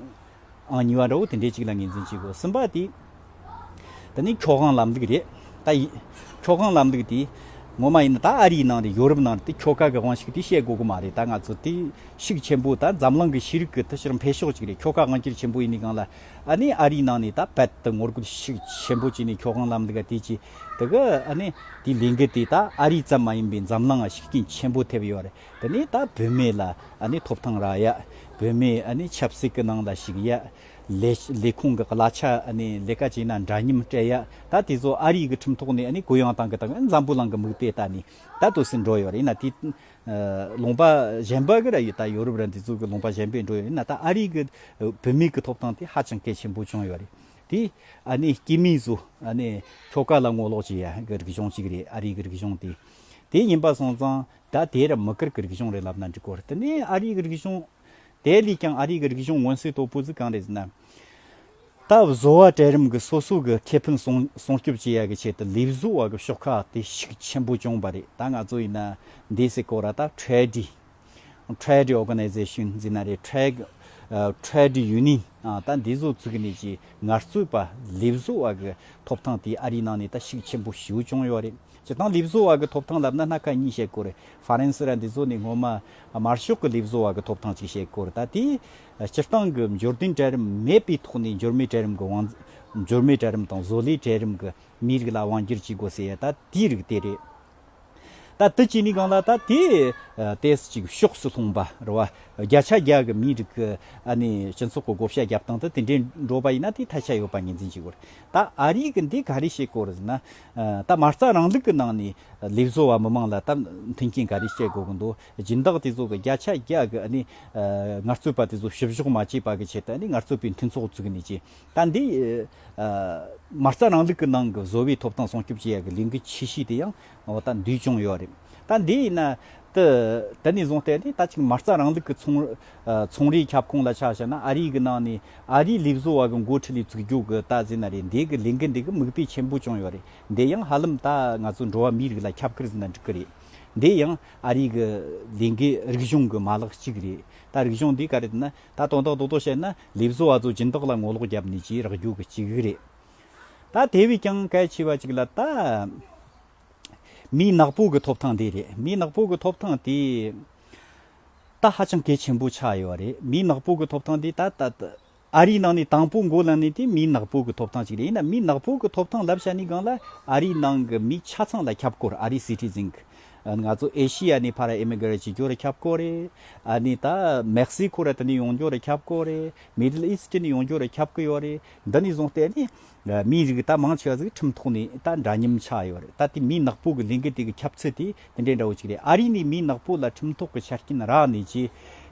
ཨང་གཉིས་བ་འདྲ་བོ་དེ་འདྲའི་ཅིག་ལ་ངེས་འཛིན་བྱེད་དགོས་སེམས་པ་དེ། ད་ནི་ཁྱོ་གང་ལབ་འདུག་རེད་ད་ཡིན། ཁྱོ་གང་ལབ་འདུག་དེ། ངོ་མ་ཡིན་ན་ད་ཨ་རིའི་ནང་རེད་ཡོ་རུབ་ནང་རེད་དེ་ཁྱོ་ག་གི་དབང་ཤིག་དེ་བཤད་དགོས་ཀི་མ་རེད་ད་ང་ཚོ་དེ་ཤིག་ཆེན་པོ་ད་འཛམ་གླིང་གི་ཤེས་རིག་གི་ད་ཕྱིར་འཕེལ་ཕྱོགས་ཅིག་རེད་ཁྱོ་ག་དབང་སྐྱིར་ཆེན་པོ་ཡིན་ནི་གང་ལ་ཨ་ནི་ཨ་རིའི་ནང་ནས་ད་བད་དུ་ངོ་རྒོལ་ཤིག་ཆེན་པོ་བྱས་ནས་ཁྱོ་གང་ལབ་འདུག་ག་དེ་ཅི་ད་གི་ཨ་ནི་དེ་ལས་འགུལ་དེ་ད་ཨ་རི་ཙམ་མ་ཡིན་པའི་འཛམ་གླིང་ང་ཤིག་རྐྱེན་ཆེན་པོ་ཐེབས་ཡོད་རེད་དེ་ནས་ད་བོད་མི་ལ་ཐོབ་ཐང་རག་ཡ། བོད་མི་ཆབ་སྲིད་ཀྱི་ནང་ལ་ཞུགས་ཡ། ལས་ཁུངས་ཀྱི་གླ་ཆ་ལས་ཀ་བྱས་ན་འདྲ་མཉམ་སྤྲད་ཡ། ད་དེ་ཚོ་ཨ་རིའི་གི་ཁྲིམས་ཐོག་ནས་གུ་ཡངས་བཏང་གི་དང་འཛམ་བུ་གླང་གི་མིག་དཔེ་ད་ནི་ད་དུ་སེ་འགྲོ་ཡོད་རེད་ན་དེ་ལུང་པ་གཞན་པ་གི་ར་ཡོད་ད་ཡོ་རུབ་ར་འདི་ཚོ་གི་ལུང་པ་གཞན་པས་འགྲོ་ཡོད་རེད་ན་ད་ཨ་རིའི་གི་བོད་མིའི་གི་ཐོབ་ཐང་དེ་ཧ་ཅང་གལ་ཆེན་པོ་བྱུང་ཡོད་རེད། དེ་སྐྱེས་མིའི་ཚོ་ཁྱོ་ག་ལ་ངོ་ལོག་བྱེད་ཡ་གི་རིག་གཞུང་གཅིག་རེད་ཨ་རིའི་གི་རིག་གཞུང་དེ། དེ་ཡིན་པ་སོང་ཙང་ད་དེ་རུ་མི་ཀིར་གྱི་རིག་གཞུང་རེད་ལབ་ན་འགྲིག་གོ་དེ་ནས་ཨ་རིའི་གྱི་རིག་གཞུང། དེ་ལས་ཀྱང་ཨ་རིའི་གྱི་རིག་གཞུང་མངོན་གསལ་དོད་པོ་ཟིག་གང་རེད་ཟེར་ན། ད་བཟོ་བ་གྲལ་རིམ་གྱི་སོ་སོ་གྱི་ཁེ་ཕན་སྲུང་སྐྱོབ་བྱེད་ཡག་གི་ཆེད་དུ་ལས་བཟོ་བ་གྱི་ཤོག་ཁག་དེ་ཤུགས་ཆེན་པོ་བྱུང་བ་རེད་ད་ང་ཚོ་ཡིན་ན་འདས་སའི་སྐོར་ར་ད Trade Trade Organization ཟེར་ན་རེད Trade Trade Union ད་འདི་བཟོ་ཚུགས་ནས་ཀྱི་ངར་རྩོད་པ་ལས་བཟོ་བ་གྱི་ཐོབ་ཐང་དེ་ཨ་རིའི་ནང་ནས་ད་ཤུགས་ཆེན་པོ་ཞུ་བྱུང་ཡོད་རེད། བྱེད་སྟངས་ལུས་བཟོ་བ་གི་ཐོབ་ཐང་ལབ་ན་སྣ་ཁ་གཉིས་བཤད་དགོས་རེད། ཧྥ་རན་སི་ར་འདི་ཚོ་ནི་སྔོན་མ་དམར་ཤོག་གི་ལུས་བཟོ་བ་གི་ཐོབ་ཐང་ཅིག་བཤད་དགོས་རེད་ད་དེའི་སྤྱིར་བཏང་གི་འབྱོར་ལྡན་གྲལ་རིམ་མེད་པའི་ཐོག་ནས་འབྱོར་མེད་གྲལ་རིམ་གི་དབང། འབྱོར་མེད་གྲལ་རིམ་དང་བཟོ་ལས་གྲལ་རིམ་གི་མི་རིགས་ལ་དབང་བསྒྱུར་བྱེད་དགོས་ཟེར་ཡ་ད་དེའི་རིགས་དེ་རེད། ད་དེ་བྱས་ནས་གང་ལ་ད་དེ་ལྟས་སུ་ཅིག་ཕྱོགས་སུ་ལྷུང་བ་རེད། བརྒྱ་ཆ་བརྒྱ་གི་མི་རིགས་གི་ཨ་ནི་སྤྱི་ཚོགས་གི་བགོ་བཤའ་རྒྱབ་སྟངས་དེ་དེ་འདྲས་འགྲོ་བ་ཡིན་ན་དེའི་ཐལ་ཆ་ཡོད་པ་ངེས་འཛིན་བྱེད་དགོས་རེད། ད་ཨ་རིའི་གི་འདི་ག་རེ་བྱེད་དགོས་རེད་ཟེར་ན། ད་མ་རྩ་རང་ལུགས་ཀྱི་ནང་ནས་ལས་བཟོ་བ་མི་མང་ལ་ད་མཐུན་རྐྱེན་ག་རེ་སྤྱད་དགོས་ཀྱི་འདུག་སྦྱིན་བདག་དེ་ཚོ་གི་བརྒྱ་ཆ་བརྒྱ་གི་ཨ་ནི་ངལ་རྩོལ་པ་དེ་ཚོ་བཤུ་བཞོག་མ་བྱས་པ་གི་ཆེད་དུ་ཨ་ནི་ངལ་རྩོལ་པའི་མཐུན་ཚོགས་བཙུགས་ནས་ཀྱི་ད་འདི་མ་རྩ་རང་ལུགས་ཀྱི་ནང་གི་བཟོ་བའི་ཐོབ་ཐང་སྲུང་སྐྱོབ་བྱེད་ཡག་གི་ལས་འགུལ་ཆེ་ཤོས་དེ་ཡང་ད་འདུས་བྱུང་ཡོད་རེད། ད་འདི་ཡིན་ན་ད་ནས་བཟུང་སྟེ་ཨ་ནི་ད་ཅིག་མ་རྩ་རང་ལུགས་ཀྱི་ཚོང་ཚོང་རའི་ཁྱབ་ཁོངས་ལ་ཆ་བཞག་ན་ཨ་རིའི་གི་ནང་ནས་ཨ་རིའི་ལས་བཟོ་བ་གི་མགོ་ཁྲིད་ལས་བཙུགས་རྒྱུ་གི་ལྟ་ཟིན་ན་རེད་འདས་གི་ལས་འགུལ་འདི་གི་མིག་དཔེ་ཆེན་པོ་བྱུང་ཡོད་རེད་འདས་ཡང་ཧ་ལམ་ད་ང་ཚོ་འགྲོ་བ་མིའི་རིགས་ལ་ཁྱབ་ཁར་ཟིན་ན་འགྲིག་གི་རེད་འདས་ཡང་ཨ་རིའི་གི་ལས་འགུལ་རིག་གཞུང་གི་མ་ལག་གཅིག་རེད་ད་རིག་གཞུང་འདི་ག་རེད་ན་ད་དོན་དག་ཏོག་ཏོག་བཤད་ན་ལས་བཟོ་བ་ཚོ་སྦྱིན་བདག་ལ་ངོ་ལོག་རྒྱབ་ནས་ཀྱིས་རག་རྒྱུ་གི་གཅིག་རེད་ད་དེ་བས་ཀྱང་གལ་ཆེ་བ་གཅིག་ལ་ད་མིའི་ནག་པོ་གི་ཐོབ་ཐང་འདི་རེད་མིའི་ནག་པོ་གི་ཐོབ་ཐང་དེ། ད་ཧ་ཅང་གལ་ཆེན་པོ་ཆགས་ཡོད་པ་རེད་མིའི་ནག་པོ་གི་ཐོབ་ཐང་དེ་ད་ལྟ་ཨ་རིའི་ནང་ནས་དང་པོ་འགོ་ལངས་ནས་དེ་མིའི་ནག་པོ་གི་ཐོབ་ཐང་ཞིག་རེད་ཡིན་ན་མིའི་ནག་པོ་གི་ཐོབ་ཐང་ལབ་བྱ་ནི་གང་ལ་ཨ་རིའི་ནང་གི་མི་ཆ་ཚང་ལ་ཁྱབ་དགོས་ཨ་རིའི Citizen ང་ཚོ་ཨེ་ཤི་ཡ་ནས་ཕར་ཨེ་མི་གི་ར་བྱེད་རྒྱུ་ར་ཁྱབ་དགོས་རེད་ཨ་ནི་ད་མེག་སི་ཁོ་ར་དེ་ནས་ཡོང་རྒྱུ་ར་ཁྱབ་དགོས་རེད་མིད་ལ་ཨིས་ཏི་ནས་ཡོང་རྒྱུ་ར་ཁྱབ་གི་ཡོད་རེད་འདི་ནས་བཟུང་སྟེ་ནི་མིའི་རིགས་ད་མང་ཆེ་བ་གཟིགས་ཁྲིམས་ཐོག་ནས་ད་འདྲ་མཉམ་ཆགས་ཡོད་རེད་ད་དེ་མིའི་ནག་པོ་གི་ལས་འགུལ་དེ་གི་ཁྱབ་ཚུལ་དེ་དེ་འདྲའི་འདྲ་བོ་ཅིག་རེད་ཨ་རི་ནས་མིའི་ནག་པོ་ལ་ཁྲིམས་ཐོག་གི་ཆ་རྐྱེན་རག་ནས་རྗེས་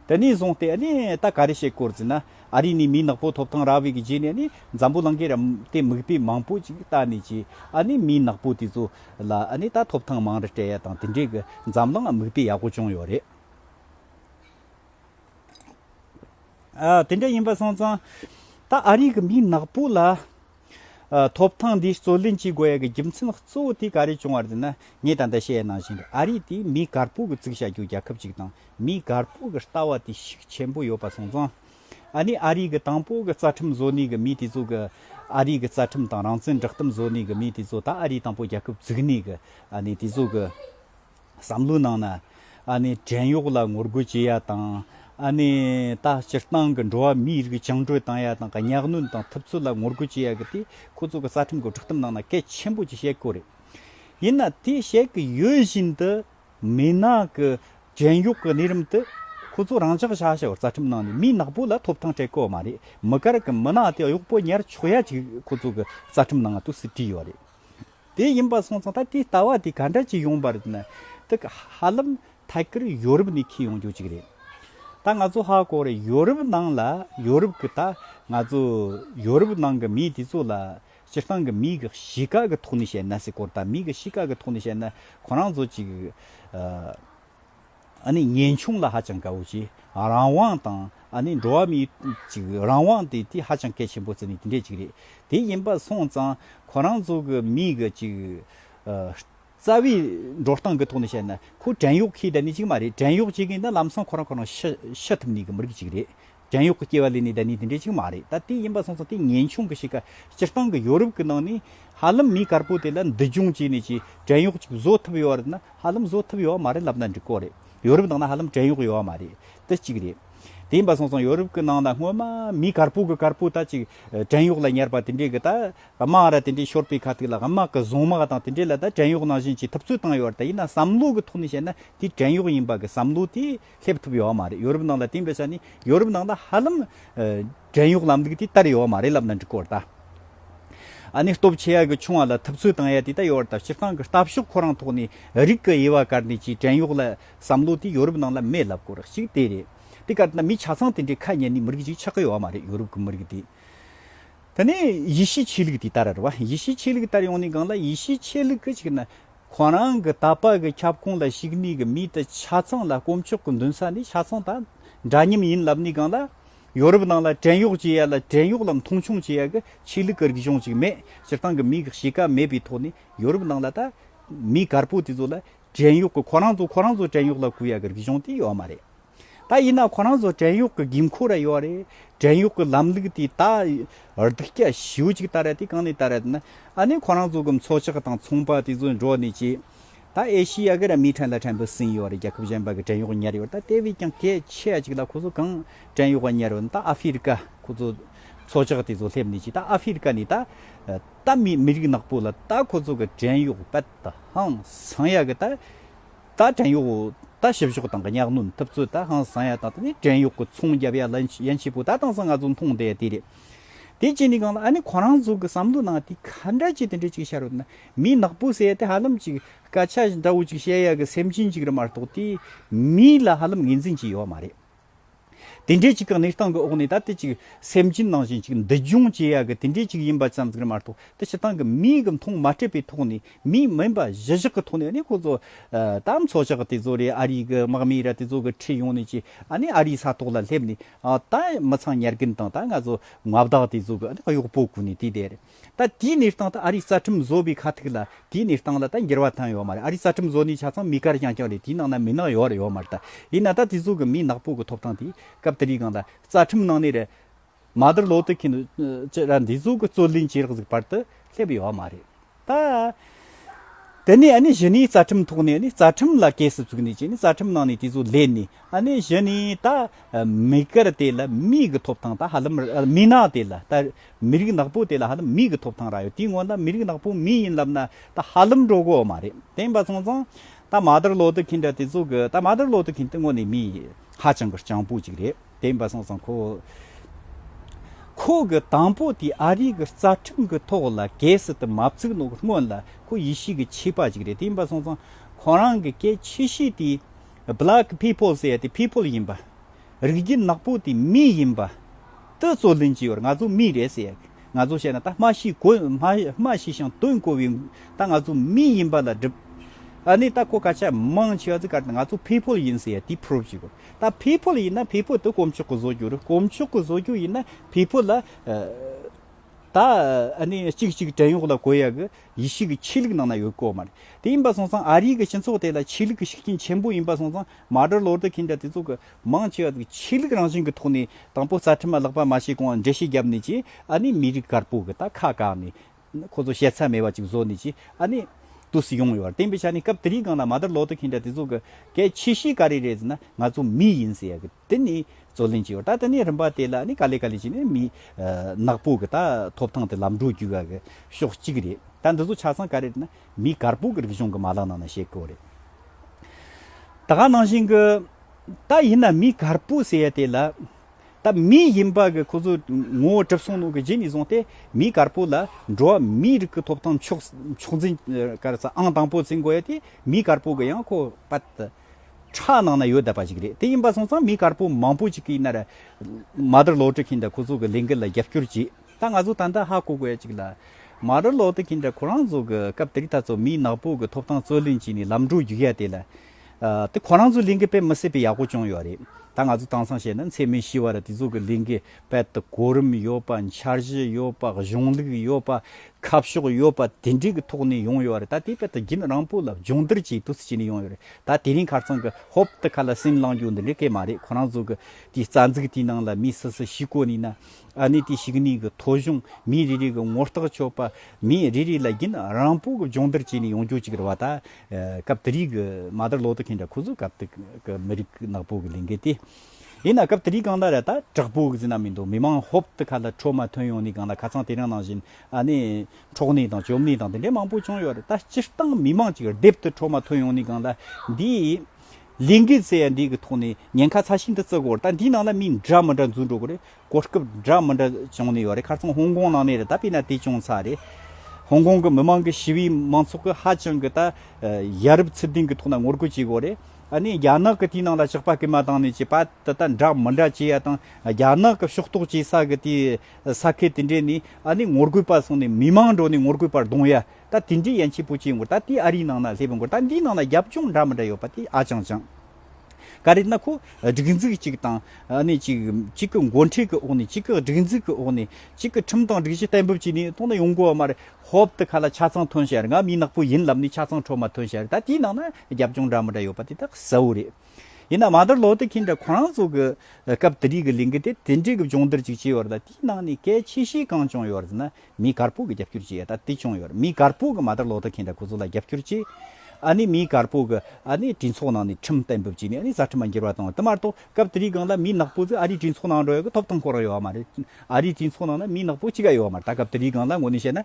དེ་ནས་བཟུང་སྟེ་ནི་ད་ག་རེ་བྱེད་སྐོར་ཟེར་ན་ཨ་རི་ནས་མིའི་ནག་པོ་ཐོབ་ཐང་རག་བའི་གི་རྗེས་ནས་ནི་འཛམ་བུ་གླང་གི་རམ་དེ་མིག་དཔེ་མང་པོ་ཅིག་ད་ནས་རྗེས་ཨ་ནི་མིའི་ནག་པོ་དེ་ཚོ་ལ་ཨ་ནི་ད་ཐོབ་ཐང་མང་རེ་སྤྲད་ཡ་དང་དེ་འདྲའི་གི་འཛམ་གླང་མིག་དཔེ་ཡག་པོ་བྱུང་ཡོད་རེད། དེ་འདྲ་ཡིན་པ་སོང་ཙང། ད་ཨ་རིག་གི་མི་ནག་པོ་ལ། ཐོབ་ཐང་འདི་རྩོད་ལེན་བྱེད་དགོས་ཡ་གི་རྒྱུ་མཚན་གཙོ་བོ་དེ་ག་རེ་བྱུང་བར་འདོད་ན། ངས་ད་ལྟ་བཤད་གནང་བཞིན་དུ་ཨ་རིག་དེ་མི་དཀར་པོ་གི་གཙིགས་བྱ་རྒྱུ་རྒྱལ་ཁབ་ཅིག་དང་མི་དཀར་པོ་གི་ལྟ་བ་དེ་ཤུགས་ཆེན་པོ་ཡོད་པ་སོང་ཙང། ཨ་ནི་ཨ་རིག་གི་དང་པོ་གི་རྩ་ཁྲིམས་བཟོ་ནུས་གི་མི་དེ་ཚོ་གི། ཨ་རིག་གི་རྩ་ཁྲིམས་དང་རང་བཙན་བསྒྲགས་གཏམ་བཟོ་ནུས་གི་མི་དེ་ཚོ་ད་ཨ་རིག་དང་པོ་རྒྱལ་ཁབ་བཙུགས་ནས་གི་ཨ་ནི་དེ་ཚོ་གི། བསམ་བློའི་ནང་ན། ཨ་ནི་བྲན་གཡོག་ལ་ངོ་རྒོལ་བྱེད་ཡ་དང། ཨ་ནི་ད་སྤྱིར་བཏང་གི་འགྲོ་བ་མིའི་རིགས་བཅིངས་གྲོལ་བཏང་ཡ་དང་གི་གཉའ་གནོན་དང་ཐུབ་ཚོད་ལ་ངོ་རྒོལ་བྱེད་ཡ་གི་དེ་ཁོ་ཚོ་གི་རྩ་ཁྲིམས་གི་སྒྲིག་གཏམ་ནང་ན་གལ་ཆེན་པོ་ཅིག་བཤད་དགོས་རེད། ཡིན་ན་དེ་བཤད་གི་ཡོད་བཞིན་དུ། མི་ནག་གི་བྲན་གཡོག་གི་གནས་རིམ་དུ། ཁོ་ཚོ་རང་ཅག་ཤ་ཤ་བོར་རྩ་ཁྲིམས་ནང་ནས་མི་ནག་པོ་ལ་ཐོབ་ཐང་སྤྲད་དགོས་མ་རེད་མི་དཀར་གི་མི་ནག་དེ་གཡོག་པོ་ཉར་ཆོག་ཡ་ཅིག་ཁོ་ཚོ་གི་རྩ་ཁྲིམས་ནང་ན་དུ་སི་བྲིས་ཡོད་རེད། དེ་ཡིན་པ་སོང་ཙང་ད་དེའི་ལྟ་བ་དེ་ག་འདྲ་ཅིག་ཡོང་པར་ནི་ད་གི་ཧ་ལམ་ཐད་ཀར་ཡོ་རུབ་ནས་ཁེལ་ཡོང་རྒྱུ་ཅིག་རེད། ད་ང་ཚོ་ཧ་གོ་རེ་ཡོ་རུབ་ནང་ལ་ཡོ་རུབ་གི་ད་ང་ཚོ་ཡོ་རུབ་ནང་གི་མི་དེ་ཚོ་ལ་སྤྱིར་བཏང་གི་མི་གི་གཤིས་ཀ་གི་ཐོག་ནས་བཤད་ན་སི་ཀོར་ད་མི་གི་གཤིས་ཀ་གི་ཐོག་ནས་བཤད་ན་ཁོ་རང་ཚོ་ཅིག་ཨ་ནི་ངེས་འབྱུང་ལ་ཧ་ཅང་དགའ་བོ་ཆེ། རང་དབང་དང་ཨ་ནི་འགྲོ་བ་མིའི་ཅིག་རང་དབང་དེ་དེ་ཧ་ཅང་གལ་ཆེན་པོ་ཟེར་ནི་དེ་འདྲས་ཅིག་རེད། དེ་ཡིན་པ་སོང་ཙང་ཁོ་རང་ཚོ་གི་མིའི་གི་ཅིག་རྩ་བའི་འགྲོ་སྟངས་གི་ཐོག་ནས་བཤད་ན་ཁོ་བྲན་གཡོག་ཁྱི་དེ་ནི་ཅིག་མ་རེད་བྲན་གཡོག་བྱེད་མཁན་ནི་ལམ་སང་ཁོ་རང་ཁོ་རང་ཤི་ཤི་ཐུབ་ནི་གི་མི་རིགས་ཅིག་རེད། བྲན་གཡོག་གི་སྐྱེ་བ་ལས་ནི་ད་ནི་དེ་འདྲའི་ཆིག་མ་རེད་ད་དེ་ཡིན་པ་སོང་ཙང་དེ་ངན་ཆུང་གི་ཞིག་ག་སྤྱིར་བཏང་གི་ཡོ་རུབ་ཀྱི་ནང་ནས་ཧ་ལམ་མི་དཀར་པོ་དེ་ལ་འདི་འབྱུང་བྱས་ནས་ཀྱི་བྲན་གཡོག་ཅིག་བཟོ་ཐུབ་ཡོད་རེད་ན་ཧ་ལམ་བཟོ་ཐུབ་ཡོད་བ་མ་རེད་ལབ་ན་འགྲིག་གོ་རེད་ཡོ་རུབ་ནང་ན་ཧ་ལམ་བྲན་གཡོག་ཡོད་བ་མ་རེད་དེ་གཅིག་རེད་དེ་ཡིན་པ་སོང་ཙང་ཡོ་རུབ་ཀྱི་ནང་ན་སྔོན་མ་མི་དཀར་པོ་གི་དཀར་པོ་ད་ཅིག་བྲན་གཡོག་ལ་ཉར་པ་དེ་འདྲས་ཀྱི་ད་དམག་ར་དེ་འདྲས་ཤོར་པའི་ཁ་ཐུག་ལ་དམག་གི་བཟུང་དམག་དང་དེ་འདྲས་ལ་ད་བྲན་གཡོག་ནང་བཞིན་ཀྱི་ཐུབ་ཚོད་བཏང་ཡོད་རེད་ད་ཡིན་ན་བསམ་བློ་གི་ཐོག་ནས་བཤད་ན་དེ་བྲན་གཡོག་ཡིན་པ་གི་བསམ་བློ་དེ་སླེབས་ཐུབ་ཡོད་མ་རེད་ཡོ་རུབ་ནང་ལ་དེང་འདྲ་ཆ་ནས་ཡོ་རུབ་ནང་ལ་ཧ་ལམ་བྲན་གཡོག་ལམ་ལུགས་དེ་དར་ཡོད་མ་རེད་ལབ་ན་འགྲིག་གོ་ད་ཨ་ནི་སྟོབས་ཆེ་ཡ་གི་ཆུང་བ་ལ་ཐབས་ཚུལ་དང་ཡ་དེ་ད་ཡོད་ད་སྤྱིར་བཏང་གི་ལྟ་ཕྱོགས་ཁོ་རང་ཐོག་ནས་རིགས་ཀྱི་དབྱེ་བ་བཀར་ནས་ཀྱི་བྲན་གཡོག་ལ་བསམ་བློ་དེ་ཡོ་རུབ་ནང་ལ་མེད་ལབ་གོ་རག་གཅིག་དེ་རེད་དེ་ག་ད་མི་ཆ་ཚང་དེ་འདྲའི་ཁ་ཉན་ནས་མི་རིགས་གཅིག་ཆགས་ཀྱི་ཡོད་མ་རེད་ཡོ་རུབ་གི་མི་རིགས་དེ་ད་ནས་ཡེ་ཤེས་ཆོས་ལུགས་དེ་དར་ར་བ་ཡེ་ཤེས་ཆོས་ལུགས་དར་ཡོང་ནས་གང་ལ་ཡེ་ཤེས་ཆོས་ལུགས་གཅིག་ན་ཁོང་རང་གི་ད་བར་གྱི་ཁྱབ་ཁོངས་ལ་ཞུགས་ནུས་ཀྱི་མིའི་དུ་ཆ་ཚང་ལ་དཀོན་མཆོག་གི་འདུན་ས་ནི་ཆ་ཚང་དང་འདྲ་མཉམ་ཡིན་ལབ་ནས་གང་ལ་ཡོ་རུབ་ནང་ལ་བྲན་གཡོག་བྱེད་ཡ་ལ་བྲན་གཡོག་ལ་མཐོང་ཆུང་བྱེད་ཡ་གི་ཆོས་ལུགས་ཀྱི་རིག་གཞུང་ཅིག་མེད་སྤྱིར་བཏང་གི་མིའི་གི་གཤིས་ཀ་མེད་པའི་ཐོག་ནས་ཡོ་རུབ་ནང་ལ་ད་མི་དཀར་པོ་དེ་ཚོ་ལ་བྲན་གཡོག་གི་ཁོ་རང་ཚོ་ཁོ་རང་ཚོ་བྲན་གཡོག་ལ་གུ་ཡ་གི་རིག་གཞུང་དེ་ཡོད་མ་རེད། ད་ཡིན་ན་ཁོ་རང་ཚོ་བྲན་གཡོག་གི་འགན་ཁུར་ར་ཡོད་རེད། བྲན་གཡོག་གི་ལམ་ལུགས་དེ་དག་རྡུགས་རྒྱ་ཞེའུ་ཅིག་ལྟར་རེད་དེ་གང་ནས་ལྟར་རེད་ན། ཨ་ནི་ཁོ་རང་ཚོ་གི་མཚོ་ལྕགས་དང་ཚོང་པ་དེ་ཚོ་འགྲོ་ནས་ཀྱི། ད་ཨེ་ཤི་ཡ་གི་ར་མི་ཕྲན་ལ་ཕྲན་བུ་ཟིན་ཡོད་རེད་རྒྱལ་ཁབ་གཞན་པ་གི་བྲན་གཡོག་ཉར་ཡོད་རེད་ད་དེ་བས་ཀྱང་གལ་ཆེ་ཅིག་ལ་ཁོ་ཚོ་གང་བྲན་གཡོག་ག་ཉར་ཡོད་ན་ད་ཨ་ཧྥི་རི་ཀ་ཁོ་ཚོ་མཚོ་ལྕགས་དེ་ཚོ་སླེབས་ནས་ཀྱི་ད་ཨ་ཧྥི་རི་ཀ་ནས་ད་ད་མི་མི་རིགས་ནག་པོ་ལ་ད་ཁོ་ཚོ་གི་བྲན་གཡོག་པད་དང་ཟངས་ཡག་གི་ད། རྟ་བྲན་གཡོག་རྟ་ཞིབ་གཞོག་དང་གི་གཉགས་གནོན་ཐུབ་ཚོད་ད་ཧང་བཟང་ཡ་དང་དེ་ནི་བྲན་གཡོག་གི་ཚོང་རྒྱབ་ཡ་ལ་ཡན་ཆེ་པོ་ད་དང་ས་ང་ཚོ་མཐོང་བསྡད་དེ་རེད་དེ་གཅིག་ནི་གང་ལ་ཨ་ནི་ཁོ་རང་ཚོ་གི་བསམ་བློ་ནང་དེ་ག་འདྲ་ཅིག་དེ་འདྲ་ཅིག་ཤར་འོད་ན་མི་ནག་པོ་ཟེར་དེ་ཧ་ལམ་ཅིག་སྐད་ཆ་འདྲ་བོ་ཅིག་བཤད་ཡ་གི་སེམས་ཅན་ཅིག་རེད་མ་གཏོགས་དེ་མི་ལ་ཧ་ལམ་ངེས་འཛིན་ཅིག་ཡོད་མ་རེད། དེ་འདྲའི་གཅིག་གི་གནས་སྟངས་ཀྱི་འོག་ནས་ད་ལྟའི་གཅིག་སེམས་ཅན་ནང་བཞིན་གཅིག་འདུལ་སྦྱོང་བྱེད་ཡག་གི་དེ་འདྲའི་གཅིག་ཡིན་པ་ཙམ་གྱིས་མ་གཏོགས་ད་ཕྱི་ཐང་གི་མིའི་གི་མཐོང་མ་སྤྲད་པའི་ཐོག་ནས་མི་མིན་པ་གཞི་བཞག་གི་ཐོག་ནས་ནི་ཁོ་ཚོ་དམ་ཚོགས་ཤག་དེ་ཚོ་རེད་ཨ་རིའི་གི་དམག་མི་ར་དེ་ཚོ་གི་ཁྲིད་ཡོང་ནས་ཀྱི་ཨ་ནི་ཨ་རིའི་ས་ཐོག་ལ་སླེབས་ནས་ད་མི་ཚང་ཉར་གིན་དང་ད་ང་ཚོ་མངའ་བདག་དེ་ཚོ་གི་གཡོག་པོ་གུ་ནས་དེ་དེར། ད་དེའི་གནས་སྟངས་ད་ཨ་རིའི་རྩ་ཁྲིམས་བཟོ་པའི་ཁ་ཐུག་ལ་དེའི་གནས་སྟངས་ལ་ད་འགྱུར་བ་བཏང་ཡོད་མ་རེད་ཨ་རིའི་རྩ་ཁྲིམས་བཟོ་ནས་ཆ་ཚང་མི་དཀར་རྐྱང་རྐྱང་རེད་དེའི་ནང་ན་མི་ནག་ཡོད་རེད་ཡོད་མ་རེད་ད་ཡིན་ན་ད་དེ་ཚོ་གི་མི་ནག་པོ་གི་ཐོབ་ཐང་དེ་སྐབས་དེ་རིང་གང་ད་རྩ་ཁྲིམས་ནང་ནས་རེད་མ་དར་ལོ་དེ་གིན་ཅི་ར་འདི་ཚོ་གི་རྩོད་ལེན་བྱེད་རག་ཟིག་བར་དུ་སླེབས་ཡོད་མ་རེད་ད། དེ་ནས་ཨ་ནི་གཞི་ནས་རྩ་ཁྲིམས་ཐོག་ནས་ཨ་ནི་རྩ་ཁྲིམས་ལ་གས་སུ་བཙུགས་ནས་ཅི་ནས་རྩ་ཁྲིམས་ནང་ནས་དེ་ཚོ་བསླེབས་ནས་ཨ་ནི་གཞི་ནས་ད་མི་དཀར་དེ་ལ་མིའི་གི་ཐོབ་ཐང་ད་ཧ་ལམ་མི་ནག་དེ་ལ་ད། མི་རིགས་ནག་པོ་དེ་ལ་ཧ་ལམ་མིག་གི་ཐོབ་ཐང་རག་ཡོད་དེའི་སྔོན་ན་མི་རིགས་ནག་པོ་མི་ཡིན་ལབ་ན་ད་ཧ་ལམ་འགྲོ་དགོས་མ་རེད་དེ་ཡིན་པ་སོང་ཙང་ད་མ་དར་ལོ་ཏི་གིན་འདྲ་དེ་ཚོ་གི་ད་མ་དར་ལོ་ཏི་གིན་དེ་དངོས་ནས་མི་ཧ་ཅང་གི་སྤྱང་པོ་ཅིག་རེད་དེ་ཡིན་པ་སོང་ཙང་ཁོ་ཁོ་གི་དང་པོ་དེ་ཨ་རིག་གི་རྩ་ཁྲིམས་གི་ཐོག་ལ་གས་སི་ཏི་མ་བཙུགས་ནོ་གི་སྔོན་ལ་ཁོ་ཡེ་ཤི་གི་ཆིག་པ་ཅིག་རེད་དེ་ཡིན་པ་སོང་ཙང་ཁོ་རང་གི་སྐད་ཆེ་ཤོས་དེ Black peoples ཡ་དེ people ཡིན་པ་རིགས་བརྒྱུད་ནག་པོ་དེ་མི་ཡིན་པ། དེ་རྩོད་ལེན་གྱི་ཡོད་རེད་ང་ཚོ་མི་རེད་ཟེར་ཡག་ང་ཚོ་བཤད་ན་ད་སྨྲ་ཤེས་གོ་སྨྲ་ཤེས་ཤིང་དོན་གོ་བའི་ད་ང་ཚོ་མི་ཡིན་པ་ལ་སྒྲུབ་ཨ་ནི་ད་ཁོ་ཁ་ཆ་མང་ཆེ་བ་ཚིག་གར་ད་ང་ཚོ་ཕེ་ཕོལ་ཡིན་ཟེར་ཡག་དེ་ཕྲོབ་བྱེད་དགོས་ད་ཕེ་ཕོལ་ཡིན་ན་ཕེ་ཕོལ་དེ་གོམ་ཆོག་གི་བཟོ་རྒྱུ་རེད་གོམ་ཆོག་གི་བཟོ་རྒྱུ་ཡིན་ན་ཕེ་ཕོལ་ལ་ད་ཨ་ནི་གཅིག་གཅིག་བྲན་གཡོག་ལ་གོ་ཡག་གི་ཡེ་ཤེས་ཀྱི་ཆོས་ལུགས་ནང་ན་ཡོད་དགོས་མ་རེད་དེ་ཡིན་པ་སོང་ཙང་ཨ་རིའི་གི་སྤྱི་ཚོགས་དེ་ལ་ཆོས་ལུགས་ཀྱི་ཤུགས་རྐྱེན་ཆེན་པོ་ཡིན་པ་སོང་ཙང་མ་གྲོས་ལོ་རྡུལ་ཁྱིམ་བྱ་དེ་ཚོ་གི་མང་ཆེ་བ་ཚོ་ཆོས་ལུགས་རང་བཞིན་གི་ཐོག་ནས་དང་པོ་རྩ་ཁྲིམས་བརླག་པ་མ་བྱས་གོང་འགྲེལ་བཤད་བརྒྱབ་ནས་ཀྱི་ཨ་ནི་མི་རིགས་དཀར་པོ་གི་ད་ཁ་བཀག་ནས་ཁོ་ཚོ་ཤེས་ཚད་མེད་པ་ཅིག་བཟོ་ནས་ཀྱི་ཨ་ནི་དུས་སུ་ཡོང་ཡོད་བར་བསྟན་པའི་ཆ་ནས་སྐབས་དེ་རིང་སྒང་ལ་མ་གྲོས་ལོ་རྡུལ་ཁྱིམ་བྱ་དེ་ཚོ་གི་གལ་ཆེ་ཤོས་ག་རེ་རེད་ཟེར་ན་ང་ཚོ་མི་ཡིན་ཟེར་ཡག་གི་དེ་ནས་རྩོད་ལེན་བྱས་ཡོད་ད་དེ་ནས་རིམ་པ་དེ་ལ་ནི་ག་ལེ་ག་ལེ་བྱས་ནས་མི་ནག་པོ་གི་ད་ཐོབ་ཐང་དེ་ལམ་འགྲོ་རྒྱུ་ག་གི་ཕྱོགས་གཅིག་རེད་ད་འདི་ཚོ་ཆ་ཚང་ག་རེ་རེད་ན། མི་དཀར་པོ་གི་རིག་གཞུང་གི་མ་ལག་ནང་ན་བཤད་དགོས་པ་རེད། ད་ག་ནང་བཞིན་གི། ད་ཡིན་ན་མི་དཀར་པོ་ཟེར་ཡ་དེ་ལ། ད་མི་ཡིན་པ་གི་ཁོ་ཚོས་ངོ་བོ་གྲིབ་སོང་ནོ་གི་རྗེས་ནས་བཟུང་སྟེ་མི་དཀར་པོ་ལ་འགྲོ་བ་མིའི་རིགས་ཀི་ཐོབ་ཐང་ཕྱོགས་ཕྱོགས་འཛིན་ཀར་ས་ཨང་དང་པོ་བརྩི་དགོས་ཡ་དེ་མི་དཀར་པོ་གི་ཡང་ཁོ་པ་ད་ཁྲག་ནང་ན་ཡོད་ད་པ་ཞིག་རེད་དེ་ཡིན་པ་སོང་ཙང་མི་དཀར་པོ་མང་པོ་ཅིག་གིས་ན་ར་མ་དར་ལོག་དྲི་གིས་ད་ཁོ་ཚོ་གི་ལས་འགུལ་ལ་རྒྱབ་སྐྱོར་བྱེད། ད་ང་ཚོ་ད་ལྟ་ཧ་གོ་དགོས་ཅིག་ལ། མ་རི་ལོག་ཏུ་ཁྱེད་འདྲ་ཁོ་རང་ཚོ་གི་སྐབས་དེ་རིགས་ད་ཚོ་མིའི་ནག་པོ་གི་ཐོབ་ཐང་རྩོད་ལེན་བྱས་ནས་ལམ་འགྲོ་རྒྱུགས་ཡ་དེ་ལ། དེ་ཁོ་རང་ཚོ་གླིང་གི་དཔེ་མི་སྲིད་པའི་ཡག་པོ་བྱུང་ཡོད་རེད། ད་ང་ཚོ་དྭངས་སང་བཤད་ན་མཚེ་མི་ཤི་བ་ར་དེ་ཚོ་གི་གླིང་གི་དཔེ་དེ་གོ་རིམ་ཡོད་པ་འཆར་གཞི་ཡོད་པ་གཞུང་ལུགས་ཡོད་པ་ཁ་ཕྱོགས་ཡོད་པ་དེ་འདྲའི་གི་ཐོག་ནས་ཡོང་ཡོད་རེད་ད་དེ་དཔེ་དེ་རྒྱུན་རང་པོ་ལ་སྦྱོང་བརྡར་གྱིས་དུས་ཚོད་བྱས་ནས་ཡོང་ཡོད་རེད་ད་དེ་རིང་ཁར་ཚང་གི་ཧོབ་ཏུ་ཁ་ལ་སེམས་བླང་རྒྱུ་འདི་འདྲའི་སྐད་མ་རེད་ཁོ་རང་ཚོ་གི་དེའི་རྩ་འཛུགས་དེའི་ནང་ལ་མི་སུ་སུ་ཤི་གོ་ནས་ན། ཨ་ནི་དེ་ཞིག་ནས་གི་ཐོ་གཞུང་མི་རེ་རེ་གི་ངོ་རྟགས་ཆོད་པ་མི་རེ་རེ་ལ་རྒྱུན་རང་པོ་གི་སྦྱོང་བརྡར་བྱས་ནས་ཡོང་རྒྱུ་གཅིག་རེད་བ་ད། སྐབས་དེ་རིག་གི་མ་དར་ལོ་ཏོ་ཁེན་དྲ་ཁུ་ཟུ་སྐབས་དེ་གི་མི་རིག་ནག་པོ་གི་ལས་འགལ་ཏེ། ཡིན་ན་སྐབས་དེ་རིག་གང་ད་ར་ད་དྲག་པོ་གི་ཟིན་ན་མི་འདུག་མི་མང་ཧོབ་ཏུ་ཁ་ལ་འཕྲོ་མ་ཐོན་ཡོང་ནས་གང་ལ་ཁ་ཚང་དེ་རིང་ནང་བཞིན་ཨ་ནི་འཕྲོག་ནས་དང་བཅོམ་ནས་དང་དེ་འདྲའི་མང་པོ་བྱུང་ཡོད་རེད་ད་སྤྱིར་བཏང་མི་མང་གཅིག་རྡེབ་ཏུ་འཕྲོ་མ་ཐོན་ཡོང་ནས་གང་ལ་འདིའི་ལས་འགུལ་ཚེ་ཡང་འགྲིག་གི་ཐོག་ནས་ཉེན་ཁ་ཚ་ཤིན་ཏུ་བརྩི་གོ་ད་འདིའི་ནང་ལ་མི་འདྲ་མི་འདྲ་འཛུལ་འགྲོ་གི་རེད་གོ་སྐབས་འདྲ་མི་འདྲ་བྱུང་ནས་ཡོད་རེད་ཁར་ཚང་ཧོང་ཀོང་ནང་ནས་རེད་ད་དཔེར་ན་དེ་ཅུང་ཚགས་རེད། ཧོང་ཀོང་གི་མི་མང་གི་ཞི་བའི་མང་ཚོགས་ཀྱི་ཧ་ཅང་གི་ད་ཡ་རབས་ཚུལ་ལྡན་གི་ཐོག་ན་ངོ་རྒོལ་བྱེད་གོ་རེད། ཨ་ནི་རྒྱ་ནག་གི་དེའི་ནང་ལ་ཆགས་པ་སྐུལ་མ་བཏང་ནས་བྱས་པ་ད་ལྟ་འདྲ་མི་འདྲ་བྱས་ཡ་དང་རྒྱ་ནག་གི་ཕྱོགས་གཏོགས་བྱས་ས་གི་དེའི་ས་ཁུལ་དེ་འདྲས་ནས་ཨ་ནི་ངོ་རྒོལ་པ་སོང་ནས་མི་མང་འགྲོ་ནས་ངོ་རྒོལ་པར་གདོང་ཡ། ད་དེ་འདྲའི་ཡན་ཆད་པོ་ཅིའི་འགོར་ད་དེའི་ཨ་རིའི་ནང་ན་སླེབས་པའི་འགོར་ད་འདིའི་ནང་ན་རྒྱབ་ལྗོངས་འདྲ་མི་འདྲ་ཡོད་པ་དེ་ཨ་ཅང་ཅང། ག་རེད་ན་ཁོ་སྒྲིག་འཛུགས་གཅིག་དང་ནི་གཅིག་གཅིག་གི་མགོ་འཁྲིད་ཀྱི་འོག་ནས་གཅིག་གི་སྒྲིག་འཛུགས་ཀྱི་འོག་ནས་གཅིག་གི་ཁྲིམས་དང་སྒྲིག་གཞི་གཏན་འབེབས་བྱས་ནས་ཐོག་ན་ཡོང་དགོས་བ་མ་རེད་ཧོབ་ཏུ་ག་ལ་ཆ་ཚང་ཐོན་ཤག་རེད་ང་མི་ནག་པོ་ཡིན་ལབ་ནས་ཆ་ཚང་འཕྲོག་མ་ཐོན་ཤག་རེད་ད་དེའི་ནང་ན་རྒྱབ་ལྗོངས་འདྲ་མི་འདྲ་ཡོད་པ་དེ་ད་གསལ་བོ་རེད། ཡིན་ནའང་མ་ད་ལོག་ཏུ་ཁྱེད་འདྲ་ཁོ་རང་ཚོ་གི་སྐབས་དེ་རིགས་ཀྱི་གླིང་གི་དེ་དེ་འདྲའི་གི་སྦྱོང་བརྡར་ཅིག་བྱས་བར་ད་དེའི་ནང་ནས་གལ་ཆེ་ཤོས་གང་བྱུང་ཡོད་བར་ཟེར་ན་མིའི་གར་སྤུག་གི་རྒྱབ་སྐྱུར་གྱིས་ད་ལྟ་བྱུང་ཡོད། མིའི་གར་སྤུག་གི་མ་དར་ལོག་ལྟ་མཁན་དང་ཁོ་ཚོ་ལ་རྒྱབ་སྐྱུར་གྱིས། ཨ་ནི་མིའི་གར་སྤུག་གི་ཨ་ནི་སྤྲིན་ཚོགས་ནང་ནས་ཁྲིམས་གཏན་འབེབས་བྱས་ནས་ཨ་ནི་རྩ་ཁྲིམས་ལ་འགྱུར་བ་བཏང་བ་དེ་མ་གཏོགས་སྐབས་དེའི་སྒང་ལ་མིའི་ནག་པོ་ཚོས་ཨ་རིའི་སྤྲིན་ཚོགས་ནང་འགྲོ་ཡོད་གི་ཐོབ་ཐང་ཁོ་རང་ཡོད་པ་མ་རེད། ཨ་རིའི་སྤྲིན་ཚོགས་ནང་ན་མིའི་ནག་པོ་གཅིག་ཀྱང་ཡོད་མ་རེད་ད་སྐབས་དེའི་སྒང་ལ་ངོ་ནས་བཤད་ན།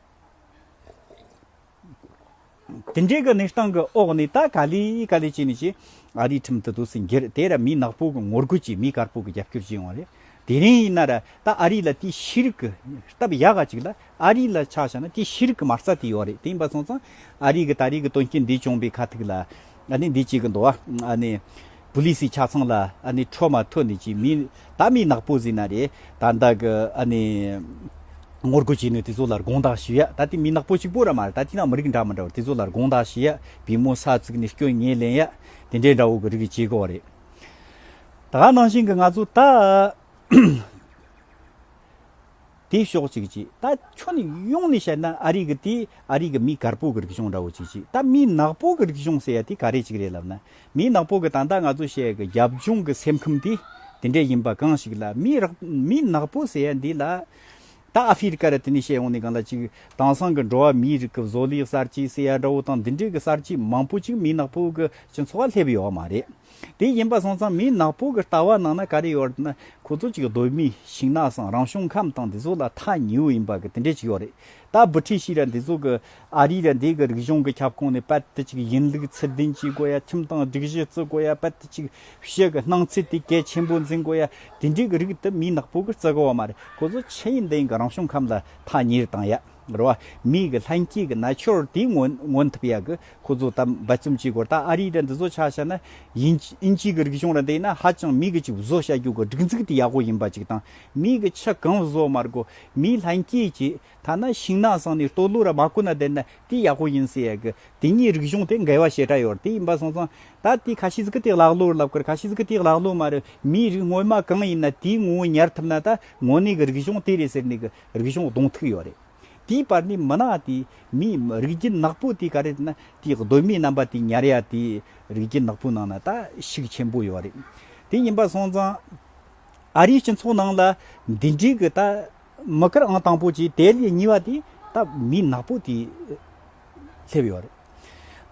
དེ་འདྲའི་གི་ནི་སྟངས་ཀི་འོག་ནས་ད་ག་ལི་ག་ལི་བྱས་ནས་ཀྱི་ཨ་རིའི་ཁྲིམས་དུ་དུ་སི་འགྱེར་དེ་ར་མི་ནག་པོ་གི་ངོ་རྒོལ་གྱི་མི་དཀར་པོ་གི་རྒྱབ་སྐྱོར་བྱས་ཡོང་བ་རེད་དེ་རིང་ཡིན་ན་ར་ད་ཨ་རི་ལ་དེ་ཤི་རིག་གི་སྟབས་ཡག་ག་ཅིག་ལ་ཨ་རི་ལ་ཆགས་ཤ་ན་དེ་ཤི་རིག་གི་མ་རྩ་དེ་ཡོད་རེད་དེ་ཡིན་པ་སོང་ཙང་ཨ་རི་གི་ད་རི་གི་དོན་རྐྱེན་འདི་བྱུང་པའི་ཁ་ཐུག་ལ། ཨ་ནི་འདི་གཅིག་གི་འདོ་ཨ་ནི། བུ་ལི་སི་ཆ་ཚང་ལ་ཨ་ནི་ཁྲོ་མ་ཐོ་ནི་ཅི་མི་ད་མི་ནག་པོ་ཟི་ན་རེ་ད་འདའ་གི་ཨ་ནི། ངོ་རྒོལ་བྱེད་ནུས་དེ་ཚོ་ལ་དགོངས་དག་ཞུ་ཡ་ད་དེ་མི་ནག་པོ་གཅིག་པོ་ར་མ་རེད་ད་དེ་ནང་མི་རིགས་འདྲ་མི་འདྲ་བ་དེ་ཚོ་ལ་དགོངས་དག་ཞུ་ཡ་བི་མོ་ས་ཚིག་ནི་སྐྱོན་ངེས་ལེན་ཡ་དེ་འདྲའི་འདྲ་བོ་གི་རིགས་ཀྱི་བྱེད་དགོ་རེད་ད་ནང་བཞིན་གི་ང་ཚོ་ད། དེ་ཞོག་ཅིག་ཅིག་ད་ཁྱོད་ནི་ཡོང་ནས་བཤད་ན་ཨ་རིག་གི་དེ་ཨ་རིག་གི་མི་དཀར་པོ་གི་རིག་གཞུང་འདྲ་བོ་ཅིག་ཅིག་ད་མི་ནག་པོ་གི་རིག་གཞུང་ཟེར་ཡ་དེ་ག་རེ་ཅིག་རེད་ལབ་ན་མི་ནག་པོ་གི་ད་ལྟ་ང་ཚོ་བཤད་གི་རྒྱབ་ལྗོངས་གི་སེམས་ཁམས་དེ་དེ་འདྲས་ཡིན་པ་གང་ཞིག་ལ་མི་རག་མི་ནག་པོ་ཟེར་ཡ་འདི་ལ་ད་ཨ་ཧྥི་རི་ཀ་ར་དེ་ནས་བཤད་ཡོང་ནས་གང་ལ་ཅིག་དེང་སང་གི་འགྲོ་བ་མིའི་རིགས་གི་བཟོ་ལས་གསར་བརྗེ་ཟེར་ཡ་འདྲ་བོ་དང་འདི་འདྲས་གི་གསར་བརྗེ་མང་པོ་ཅིག་མི་ནག་པོ་གི་སྤྱི་ཚོགས་ལ་སླེབས་ཡོད་མ་རེད། དེ་ཡིན་པ་སོང་ཙང་མིའི་ནག་པོ་གི་ལྟ་བ་ནང་ན་ག་རེ་ཡོད་རེད་ན་ཁོ་ཚོ་ཅིག་གདོད་མིའི་ཞིང་ནགས་སམ་རང་བྱུང་ཁམས་དང་འདི་ཚོ་ལ་ཐ་ཉིའུ་ཡིན་པ་གི་དེ་འདྲས་ཅིག་ཡོད་རེད་ད་བུ་ཁྲི་ཤིས་ར་འདི་ཚོ་གི་ཨ་རིའི་ར་འདི་གི་རིག་གཞུང་གི་ཁྱབ་ཁོངས་ནས་པད་དེ་ཅིག་ཡིན་ལུགས་ཚུལ་ལྡན་གྱིས་གོ་ཡ་ཁྱིམ་དང་སྒྲིག་གཞི་བརྩི་གོ་ཡ་པད་དེ་ཅིག་བཤད་གི་སྣང་ཚུལ་དེ་གལ་ཆེན་པོ་འཛིན་གོ་ཡ་དེ་འདྲས་གི་རིགས་དེ་མིའི་ནག་པོ་གི་བརྩི་གི་བ་མ་རེད་ཁོ་ཚོ་ཕྱི་ཡི་འདི་ཡི་གི་རང་བྱུང་ཁམས་ལ་ཐ་ཉིར་བཏང་ཡ། འབར་བ་མིག་གི་ལྷན་སྐྱེས་ཀྱི་ན་ཆོར་དེའི་ངོ་ཐབ་ཡག་གི་ཁོ་ཚོ་ད་འབའ་རྩོམ་བྱེད་དགོས་རྟགས་ཨ་རིའི་དྲ་འདི་ཚོ་ཆགས་ཤག་ན་ཡིན་ཨིན་ཇིའི་གི་རིག་གཞུང་ར་འདི་ན་ཧ་ཅང་མིག་གི་ཅིག་བཟོ་བྱ་རྒྱུ་གི་སྒྲིག་འཛུགས་དེ་ཡག་པོ་ཡིན་པ་ཅིག་དང་མིག་གི་ཆ་གང་བཟོ་མ་དགོས་མིའི་ལྷན་སྐྱེས་ཀྱི་ཐ་ན་ཤིང་ནགས་སང་ནས་སྟོད་ལུག་ར་མ་བརྐུ་ན་བསྡད་ན་དེ་ཡག་པོ་ཡིན་སེ་ཡག་གི་དེ་གཉིས་རིག་གཞུང་དེ་འགལ་བ་བྱེ་བྲག་ཡོད་དེ་ཡིན་པ་སོང་ཙང་ད་དེ་ཁ་ཤི་ཟིག་གི་དེ་ལག་ལུག་ལབ་གི་ཁ་ཤི་ཟིག་གི་དེ་ལག་ལུག་མ་རེད་མིའི་རིགས་དངོས་མ་གང་ཡིན་ན་དེའི་ངོ་བོ་ཉར་ཐུབ་ན་ད་ངོ་ནས་གི་རིག་གཞུང་དེ་རེད་ཟེར་ནས་གི་རིག་གཞུང་གདོང་ཐུག་ཡོད་རེད། དེའི་བར་ནས་མི་ནག་དེ་མི་རིགས་རྒྱུད་ནག་པོ་དེ་ག་རེ་ན་དེའི་གདོད་མའི་རྣམ་པ་དེ་ཉར་ཡ་དེ་རིགས་རྒྱུད་ནག་པོའི་ནང་ན་ད་ཤུགས་ཆེན་པོ་ཡོད་རེད། དེ་ཡིན་པ་སོང་ཙང་ཨ་རིའི་སྤྱི་ཚོགས་ནང་ལ་འདི་འདྲིའི་གི་ད་མི་ཀིར་ཨང་དང་པོ་གྱི་དེ་ལས་གཉིས་པ་དེ་ད་མི་ནག་པོ་དེ་སླེབས་ཡོད་རེད།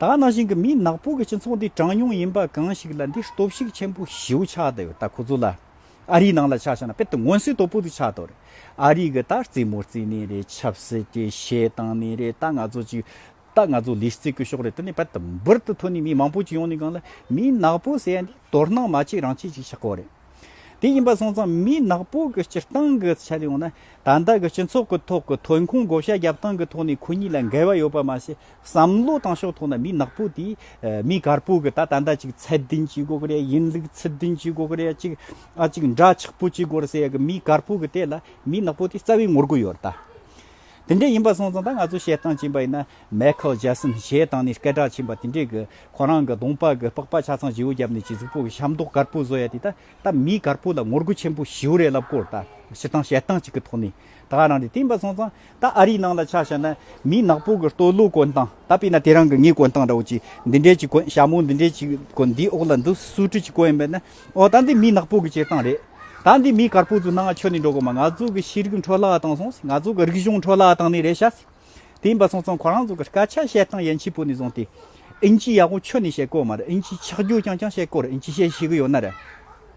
ད་ནང་བཞིན་གི་མི་ནག་པོ་གི་སྤྱི་ཚོགས་འདི་གྲངས་ཉུང་ཡིན་པ་གང་ཞིག་ལ་འདི་སྟོབས་ཤུགས་ཆེན་པོ་ཞེའུ་ཆགས་ད་ཡོད་ད་ཁོ་ཚོ་ལ་ཨ་རིའི་ནང་ལ་ཆགས་བྱུང་ན་དཔེར་ཏུ་སྔོན་སིལ་ཏོ་པུ་དུ་ཆགས་ཐོག་རེད། ཨ་རིའི་གི་ད་རྩིས་མོ་རྩིས་ནི་རེད་ཆབ་སྲིད་ཀྱི་བཤད་སྟངས་ནི་རེད་ད་ང་ཚོ་ཅིག་ད་ང་ཚོ་ལིས་རྩིས་དགོས་ཤོག་རེད་དེ་ནི་དཔལ་འབུར་དུ་ཐོན་ནི་མི་མང་པོ་ཅིག་ཡོང་ནི་གང་ལ་མི་ནག་པོ་ཟེར་ཡ་འདི་དོར་སྣང་མ་ཅིག་རང་ཅིག་ཅིག་ཆགས་ཁོག་རེད། དེ་ཡིན་པ་སོང་ཙང་མི་ནག་པོ་གི་སྤྱིར་བཏང་གི་ཆ་ལ་ཡོང་ན་ད་ལྟ་གི་སྤྱི་ཚོགས་ཀི་ཐོག་གི་ཐོན་ཁུངས་བགོ་བཤའ་རྒྱབ་སྟངས་གི་ཐོག་ནས་ཁོ་གཉིས་ལ་འགལ་བ་ཡོད་པ་མ་ཟད། བསམ་བློ་བཏང་ཕྱོགས་ཐོག་ན་མི་ནག་པོ་དེ་མི་དཀར་པོ་གི་ད་ད་ལྟ་ཅིག་ཚད་ལྡན་གྱི་སྒོ་རེད་ཡིན་ལུགས་ཚུལ་ལྡན་གྱི་སྒོ་རེད་ཅིག་ཨ་ཅིག་འདྲ་ཆགས་པོ་གཅིག་གོ་ཟེར་ཡ་གི་མི་དཀར་པོ་གི་ལྟས་ལ་མི་ནག་པོ་དེ་རྩ་བའི་ངོ་རྒོལ་ཡོད་རེད་ད། དེ་འདྲས་ཡིན་པ་སོང་ཙང་ད་ང་ཚོ་བཤད་སྟངས་བྱིན་པ་ཡིན་ན་མེ་ཁལ་རྗེ་སོན་ཞེས་སྟངས་ནས་སྐད་གྲགས་ཕྱིན་པ་དེ་འདྲས་གི་ཁོ་རང་གི་གདོང་པགས་གི་པགས་པ་ཆ་ཚང་བྱིའུ་བརྒྱབ་ནས་གཅིག་གཟུགས་པོ་གི་ཤ་མདོག་དཀར་པོ་བཟོ་ཡ་དེ་ད་ད་མི་དཀར་པོ་ལ་ངོ་རྒོལ་ཆེན་པོ་བྱིའུ་རེད་ལབ་གོ་ད་ཕྱི་སྟངས་བཤད་སྟངས་གཅིག་གི་ཐོག་ནས། ད་ག་རང་གི་བསྟན་པ་སོང་ཙང་ད་ཨ་རིའི་ནང་ལ་ཆ་བཞག་ན་མིའི་ནག་པོ་གི་སྟོད་ལུགས་གོན་སྟངས་ད་དཔེ་ན་དེ་རང་གི་ངའི་གོན་སྟངས་འདྲ་བོ་ཅིག་འདི་འདྲའི་ཅིག་གོན་ཞྭ་མོ་འདི་འདྲའི་ཅིག་གོན་འདིའི་འོག་ལ་འདི་སུ་ཀྲི་ཅིག་གོན་པས་ན་ཨོ་ད་འདི་མིའི་ནག་པོ་གི་སྐྱེར་སྟངས་རེད། ད་འདི་མིའི་དཀར་པོ་ཚོའི་སྣང་ང་ཆོས་ནས་འགྲོ་གོ་མ་ང་ཚོ་གི་ཤེས་རིག་འཕྲོ་བརླག་བཏང་སོང་ང་ཚོ་གི་རིག་གཞུང་འཕྲོ་བརླག་བཏང་ནི་རེད་ཤག་བསྟན་པ་སོང་ཙང་ཁོ་རང་ཚོ་གི་སྐད་ཆ་བཤད་སྟངས་ཡན་ཆད་པོ་ནས་བཟུང་སྟེ་ཨིན་ཇི་ཡག་པོ་ཆོས་ནས་བཤད་གོ་མ་རེད་ཨིན་ཇི་ཆགས་རྒྱུ་རྐྱང་རྐྱང་བཤད་གོ་རེད་ཨིན་ཇི་བཤད་ཤེས་གི་ཡོད་ན་རེད།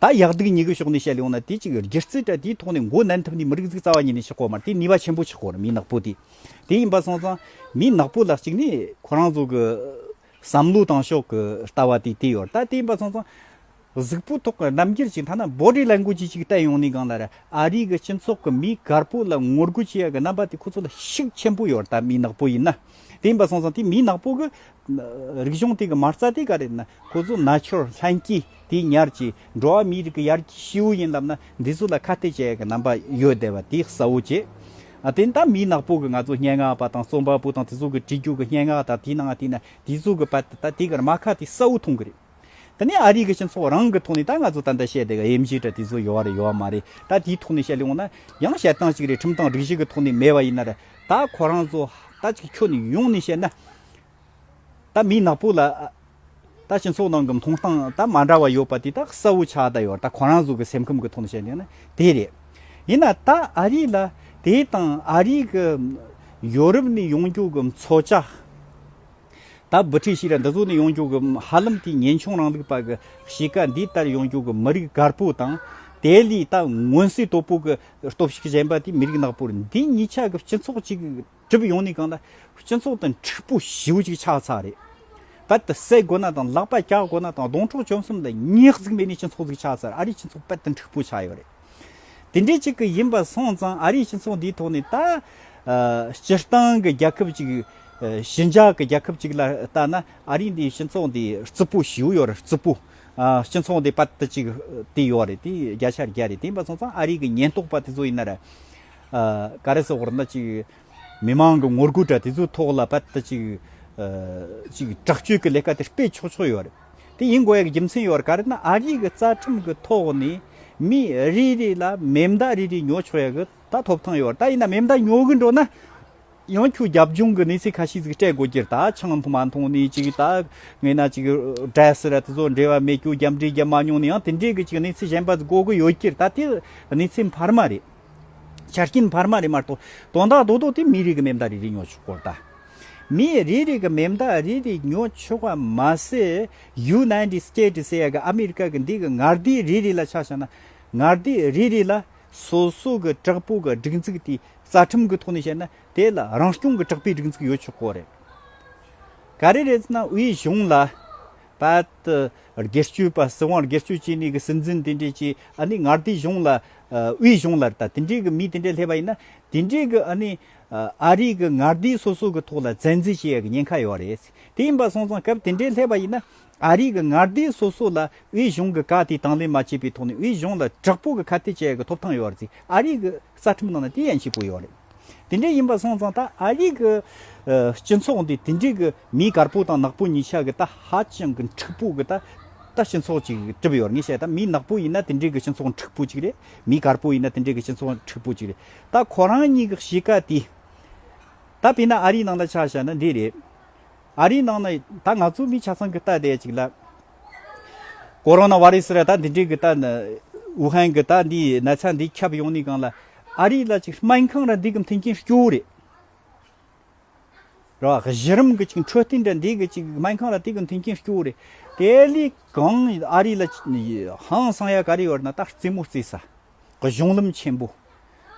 ད་ཡག་སྡུག་གཉིས་ཀའི་ཕྱོགས་ནས་བཤད་ཡོང་ན་དེ་ཅིག་རྒྱུ་རྩིས་དྲ་དེའི་ཐོག་ནས་མགོ་མནན་ཐུབ་ནས་མི་རིགས་གཟུགས་རྩ་བ་ཉིད་ནས་ཆགས་གོ་མར་དེ་ནུས་པ་ཆེན་པོ་ཆགས་གོ་མི་ནག་པོ་དེ་དེ་ཡིན་པ་སོང་ཙང་མི་ནག་པོ་ལ་གཅིག་ནས་ཁོ་རང་ཚོ་གི་བསམ་བློ་དང་ཕྱོགས་གི་ལྟ་བ་དེ་དེ་ཡོད་ད་དེ་ཡིན་པ་སོང་ཙང་གཟུགས་པོ་ཐོག་གི་རྣམ་འགྱུར་གཅིག་ཐ་ན་འབོ་རའི་ལས་འགུལ་གྱི་ཅིག་བལྟས་ཡོང་ནས་གང་ལ་ར་ཨ་རིའི་གི་སྤྱི་ཚོགས་གི་མི་དཀར་པོ་ལ་ངོ་རྒོལ་བྱེད་ཡག་གི་རྣམ་པ་དེ་ཁོ་ཚོ་ལ་ཤུགས་ཆེན་པོ་ཡོད་ད་མི་ནག་པོ་ཡིན་ན། དེ་ཡིན་པ་སོང་ཙང་དེ་མི་ནག་པོ་གི་རིག་གཞུང་སྟེ་གི་མ་རྩ་དེ་ག་རེད་ན་ཁོ་ཚོ་ནཱ་ཆོར་ལྷན་སྐྱེས་དེ་ཉར་གྱི་འགྲོ་བ་མིའི་རིགས་ཀྱི་ཡར་གྱི་ཤེའུ་ཡིན་ལབ་ན་འདི་ཚོ་ལ་ཁ་གཏད་བྱེད་ཡག་གི་རྣམ་པ་ཡོད་བསྡད་པ་དེ་གསལ་བོ་བྱེད། དེ་ནི་ད་མི་ནག་པོ་གི་ང་ཚོ་སྙན་ངག་པ་དང་རྩོམ་པ་པོ་དང་དེ་ཚོ་གི་བྲིས་རྒྱུག་གི་སྙན་ངག་དང་དེ་ནང་དེ་ན་དེ་ཚོ་གི་པ་དེ་ག་རེད་མ་ཁ་དེ་གསལ་བོ་མཐོང་གི་རེད། ད་ནི་ཨ་རིའི་གི་སྤྱི་ཚོགས་རང་གི་ཐོག་ནས་ད་ང་ཚོ་ད་ལྟ་བཤད་དེ་ག་ཡེམ་བཞི་དྲ་དེ་ཚོ་ཡོད་རེད་ཡོད་མ་རེད་ད་དེའི་ཐོག་ནས་བཤད་ལེའོ་ན་ཡང་བཤད་སྟངས་གཅིག་རེད་ཁྲིམས་སྟངས་སྒྲིག་གཞི་གི་ཐོག་ནས་མེད་པ་ཡིན་ན་རེད་ད་ཁོ་རང་ཚོ་ད་ཅིག་ཁྱོ་ནས་ཡོང་ནས་བཤད་ན་ད་མི་ནག་པོ་ལ་ད་སྤྱི་ཚོགས་ནང་གི་མཐོང་སྟངས་ད་མ་འདྲ་བ་ཡོད་པ་དེ་ད་གསལ་བོ་ཆགས་ད་ཡོད་རེད་ད་ཁོ་རང་ཚོ་གི་སེམས་ཁམས་གི་ཐོག་ནས་བཤད་ལེའོ་ན་དེ་རེད་ཡིན་ན་ད་ཨ་རི་ལ་དེ་དང་ཨ་རིའི་གི་ཡོ་རུབ་ནས་ཡོང་རྒྱུ་གི་མཚོ་བྱ། ད་འབུ་ཁྲིད་ཞིག་ལ་འདི་ཚོ་ནི་ཡོང་རྒྱུག་གི་ཧ་ལམ་དེའི་ངན་ཆུང་རང་ལུགས་པ་གི་གཤིས་ཀ་འདི་ལྟར་ཡོང་རྒྱུག་གི་མི་རིགས་དཀར་པོ་དང། དེ་ལས་ད་སྔོན་སྲིད་དོ་པོ་གི་སྟོབས་ཤུགས་ཞན་པ་དེ་མི་རིགས་ནག་པོར་འདི་གཉིས་ཆ་གི་སྤྱི་ཚོགས་ཅིག་གྲུབ་ཡོང་ནི་གང་ལ། སྤྱི་ཚོགས་དང་འཁྲིག་པོ་ཞེའུ་ཅིག་ཆགས་ཚར་རེད། ད་དེ་བསད་དགོས་ན་དང་ལག་པ་བཀྱག་དགོས་ན་དང་སྡོང་ཕྲོག་བཅོམ་གསུམ་ལ་ཉེག་གཟིགས་མེད་ནི་སྤྱི་ཚོགས་ཅིག་ཆགས་ཚར་ཨ་རིའི་སྤྱི་ཚོགས་དཔལ་དང་འཁྲིག་པོ་ཆགས་ཡོད་རེད། དེ་འདྲའི་ཅིག་གི་ཡིན་པ་སོང་ཙང་ཨ་རིའི་སྤྱི་ཚོགས་འདིའི་ཐོག་ནས་ད། སྤྱིར་བཏང་གི་རྒྱལ་ཁབ་ཅིག། ཞི་འཇགས་ཀྱི་རྒྱལ་ཁབ་ཅིག་ལ་ལྟ་ན་ཨ་རིའི་འདིའི་སྤྱི་ཚོགས་འདི་རྩི་པོ་ཞིའུ་ཡོད་རེད་རྩི་པོ། སྤྱི་ཚོགས་འདི་པད་ཅིག་དེ་ཡོད་རེད་དེ་རྒྱ་ཆ་རྒྱ་རེད་དེ་ཡིན་པ་སོང་ཙང་ཨ་རིའི་གི་ཉེན་རྟོག་པ་དེ་ཚོ་ཡིན་ན་ར། ག་རེ་ཟེར་བར་ན་ཅིག། མི་མང་གི་ངོ་རྒོལ་འདྲ་དེ་ཚོའི་ཐོག་ལ་པད་ཅིག། ཅིག་དྲག་སྤྱོད་ཀྱི་ལས་ཀ་དེ་སྤེལ་ཆོག་ཆོག་ཡོད་རེད། དེ་ཡིན་དགོས་ཡག་རྒྱུ་མཚན་ཡོད་ག་རེད་ན་ཨ་རིག་གི་རྩ་ཁྲིམས་གི་ཐོག་ནས་མི་རེ་རེ་ལ་མེ་མདའ་རེ་རེ་ཉོ་ཆོག་ཡག་གི་ད་ཐོབ་ཐང་ཡོད་ད་ཡིན་ན་མེ་མདའ་ཉོ་གི་འགྲོ་ན་ཡང་ཁྱོད་རྒྱབ་ལྗོངས་གི་གནས་ཚུལ་ཁ་ཤས་ཟིག་སྤྲད་དགོས་ཀྱི་ད་ཆང་མཐོང་མ་མཐོང་ནས་ཅིག་ད་ངེས་ན་ཅིག་བྲེས་ར་དེ་ཚོ་འབྲེལ་བ་མེད་ཁྱོད་རྒྱབ་འབྲེལ་རྒྱབ་མ་མྱོང་ནས་ཡང་དེ་འདྲའི་གི་ཅིག་གནས་ཚུལ་གཞན་པ་ཟིག་གོ་གི་ཡོད་ཀྱི་ད་དེ་གནས་ཚུལ་འཕར་མ་རེད་ཆ་རྐྱེན་འཕར་མ་རེད་མ་གཏོགས་དོན་དག་རྡོག་རྡོག་དེ་མི་རིགས་གི་མེ་མདའ་རེ་རེ་ཉོ་ཆོག་གོ་ད། མི་རིགས་རིགས་མི་མཐའ་རིགས་རིགས་ཉོ་ཆོག་པ་མ་ཟད་ཡུ་ནའི་ཏི་སི་ཏེ་ཏིས་ཡ་གི་ཨ་མི་རི་ཀ་གི་འདི་གི་ངར་དིའི་རིགས་རིགས་ལ་ཆ་བཞག་ན་ངར་དིའི་རིགས་རིགས་ལ་སོ་སོ་གི་དྲག་པོ་གི་སྒྲིག་འཛུགས་དེའི་རྩ་ཁྲིམས་གི་ཐོག་ནས་བཤད་ན་དེ་ལ་རང་སྐྱོང་གི་དྲག་པོའི་སྒྲིག་འཛུགས་ཡོད་ཆོག་གོ་རེད། ག་རེ་རེད་ཟེར་ན་དབུས་གཞུང་ལ་བལྟ། སྒེར་གཅོད་པ་སྲིད་དབང་སྒེར་གཅོད་བྱས་ནས་གི་སྲིད་འཛིན་དེ་འདྲས་ཀྱི་ཨ་ནི་ངར་དིའི་གཞུང་ལ་དབུས་གཞུང་ལ་བལྟ་དེ་འདྲས་གི་མི་དེ་འདྲས་སླེབས་པ་ཡིན་ན་དེ་འདྲས་གི་ཨ་ནི་ཨ་རིག་གི་ངར་སྡེའི་སོ་སོ་གི་ཐོག་ལ་བཙན་འཛུལ་བྱེད་ཡག་གི་ཉེན་ཁ་ཡོད་རེད། དེ་ཡིན་པ་སོང་ཙང་སྐབས་དེ་འདྲའི་ལྷད་པ་ཡིན་ན། ཨ་རིག་གི་ངར་སྡེའི་སོ་སོ་ལ་དབུས་གཞུང་གི་བཀའ་དེ་དང་ལེན་མ་བྱས་པའི་ཐོག་ནས་དབུས་གཞུང་ལ་དྲག་པོ་གི་ཁ་གཏད་བྱེད་ཡག་གི་ཐོབ་ཐང་ཡོད་རེད། ཨ་རིག་གི་རྩ་ཁྲིམས་ནང་ན་དེ་ཡན་ཆད་བཀོད་ཡོད་རེད། དེ་འདྲའི་ཡིན་པ་སོང་ཙང་ད་ཨ་རིག་གི་སྤྱི་ཚོགས་འདི་དེ་འདྲའི་གི་མིའི་དཀར་པོ་དང་ནག་པོ་གཉིས་ཆ་གི་ད་ཧ་ཅང་གི་འཁྲིག་པོ་གི་ད་ད་སྤྱི་ཚོགས་ཅིག་གྲུབ་ཡོད་རེད་ངས་བཤད་ད་མིའི་ནག་པོ་ཡིན་ན་དེ་འདྲའི་གི་སྤྱི་ཚོགས་འཁྲིག་པོ་ཅིག་རེད་མིའི་དཀར་པོ་ཡིན་ན་དེ་འདྲའི་གི་སྤྱི་ཚོགས་འཁྲིག་པོ་ཅིག་རེད། ད་ཁོ་རང་གཉིས་ཀྱི་གཤིས་ཀ་དེ། ད་དཔེར་ན་ཨ་རིའི་ནང་ལ་ཆ་བཞག་ན་འདི་རེད། ཨ་རིའི་ནང་ན་ད་ང་ཚོ་མི་ཆ་ཚང་གི་རྟ་བསྡད་ཅིག་ལ། ཁོ་རང་ན་བ་རེས་ར་ད་འདི་འདྲའི་གི་རྟ། ཝུ་ཧན་གྱི་རྟ་འདི་ན་ཚ་འདི་ཁྱབ་ཡོང་ནས་གང་ལ། ཨ་རིའི་ལ་ཅིག་སྨན་ཁང་ར་འདི་གི་མཐུན་རྐྱེན་སྐྱོ་བོ་རེད། ར་བ་གཞི་རིམ་གྱི་ཅིག་འཕྲོད་བསྟེན་ར་འདི་གི་ཅིག་སྨན་ཁང་ར་དེ་གི་མཐུན་རྐྱེན་སྐྱོ་བོ་རེད། དེ་ལས་གང་ཨ་རིའི་ལ་ཧང་སང་ཡ་ག་རེ་ཡོད་ན་ད་རྩེད་མོ་རྩེས་ས། གི་གཞུང་ལམ་ཆེན་པོ།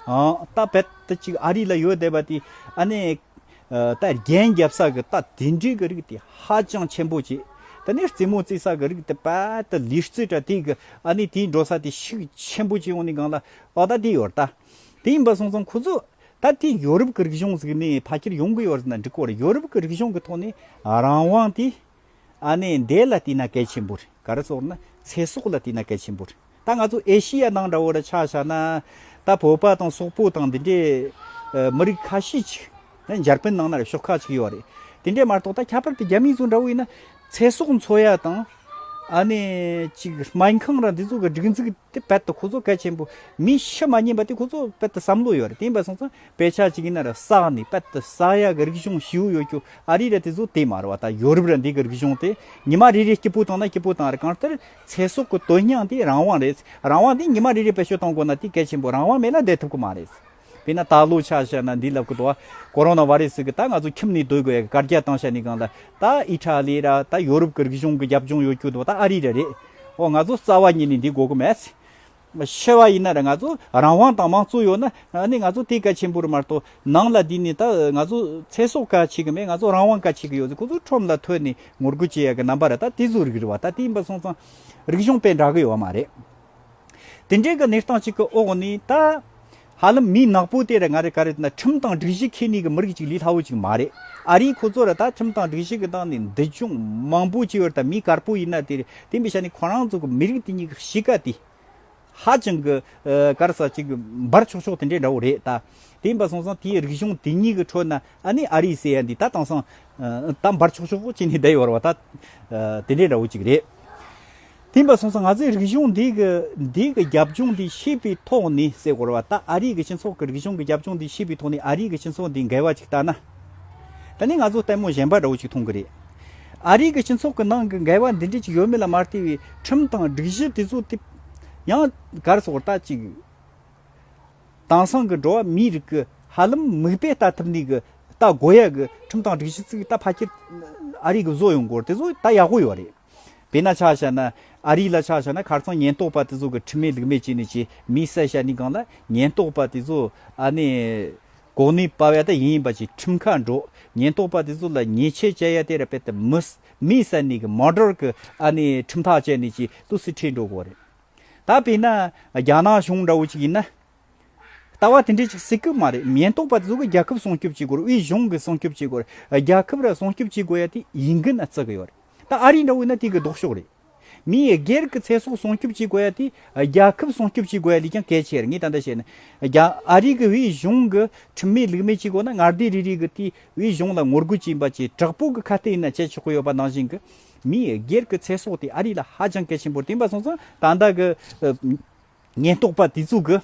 རྟ་བེད་དུ་ཅིག་ཨ་རི་ལ་ཡོད་བསྡད་པ་དེ། ཨ་ནི། རྟ་རྒྱན་རྒྱབ་ས་གི་རྟ་དེ་འདྲའི་གི་རིགས་དེ་ཧ་ཅང་ཆེན་པོ་བྱེད། དེ་ནས་རྩེ་མོ་རྩེ་ས་གི་རིགས་དེ་བེད་དུ་ལི་རྩེ་དྲ་དེ་གི་ཨ་ནི་དེའི་འགྲོ་ས་དེ་ཤུགས་ཆེན་པོ་བྱེད་འོང་ནི་གང་ལ་ཨོ་ད་དེ་ཡོད་རྟ། དེ་ཡིན་པ་སོང་ཙང་ཁོ་ཚོ། ད་དེ་ཡོ་རུབ་གི་རིག་གཞུང་ཟིག་ནི་ཕ་ཁྱེར་ཡོང་གི་ཡོད་ཟེར་ན་འགྲིག་གོ་རེ་ཡོ་རུབ་གི་རིག་གཞུང་གི་ཐོག་ནས་རང་དབང་དེ། ཨ་ནེ་འདས་ལ་བལྟས་ན་གལ་ཆེན་པོ་རེད་ག་རེ་སོགས་ནི་ཚེ་སྲོག་ལ་བལྟས་ན་གལ་ཆེན་པོ་རེད་ད་ང་ཚོ་ཨེ་ཤི་ཡ་ནང་འདྲ་བོ་རུ་ཆགས་བཞག་ན་ད་བོད་པ་དང་སོག་པོ་དང་དེ་འདྲའི་མི་རིགས་ཁ་ཤས་ཅིག་ནི་འཇར་པན་ནང་ན་རེ་ཤོག་ཁག་ཅིག་ཡོད་རེད་དེ་འདྲས་མ་གཏོགས་ད་ཁྱད་པར་དུ་རྒྱ་མི་ཚོ་འདྲ་བོ་ཡིན་ན་ཚེ་སྲོག་འཚོ་ཡ་དང་ཨ་ནེ་ཅིག་སྨན་ཁང་ར་འདི་ཚོ་གི་སྒྲིག་འཛུགས་དེ་རྦད་དུ་ཁོ་ཚོ་གལ་ཆེན་པོ་མི་ཤི་མ་ཉེན་པ་དེ་ཁོ་ཚོ་རྦད་དུ་བསམ་བློ་ཡོད་རེད་དེ་ཡིན་པ་སོང་ཙང་དཔེ་ཆ་གཅིག་ཡིན་ན་ར་ས་ག་ནི་དཔལ་དུ་ས་ཡ་གི་རིག་གཞུང་ཞིའུ་ཡོད་ཀྱུ་ཨ་རི་ར་དེ་ཚོ་དེ་མ་ར་བ་ད་ཡོ་རུབ་ར་འདི་གི་རིག་གཞུང་དེ་ཉི་མ་རེ་རེ་སྐྱིད་པོ་དང་ན་སྐྱིད་པོ་དང་ར་གང་ལྟར་ཚེ་སྲོག་གི་དོན་སྙིང་དེ་རང་དབང་རེད་རང་དབང་དེ་ཉི་མ་རེ་རེ་བེད་སྤྱོད་གཏོང་དགོས་ན་དེ་གལ་ཆེན་པོ་རང་དབང་མེད་ན་བསྡད་ཐུབ་ཀི་མ་རེད་དཔེར་ན་ད་ལོ་ཆ་བཞག་ན་འདི་ལབ་ཀི་འདུག་གོ་རོ་ན་བ་རེ་སི་གི་ད་ང་ཚོ་ཁྱིམ་ནས་སྡོད་དགོས་ཡ་གི་བཀར་རྒྱ་བཏང་ཤ་ནི་གང་ལ་ད་ཨི་ཏྲ་ལི་ར་ད་ཡོ་རུབ་གི་རིག་གཞུང་གི་རྒྱབ་ལྗོངས་ཡོད་ཀྱུ་འདུག་ད་ཨ་རི་ར་རེད་འོ་ང་ཚོ་རྩ་བ་ཉིད་ནས་འདི་དགོས་ཀི་མེད། ཆེ་བ་ཡིན་ན་རེ་ང་ཚོ་རང་དབང་དང་མང་གཙོ་ཡོད་ན་ནི་ང་ཚོ་དེ་གལ་ཆེན་པོ་རེད་མ་གཏོགས་ནང་ལ་དེ་ནི་ད་ང་ཚོ་ཚེ་སྲོག་ག་བྱེད་ཀྱི་མེད་ང་ཚོ་རང་དབང་ག་བྱེད་ཀྱི་ཡོད་ཟེར་ཁོ་ཚོ་ཁྲོམ་ལ་ཐོན་ནས་ངོ་རྒོལ་བྱེད་ཡག་གི་རྣམ་པ་རེད་ད་དེ་ཚོ་རིགས་རེད་བ་ད་དེ་ཡིན་པ་སོང་ཙང་རིག་གཞུང་དཔེ་འདྲ་གི་ཡོད་མ་རེད། དེ་འདྲའི་གི་གནས་སྟངས་ཅིག་གི་འོག་ནས་ད། ཧ་ལམ་མི་ནག་པོ་དེ་རེད་ང་རེད་ག་རེད་ན་ཁྲིམས་དང་སྒྲིག་གཞི་ཁས་ནུས་ཀྱི་མི་རིགས་ཅིག་ལས་སླ་བོ་ཅིག་མ་རེད་ཨ་རིའི་ཁོ་ཚོ་ར་ད་ཁྲིམས་དང་སྒྲིག་གཞི་གི་སྟངས་ནས་འདི་ཅུང་མང་པོ་ཅིག་ཡོད་རེད་ད་མི་དཀར་པོ་ཡིན་ན་དེ་རེད་དེ་མི་ཤ་ནི་ཁོ་རང་ཚོ་གི་མི་རིགས་དེ་གཉིས་ཀྱི་གཤིས་ཀ་དེ་ཧ་ཅང་གི་དཀར་ས་ཅིག་འབར་ཆོག་ཆོག་དེ་འདྲས་འདྲ་བོ་རེད་ད་དེ་ཡིན་པ་སོང་ཙང་དེའི་རིག་གཞུང་དེ་གཉིས་ཀྱི་ཁྲོད་ན་ཨ་ནི་ཨ་རིའི་སའི་ཡ་འདི་ད་དེང་སང་ད་འབར་ཆོག་ཆོག་ཅིག་ནས་བསྡད་ཡོད་རེད་བ་ད་དེ་འདྲས་འདྲ་བོ་ཅིག་རེད། དེ་འབའ་སོང་ཚེ་ང་ཚོའི་རིག་གཞུང་འདི་གི་འདི་གི་རྒྱབ་ལྗོངས་འདི་ཤེས་པའི་ཐོག་ནས་གསལ་བོར་བ་ད་ཨ་རིའི་གི་སྤྱི་ཚོགས་ཀྱི་རིག་གཞུང་གི་རྒྱབ་ལྗོངས་འདི་ཤེས་པའི་ཐོག་ནས་ཨ་རིའི་གི་སྤྱི་ཚོགས་འདི་འགལ་བ་ཅིག་བལྟ་ན། ད་ནི་ང་ཚོ་ལྟད་མོ་གཞན་པ་འདྲ་བོ་ཅིག་མཐོང་གི་རེད། ཨ་རིའི་གི་སྤྱི་ཚོགས་ཀྱི་ནང་གི་འགལ་བ་འདི་འདྲ་ཅིག་ཡོད་མེད་ལ་མ་ལྟོས་བའི་ཁྲིམས་དང་སྒྲིག་གཞི་དེ་ཚོ་དེ། ཡང་གར་སོགས་ལྟ་ཅིག། དེང་སང་གི་འགྲོ་བ་མིའི་རིགས་ཀྱི་ཧ་ལམ་མིག་དཔེ་ལྟ་ཐུབ་ནུས་ཀྱི་ལྟ་དགོས་ཡ་གི་ཁྲིམས་དང་སྒྲིག་གཞི་ཚིག་ལྟ་ཕ་ཁྱེར། ཨ་རིའི་གི་བཟོ་ཡོང་སྐོར་དེ་ཚོ་ལྟ་ཡག་པོ་ཡོད་རེད། བས་ན་ཆ་བྱ་ན། ཨ་རིག་ལ་ཆ་བྱ་ན་གར་ཚང་ཉེན་རྟོག་པ་དེ་ཚོ་གི་ཁྲི་མེད་ལུག་མེད་ཅིག་ནི་ཅི་མི་གསལ་ཤ་ནི་གང་ལ་ཉེན་རྟོག་པ་དེ་ཚོ་ཨ་ནི། གོག་ནུས་པ་བས་ད་ཡིན་ཡིན་པ་ཅིག་ཁྲིམས་ཁ་འགྲོ། ཉེན་རྟོག་པ་དེ་ཚོ་ལ་ཉེས་ཆད་བཅད་ཡ་དེ་ར་བས་ད་མི། མི་གསལ་ནི་གི་མ་འགྲོར་གི་ཨ་ནི་ཁྲིམས་ཐག་བཅད་ནི་ཅི་ཏུ་སི་ཁྲིད་འགྲོ་གོ་རེད། ད་བས་ན། རྒྱ་ནག་གཞུང་འདྲ་བོ་ཅིག་ཡིན་ན། ལྟ་བ་དེ་འདྲས་ཅིག་སྲིད་གི་མ་རེད་ཉེན་རྟོག་པ་དེ་ཚོ་གི་རྒྱལ་ཁབ་སྲུང་སྐྱོབ་བྱེད་དགོས་རུ་དབུས་གཞུང་གི་སྲུང་སྐྱོབ་བྱེད་དགོས་རུ་རྒྱལ་ཁབ་ར་སྲུང་སྐྱོབ་བྱེད་དགོས་ཡ་དེ་ཡིན་གི་ན་བརྩི་གི་ཡོད་རེད། ད་ཨ་རི་འདྲ་བོ་ཡིན་ན་དེ་གི་ལྡོག་ཕྱོགས་རེད། མི་ཡི་སྒེར་གི་ཚེ་སྲོག་སྲུང་སྐྱོབ་བྱེད་དགོས་ཡ་དེ་རྒྱ་ཁབ་སྲུང་སྐྱོབ་བྱེད་དགོས་ཡ་ལས་ཀྱང་གལ་ཆེར་ངས་ད་ལྟ་བཤད་ན། རྒྱ་ཨ་རི་གི་བོད་གཞུང་གི་ཁྲིམས་མེད་ལུགས་མེད་བྱེད་དགོས་ན་ངར་སྡེ་རེ་རེ་གི་དེ་བོད་གཞུང་ལ་ངོ་རྒོལ་བྱེད་པ་བཅས་དྲག་པོ་གི་ཁ་གཏད་ཡིན་ན་བྱེད་ཆོག་གི་ཡོད་པ་ནང་བཞིན་གི། མི་ཡི་སྒེར་གི་ཚེ་སྲོག་དེ་ཨ་རི་ལ་ཧ་ཅང་གལ་ཆེན་པོ་རེད་དེ་འབའ་སོང་ཙང་ད་ལྟ་གི། ཉེན་རྟོག་པ་དེ་ཚོ་གི་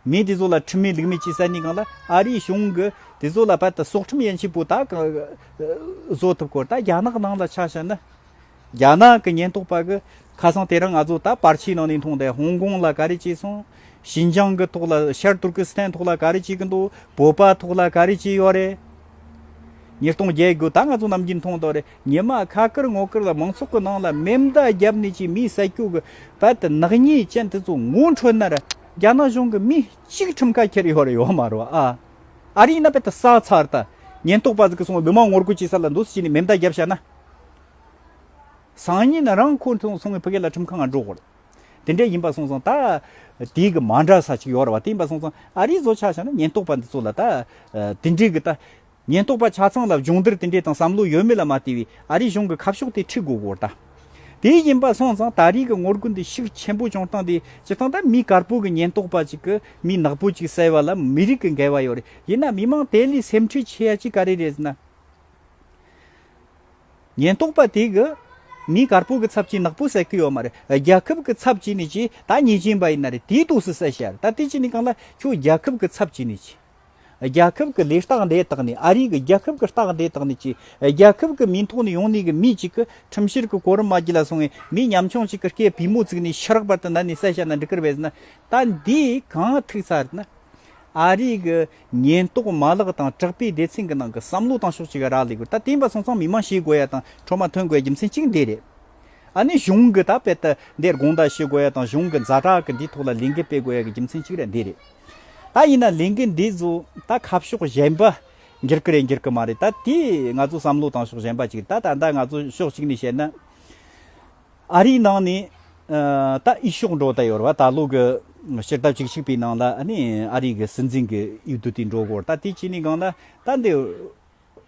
མི་དེ་ཚོ་ལ་ཁྲིམས་མེད་ལུགས་མེད་ཅེས་ཟེར་ནི་གང་ལ་ཨ་རིའི་གཞུང་གི་དེ་ཚོ་ལ་བལ་ཏི་སྲོག་ཁྲིམས་ཡན་ཆད་པོ་ད་གང་བཟོ་ཐུབ་སྐོར་ད་རྒྱ་ནག་ནང་ལ་ཆ་བཞག་ན་རྒྱ་ནག་གི་ཉེན་རྟོག་པ་གི་ཁ་སང་དེ་རིང་ང་ཚོ་ད་པར་ཆིའི་ནང་ནས་མཐོང་དེ་ཧོང་ཀོང་ལ་ག་རེ་བྱས་སོང་ཞིན་ཅང་གི་ཐོག་ལ་ཤར་ཏུར་ཀི་སི་ཐན་ཐོག་ལ་ག་རེ་བྱེད་ཀི་འདུག་བོད་པ་ཐོག་ལ་ག་རེ་བྱས་ཡོད་རེད། ཉེས་རྟོག་རྒྱལ་དགོས་ད་ང་ཚོ་ནམ་རྒྱུན་མཐོང་དོགས་རེད། ཉི་མ་ཁ་ཀིར་སྔོ་ཀིར་ལ་མང་ཚོགས་ཀྱི་ནང་ལ་མེ་མདའ་བརྒྱབ་ནས་ཀྱི་མིའི་ས་སྐྱོ་གི་བལ་དུ་ནག་ཉེས་ཅན་དེ་ཚོ་ངོ་འཕྲོད་ན་རྒྱ་ནག་གཞུང་གི་མི་གཅིག་ཁྲིམས་ཁ་ཁྱེར་ཡོད་རེད་ཡོད་མ་རེད་ཨ། ཨ་རིའི་ན་བལ་དུ་ས་ཚར་ད་ཉེན་རྟོག་པ་ཟིག་གིས་འདི་མ་ངོ་རྒོལ་བྱེད་ས་ལ་འདུག་ཟེར་གྱི་ནས་མེ་མདའ་བརྒྱབ་བྱས་ན། སང་ཉིན་རང་ཁོ་ཚོ་སོང་གི་བོད་སྐད་ལ་ཁྲིམས་ཁ་ང་འགྲོ་དགོས་རེད། དེ་འདྲས་ཡིན་པ་སོང་ཙང་ད་དེ་གི་མ་འདྲ་ས་ཅིག་ཡོད་རེད་བ་དེ་ཡིན་པ་སོང་ཙང་ཨ་རིའི་བཟོ་ཆགས་བྱས་ན་ཉེན་རྟོག་པ་འདི་ཚོ་ལ་ད་དེ་འདྲས་གི་ད། ཉེན་རྟོག་པ་ཆ་ཚང་ལ་སྦྱོང་བརྡར་དེ་འདྲའི་དང་བསམ་བློ་ཡོད་མེད་ལ་མ་བལྟས་པའི་ཨ་རིའི་གཞུང་གི་ཁ་ཕྱོགས་དེ་འཁྲིད་དགོས་སྐོར་དང། དེ་ཡིན་པ་སོང་ཙང་ད་རེས་ཀྱི་ངོ་རྒོལ་འདི་ཤུགས་ཆེན་པོ་བྱུང་སྟངས་དེ་སྤྱིར་བཏང་ད་མི་དཀར་པོ་གི་ཉེན་རྟོག་པ་ཅིག་གིས་མི་ནག་པོ་ཅིག་བསད་པ་ལ་མི་རིགས་ཀྱི་འགལ་བ་ཡོད་རེད་ཡིན་ན་མི་མང་དེ་ལས་སེམས་ཁྲལ་བྱེད་ཡ་ཅི་ག་རེ་རེད་ཟེར་ན། ཉེན་རྟོག་པ་དེ་གིས་མི་དཀར་པོ་གི་ཚབ་བྱས་ནག་པོ་བསད་ཀྱི་ཡོད་མ་རེད་རྒྱལ་ཁབ་གི་ཚབ་བྱས་ནས་ཅི་ད་ཉེས་ཅན་པ་ཡིན་ན་རེད་དེའི་དུས་སུ་བསད་བྱས་ཡ་རེད་ད་དེ་བྱས་ནས་གང་ལ་ཁྱོད་རྒྱལ་ཁབ་གི་ཚབ་བྱས་ནས་ཅི། རྒྱལ་ཁབ་ཀྱི་ལས་རྟགས་འདེད་དག་ནི་ཨ་རིའི་གི་རྒྱལ་ཁབ་ཀྱི་རྟགས་འདེད་དག་ནི་ཅེས་རྒྱལ་ཁབ་ཀྱི་མིང་ཐོག་ནས་ཡོང་ནས་གི་མི་གཅིག་གི་ཁྲིམས་བཤེར་གི་གོ་རིམ་མ་བགྱིས་ལ་སོང་བའི་མི་ཉམ་ཆུང་གཅིག་གི་སྐེ་བུས་མོ་བཙུགས་ནས་ཕྱི་རག་པར་དུ་ན་ནས་གསལ་བཤད་ན་འགྲིག་གིར་བས་ན་ད་འདི་གང་ཐུགས་ཚར་རེད་ན། ཨ་རིའི་གི་ཉེན་རྟོག་མ་ལག་དང་དྲག་པའི་སྡེ་ཚན་གི་ནང་གི་བསམ་བློ་དང་ཕྱོགས་གཅིག་གི་རག་ལས་དགོས་ད་དེ་ཡིན་པ་སོང་ཙང་མི་མང་ཤེས་དགོས་ཡ་དང་འཕྲོ་མ་ཐོན་དགོས་ཡ་རྒྱུ་མཚན་གཅིག་འདི་རེད། ཨ་ནི་གཞུང་གི་ད་དཔལ་ཏི་འདིར་དགོངས་དག་བྱེད་དགོས་ཡ་དང་གཞུང་གི་མཛའ་གྲགས་གི་འདི་ཐོག་ལ་ལས་འགན་སྤེལ་དགོས་ཡ་གི་རྒྱུ་མཚན་གཅིག་ར་འདི་རེད། ད་ཡིན་ན་ལས་འགུལ་འདི་ཚོ་ད་ཁ་ཕྱོགས་གཞན་པ་འགྱུར་གི་རེད་འགྱུར་གི་མ་རེད་ད་དེ་ང་ཚོ་བསམ་བློ་བཏང་ཕྱོགས་གཞན་པ་ཅིག་རེད་ད་ད་ལྟ་ང་ཚོ་ཕྱོགས་གཅིག་ནས་བཤད་ན་ཨ་རིའི་ནང་ནས་ད་དབྱི་ཕྱོགས་འགྲོ་ད་ཡོད་རེད་བ་ད་ལོ་གི་སྤྱིར་བཏབ་ཅིག་ཞིག་པའི་ནང་ལ་ཨ་རིའི་གསོན་འཛིན་གྱི་ཡུལ་དུ་དེ་འགྲོ་དགོས་རེད་ད་དེ་བྱས་ནས་གང་ན་ད་འདི།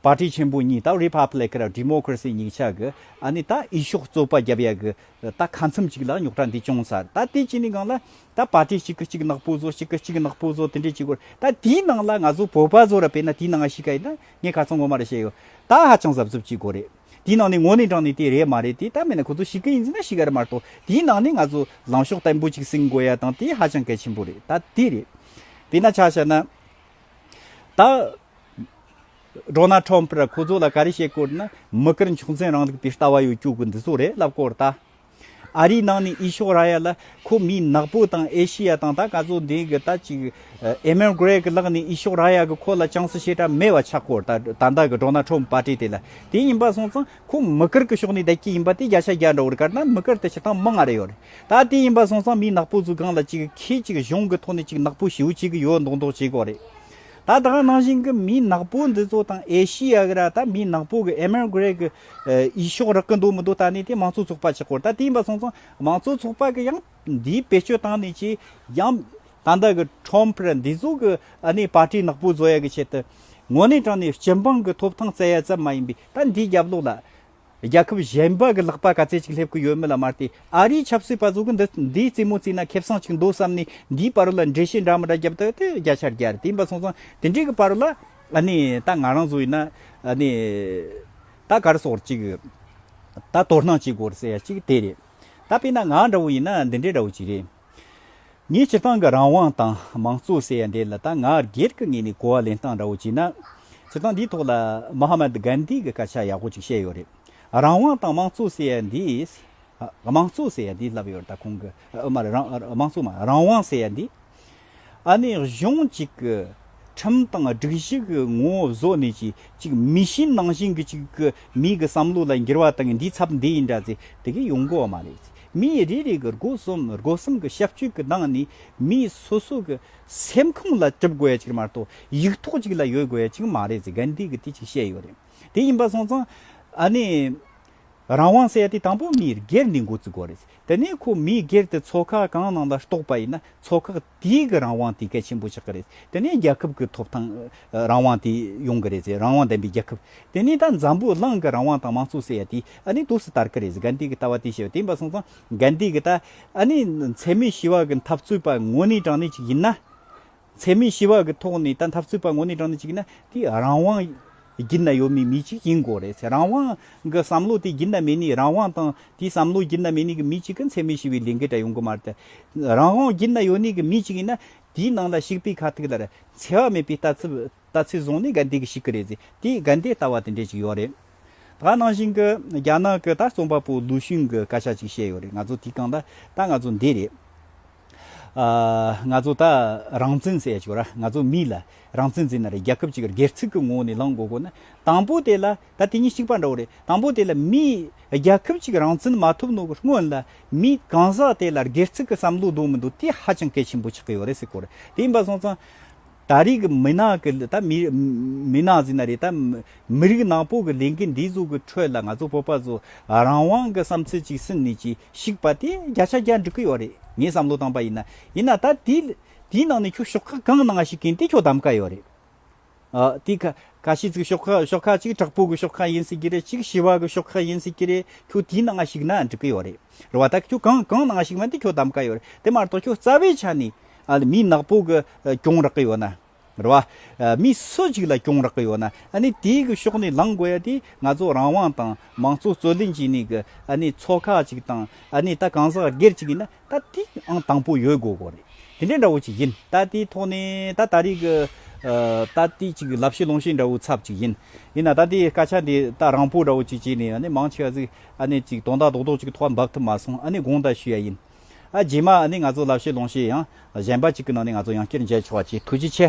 པར་ཏི་ཆེན་པོ་གཉིས་དང་རི་ཕབ་ལེགས་ཀར་རི་མོ་ཀིར་སི་གཉིས་ཆགས་གི་ཨ་ནི་ད་ཨི་ཤོག་རྩོད་པ་རྒྱབ་ཡ་གི་ད་ཁ་མཚམས་གཅིག་ལ་རྙོག་དྲ་འདི་ཅུང་ཟད་ད་དེ་གཅིག་ནི་གང་ལ་ད་པར་ཏི་གཅིག་གི་གཅིག་ནག་པོ་བཟོ་གཅིག་གི་གཅིག་ནག་པོ་བཟོ་དེ་འདྲའི་གཅིག་གོ་ད་དེའི་ནང་ལ་ང་ཚོ་བོད་པ་བཟོ་ར་པས་ན་དེའི་ནང་ང་ཤི་ཁ་ཡིན་ན་ངས་ག་ཚོད་ངོ་མ་རེ་བཤད་ཡོད་ད་ཧ་ཅང་ཟབ་ཟོབ་གཅིག་གོ་རེད་དེའི་ནང་ནས་ངོ་ནས་དྲངས་ནས་དེ་རེད་མ་རེད་དེ་ད་མེད་ན་ཁོ་ཚོ་ཤི་གི་ཡིན་ཟིན་ན་ཤི་ག་རེད་མ་རེད་དོ་དེའི་ནང་ནས་ང་ཚོ་ལངས་ཕྱོགས་བརྟན་པོ་གཅིག་བསྲིང་དགོས་ཡ་དང་དེ་ཧ་ཅང་གལ་ཆེན་པོ་རེད་ད་དེ་རེད་དེ་ན་ཆ་བྱ་ན་ད། སྒྲོག་ན་ཁྲོམ་པར་ཁོ་ཚོ་ལ་ག་རེ་བྱེད་དགོས་ན་མི་དཀར་མཆོག་འཛིན་རང་རིགས་པའི་ལྟ་བ་ཡོད་བཅུག་གི་འདི་ཚོ་རེད་ལབ་གོ་ད། ཨ་རིའི་ནང་ནས་ཨི་ཤོ་ར་ཡལ་ལ་ཁོ་མི་ནག་པོ་དང་ཨེ་ཤི་ཡ་དང་ད་ག་ཚོད་འདི་གི་ད་ཅིག་ཨེ་མེན་གྷ་རེ་གི་ལག་ནས་ཨི་ཤོ་ར་ཡལ་གི་ཁོ་ལ་ཅང་སུ་ཤེས་གྲབས་མེད་བ་ཆགས་གོ་ད་ད་ད་གི་སྒྲོག་ན་ཁྲོམ་པ་གྲས་དེ་ལ་དེ་ཡིན་པ་སོང་ཙང་ཁོ་མི་དཀར་གི་ཕྱོགས་ནས་བསྡད་ཀྱི་ཡིན་པ་དེ་རྒྱ་ཆ་རྒྱ་འདྲ་བོར་བཀར་ན་མི་དཀར་དེ་ཕྱིར་བཏང་མི་ང་རེ་ཡོད་རེད་ད་དེ་ཡིན་པ་སོང་ཙང་མི་ནག་པོ་ཚོའི་སྒང་ལ་ཅིག་ཁྱེད་ཅིག་གཞུང་གི་ཐོག་ནས་ཅིག་ནག་པོ་བྱེའུ་གཅིག་གི་ཡོད་མདོག་མདོག་བྱེད་གོ་རེད། ད་ལྟ་ནང་བཞིན་གྱི་མི་ནག་པོ་འདི་ཚོ་དང་ཨེ་ཤི་ཡ་གི་ར་ད་མི་ནག་པོ་གི Emigrate གི་ཡི་ཤོག་རག་གི་འདུག་མི་འདུག་ད་ནས་དེ་མང་གཙོ་ཚོགས་པ་ཆེ་སྐོར་ད་དེ་ཡིན་པ་སོང་ཙང་མང་གཙོ་ཚོགས་པ་གི་ཡང་འདི་བེད་སྤྱོད་བཏང་ནས་ཀྱི་ཡང་ད་ལྟ་གི Trump ར་འདི་ཚོ་གི་ཨ་ནེ Party ནག་པོ་བཟོ་ཡ་གི་ཆེད་དུ་ངོ་ནས་དྲང་ནས་སྤྱི་འབངས་གི་ཐོབ་ཐང་བཙལ་ཡ་ཙམ་མ་ཡིན་པའི་ད་འདི་རྒྱབ་ལོག་ལ་རྒྱལ་ཁབ་གཞན་པ་གི་ལག་པ་ག་ཚད་ཅིག་སླེབས་ཀྱི་ཡོད་མེད་ལ་མ་བལྟས་ཨ་རིའི་ཆབ་སྲིད་པ་ཚོ་གི་འདི་འདིའི་རྩེད་མོ་རྩེས་ན་ཁེ་བཟང་ཅིག་འདུག་བསམ་ནས་འདིའི་པར་རོ་ལ་འགྲེལ་བཤད་འདྲ་མི་འདྲ་བརྒྱབ་སྟེ་དེ་བརྒྱ་ཆ་བརྒྱ་རེད་ཡིན་པ་སོང་ཙང་དེ་འདྲའི་གི་པར་རོ་ལ་ཨ་ནི་ད་ང་རང་ཚོ་ཡིན་ན་ཨ་ནི་ད་ག་རེ་སོགས་ཅིག་གི་ད་དོ་སྣང་བྱེད་དགོས་རེད་ཟེར་ཡ་ཅིག་དེ་རེད་ད་དཔེ་ན་ང་འདྲ་བོ་ཡིན་ན་འདི་འདྲའི་འདྲ་བོ་ཅིག་རེད། ངས་སྤྱིར་བཏང་གི་རང་དབང་དང་མང་གཙོ་ཟེར་ཡ་འདི་ལ་ད་ང་སྒེར་གི་ངོས་ནས་གོ་བ་ལེན་སྟངས་འདྲ་བོ་བྱས་ན། སྤྱིར་བཏང་འདིའི་ཐོག་ལ Mahatma Gandhi གི་སྐད་ཆ་ཡག་པོ་ཅིག་བཤད་ཡོད་རེད། རང་དབང་དང་མང་གཙོ་ཟེར་ཡ་འདིས། དམངས་གཙོ་ཟེར་ཡ་འདིས་ལབ་ཡོད་རེད་ད་ཁོང་གིས། མ་རེད་རང་དམངས་གཙོ་མ་རེད་རང་དབང་ཟེར་ཡ་འདིས། ཨ་ནི་གཞུང་གཅིག་གི་ཁྲིམས་དང་སྒྲིག་གཞི་གི་ངོ་བཟོ་ནི་གཅིག་གཅིག་མི་གཤིས་ནང་བཞིན་གྱི་གཅིག་གི་མིའི་གི་བསམ་བློ་ལ་འགྱུར་བ་དང་འདིའི་ཚབ་འདི་ཡིན་འདྲ་ཚེ་དེ་གི་ཡོང་གོ་བ་མ་རེད་ཚེ་མིའི་རེ་རེ་གི་སྒོ་གསུམ་སྒོ་གསུམ་གི་ཤབ་ཆོས་གི་ནང་ནི་མིའི་སོ་སོ་གི་སེམས་ཁམས་ལ་གྲུབ་དགོས་གཅིག་མ་གཏོགས་ཡིག་ཐོག་གཅིག་ལ་ཡོད་དགོས་གཅིག་མ་རེད་ཚེ་གན་དེ་གི་དེ་གཅིག་བཤད་ཡོད་རེད་དེ་ཡིན་པ་སོང་ཙང་ཨ་ནི་རང་དབང་བསལ་ཏེ་དང་པོ་མིའི་སྒེར་འདི་འགོ་བཙུགས་དགོས་རེད། དེ་ནས་ཁོ་མིའི་སྒེར་དེ་ཚོགས་ཁག་གང་ནང་ལ་གཏོགས་པ་ཡིན་ན་ཚོགས་ཁག་དེའི་གི་རང་དབང་དེ་གལ་ཆེན་པོ་ཆགས་ཀྱི་རེད། དེ་ནས་རྒྱལ་ཁབ་གི་ཐོབ་ཐང་རང་དབང་དེ་ཡོང་གི་རེད་ཟེར་རང་དབང་ལྡན་པའི་རྒྱལ་ཁབ། དེ་ནས་ད་འཛམ་བུ་གླང་གི་རང་དབང་དང་མང་གཙོ་ཟེར་ཡ་དེ་ཨ་ནི་དུས་སུ་དར་གི་རེད་ཟེར་གན་དྷི་གི་ལྟ་བ་དེ་བཤད་དེ་འབའ་སོང་ཙང་གན་དྷི་གི་ལྟ་ཨ་ནི་འཚེ་མེད་ཞི་བ་གི་འཐབ་རྩོད་པ་དངོས་གནས་དྲང་གནས་ཅིག་ཡིན་ན། འཚེ་མེད་ཞི་བ་གི་ཐོག་ནས་ད་འཐབ་རྩོད་པ་ངོ་ནས་དྲངས་ནས་བྱེད་ཀྱི་ན་དེ་རང་དབང་སྒྱིད་ན་ཡོད་མེད་མི་གཅིག་ཡིན་དགོས་རེད་ཚེ་རང་དབང་གི་བསམ་བློ་དེ་སྒྱིད་ན་མེད་ནས་རང་དབང་དང་དེའི་བསམ་བློ་སྒྱིད་ན་མེད་ནས་གི་མི་གཅིག་གི་འཚེ་མེད་ཞི་བའི་ལས་འགུལ་དྲ་ཡོང་གི་མ་རེད་དེ། རང་དབང་སྒྱིད་ན་ཡོད་ནས་གི་མི་གཅིག་ཡིན་ན་དེའི་ནང་ལ་ཞིག་པའི་ཁ་ཐུག་ལ་རེད་འཚེ་བ་མེད་པའི་ལྟ་ཚུལ་ལྟ་ཚུལ་བཟུང་ནས་ག་འདི་གི་ཞིག་གི་རེད་ཚེ་དེའི་ག་འདི་ལྟ་བ་དེ་འདྲས་ཅིག་ཡོད་རེད། ད་ནང་བཞིན་གི་རྒྱ་ནག་གི་ད་རྩོམ་པ་པོ་ལུའུ་ཞུན་གི་བཀའ་ཤག་ཅིག་བཤད་ཡོད་རེད་ང་ཚོ་དེའི་སྒང་ལ་ད་ང་ཚོ་འདི་རེད། ང་ཚོ་ད་རང་བཙན་ཟེར་ཡ་ཆོག་ར་ང་ཚོ་མི་ལ་རང་བཙན་འཛིན་ན་རེད་རྒྱ་ཁབ་ཅིག་གི་སྒེར་ཚུགས་ཀྱི་ངོ་བོ་ནས་ལངས་དགོས་དགོས་ན་དང་པོ་དེ་ལ་ད་དེ་གཉིས་གཅིག་པ་འདྲ་བོ་རེད་དང་པོ་དེ་ལ་མི་རྒྱ་ཁབ་ཅིག་རང་བཙན་མ་ཐོབ་ནོ་གི་སྔོན་ལ་མི་གང་ཟག་དེ་ལ་སྒེར་ཚུགས་ཀྱི་བསམ་བློ་འདུག་མི་འདུག་དེ་ཧ་ཅང་གལ་ཆེན་པོ་ཆགས་ཀྱི་ཡོད་རེད་སེ་གོ་རེད་དེ་ཡིན་པ་སོང་ཙང་ད་རིག་གི་མི་ནག་གི་ད་མི་མི་ནག་འཛིན་ན་རེད་ད་མི་རིགས་ནག་པོ་གི་ལས་འགན་འདི་ཚོ་གི་ཁྲོད་ལ་ང་ཚོ་བོད་པ་ཚོ་རང་དབང་གི་བསམ་ཚུལ་ཅིག་སིན་ནས་ཅིག་ཞིག་པ་དེ་བརྒྱ་ཆ་བརྒྱ་འགྲིག་གི་ཡོད་རེད་ངས་བསམ་བློ་བཏང་པ་ཡིན་ན། ཡིན་ན་ད་དེའི་ནང་ནས་ཁྱོད་ཤོག་ཁག་གང་ནང་ཞིག་གིན་དེ་ཁྱོད་བདམས་ཀ་ཡོད་རེད། དེ་ཁ་ཤས་ཚིག་ཤོག་ཁག་ཤོག་ཁག་གཅིག་དྲག་པོ་གི་ཤོག་ཁག་ཡིན་སྲིད་ཀྱི་རེད་གཅིག་ཞི་བ་གི་ཤོག་ཁག་ཡིན་སྲིད་ཀྱི་རེད་ཁྱོད་དེའི་ནང་ཞིག་ན་འགྲིག་གི་ཡོད་རེད་རེད་བ་ད་ཁྱོད་གང་གང་ནང་ཞིག་མིན་དེ་ཁྱོད་བདམས་ཀ་ཡོད་རེད་དེ་མ་གཏོགས་ཁྱོད་རྩ་བའི་ཆ་ནས་མི་ནག་པོ་གི་སྐྱོང་རག་གི་ཡོད་ན། རེད་བ། མི་སུ་ཞིག་ལ་གྱོང་རག་གི་ཡོད་ན་ཨ་ནི་དེའི་གི་ཕྱོགས་ནས་ལངས་དགོས་ཡ་དེ་ང་ཚོ་རང་དབང་དང་མང་གཙོ་རྩོད་ལེན་བྱས་ནས་གི་ཨ་ནི་ཚོགས་ཁག་ཅིག་དང་ཨ་ནི་ད་གང་ཟག་སྒེར་ཅིག་ཡིན་ན་ད་དེ་ཨང་དང་པོ་ཡོད་དགོས་གོ་རེད་དེ་འདྲའི་འདྲ་བོ་ཅིག་ཡིན་ད་དེའི་ཐོག་ནས་ད་ད་རེས་གི་ད་དེ་ཅིག་ལབ་བཤད་ལོང་བཤད་འདྲ་བོའི་ཚབ་ཅིག་ཡིན་ཡིན་ན་ད་དེའི་སྐད་ཆ་འདི་ད་རང་བོ་འདྲ་བོ་ཅིག་བྱས་ནས་ཨ་ནི་མང་ཆེ་བ་ཟིག་ཨ་ནི་ཅིག་དོན་དག་རྡོག་རྡོག་ཅིག་ཐོག་འབབ་ཐུབ་མ་སོང་ཨ་ནི་དགོངས་དག་ཞུ་ཡ་ཡིན། རྗེས་མ་ནི་ང་ཚོ་ལབ་ཤེས་ལོང་ཤེས་ཡང་གཞན་པ་གཅིག་གི་ནང་ནས་ང་ཚོ་ཡང་བསྐྱར་མཇལ་ཆོག་བ་ཆེས་ཐུགས་རྗེ་ཆེ།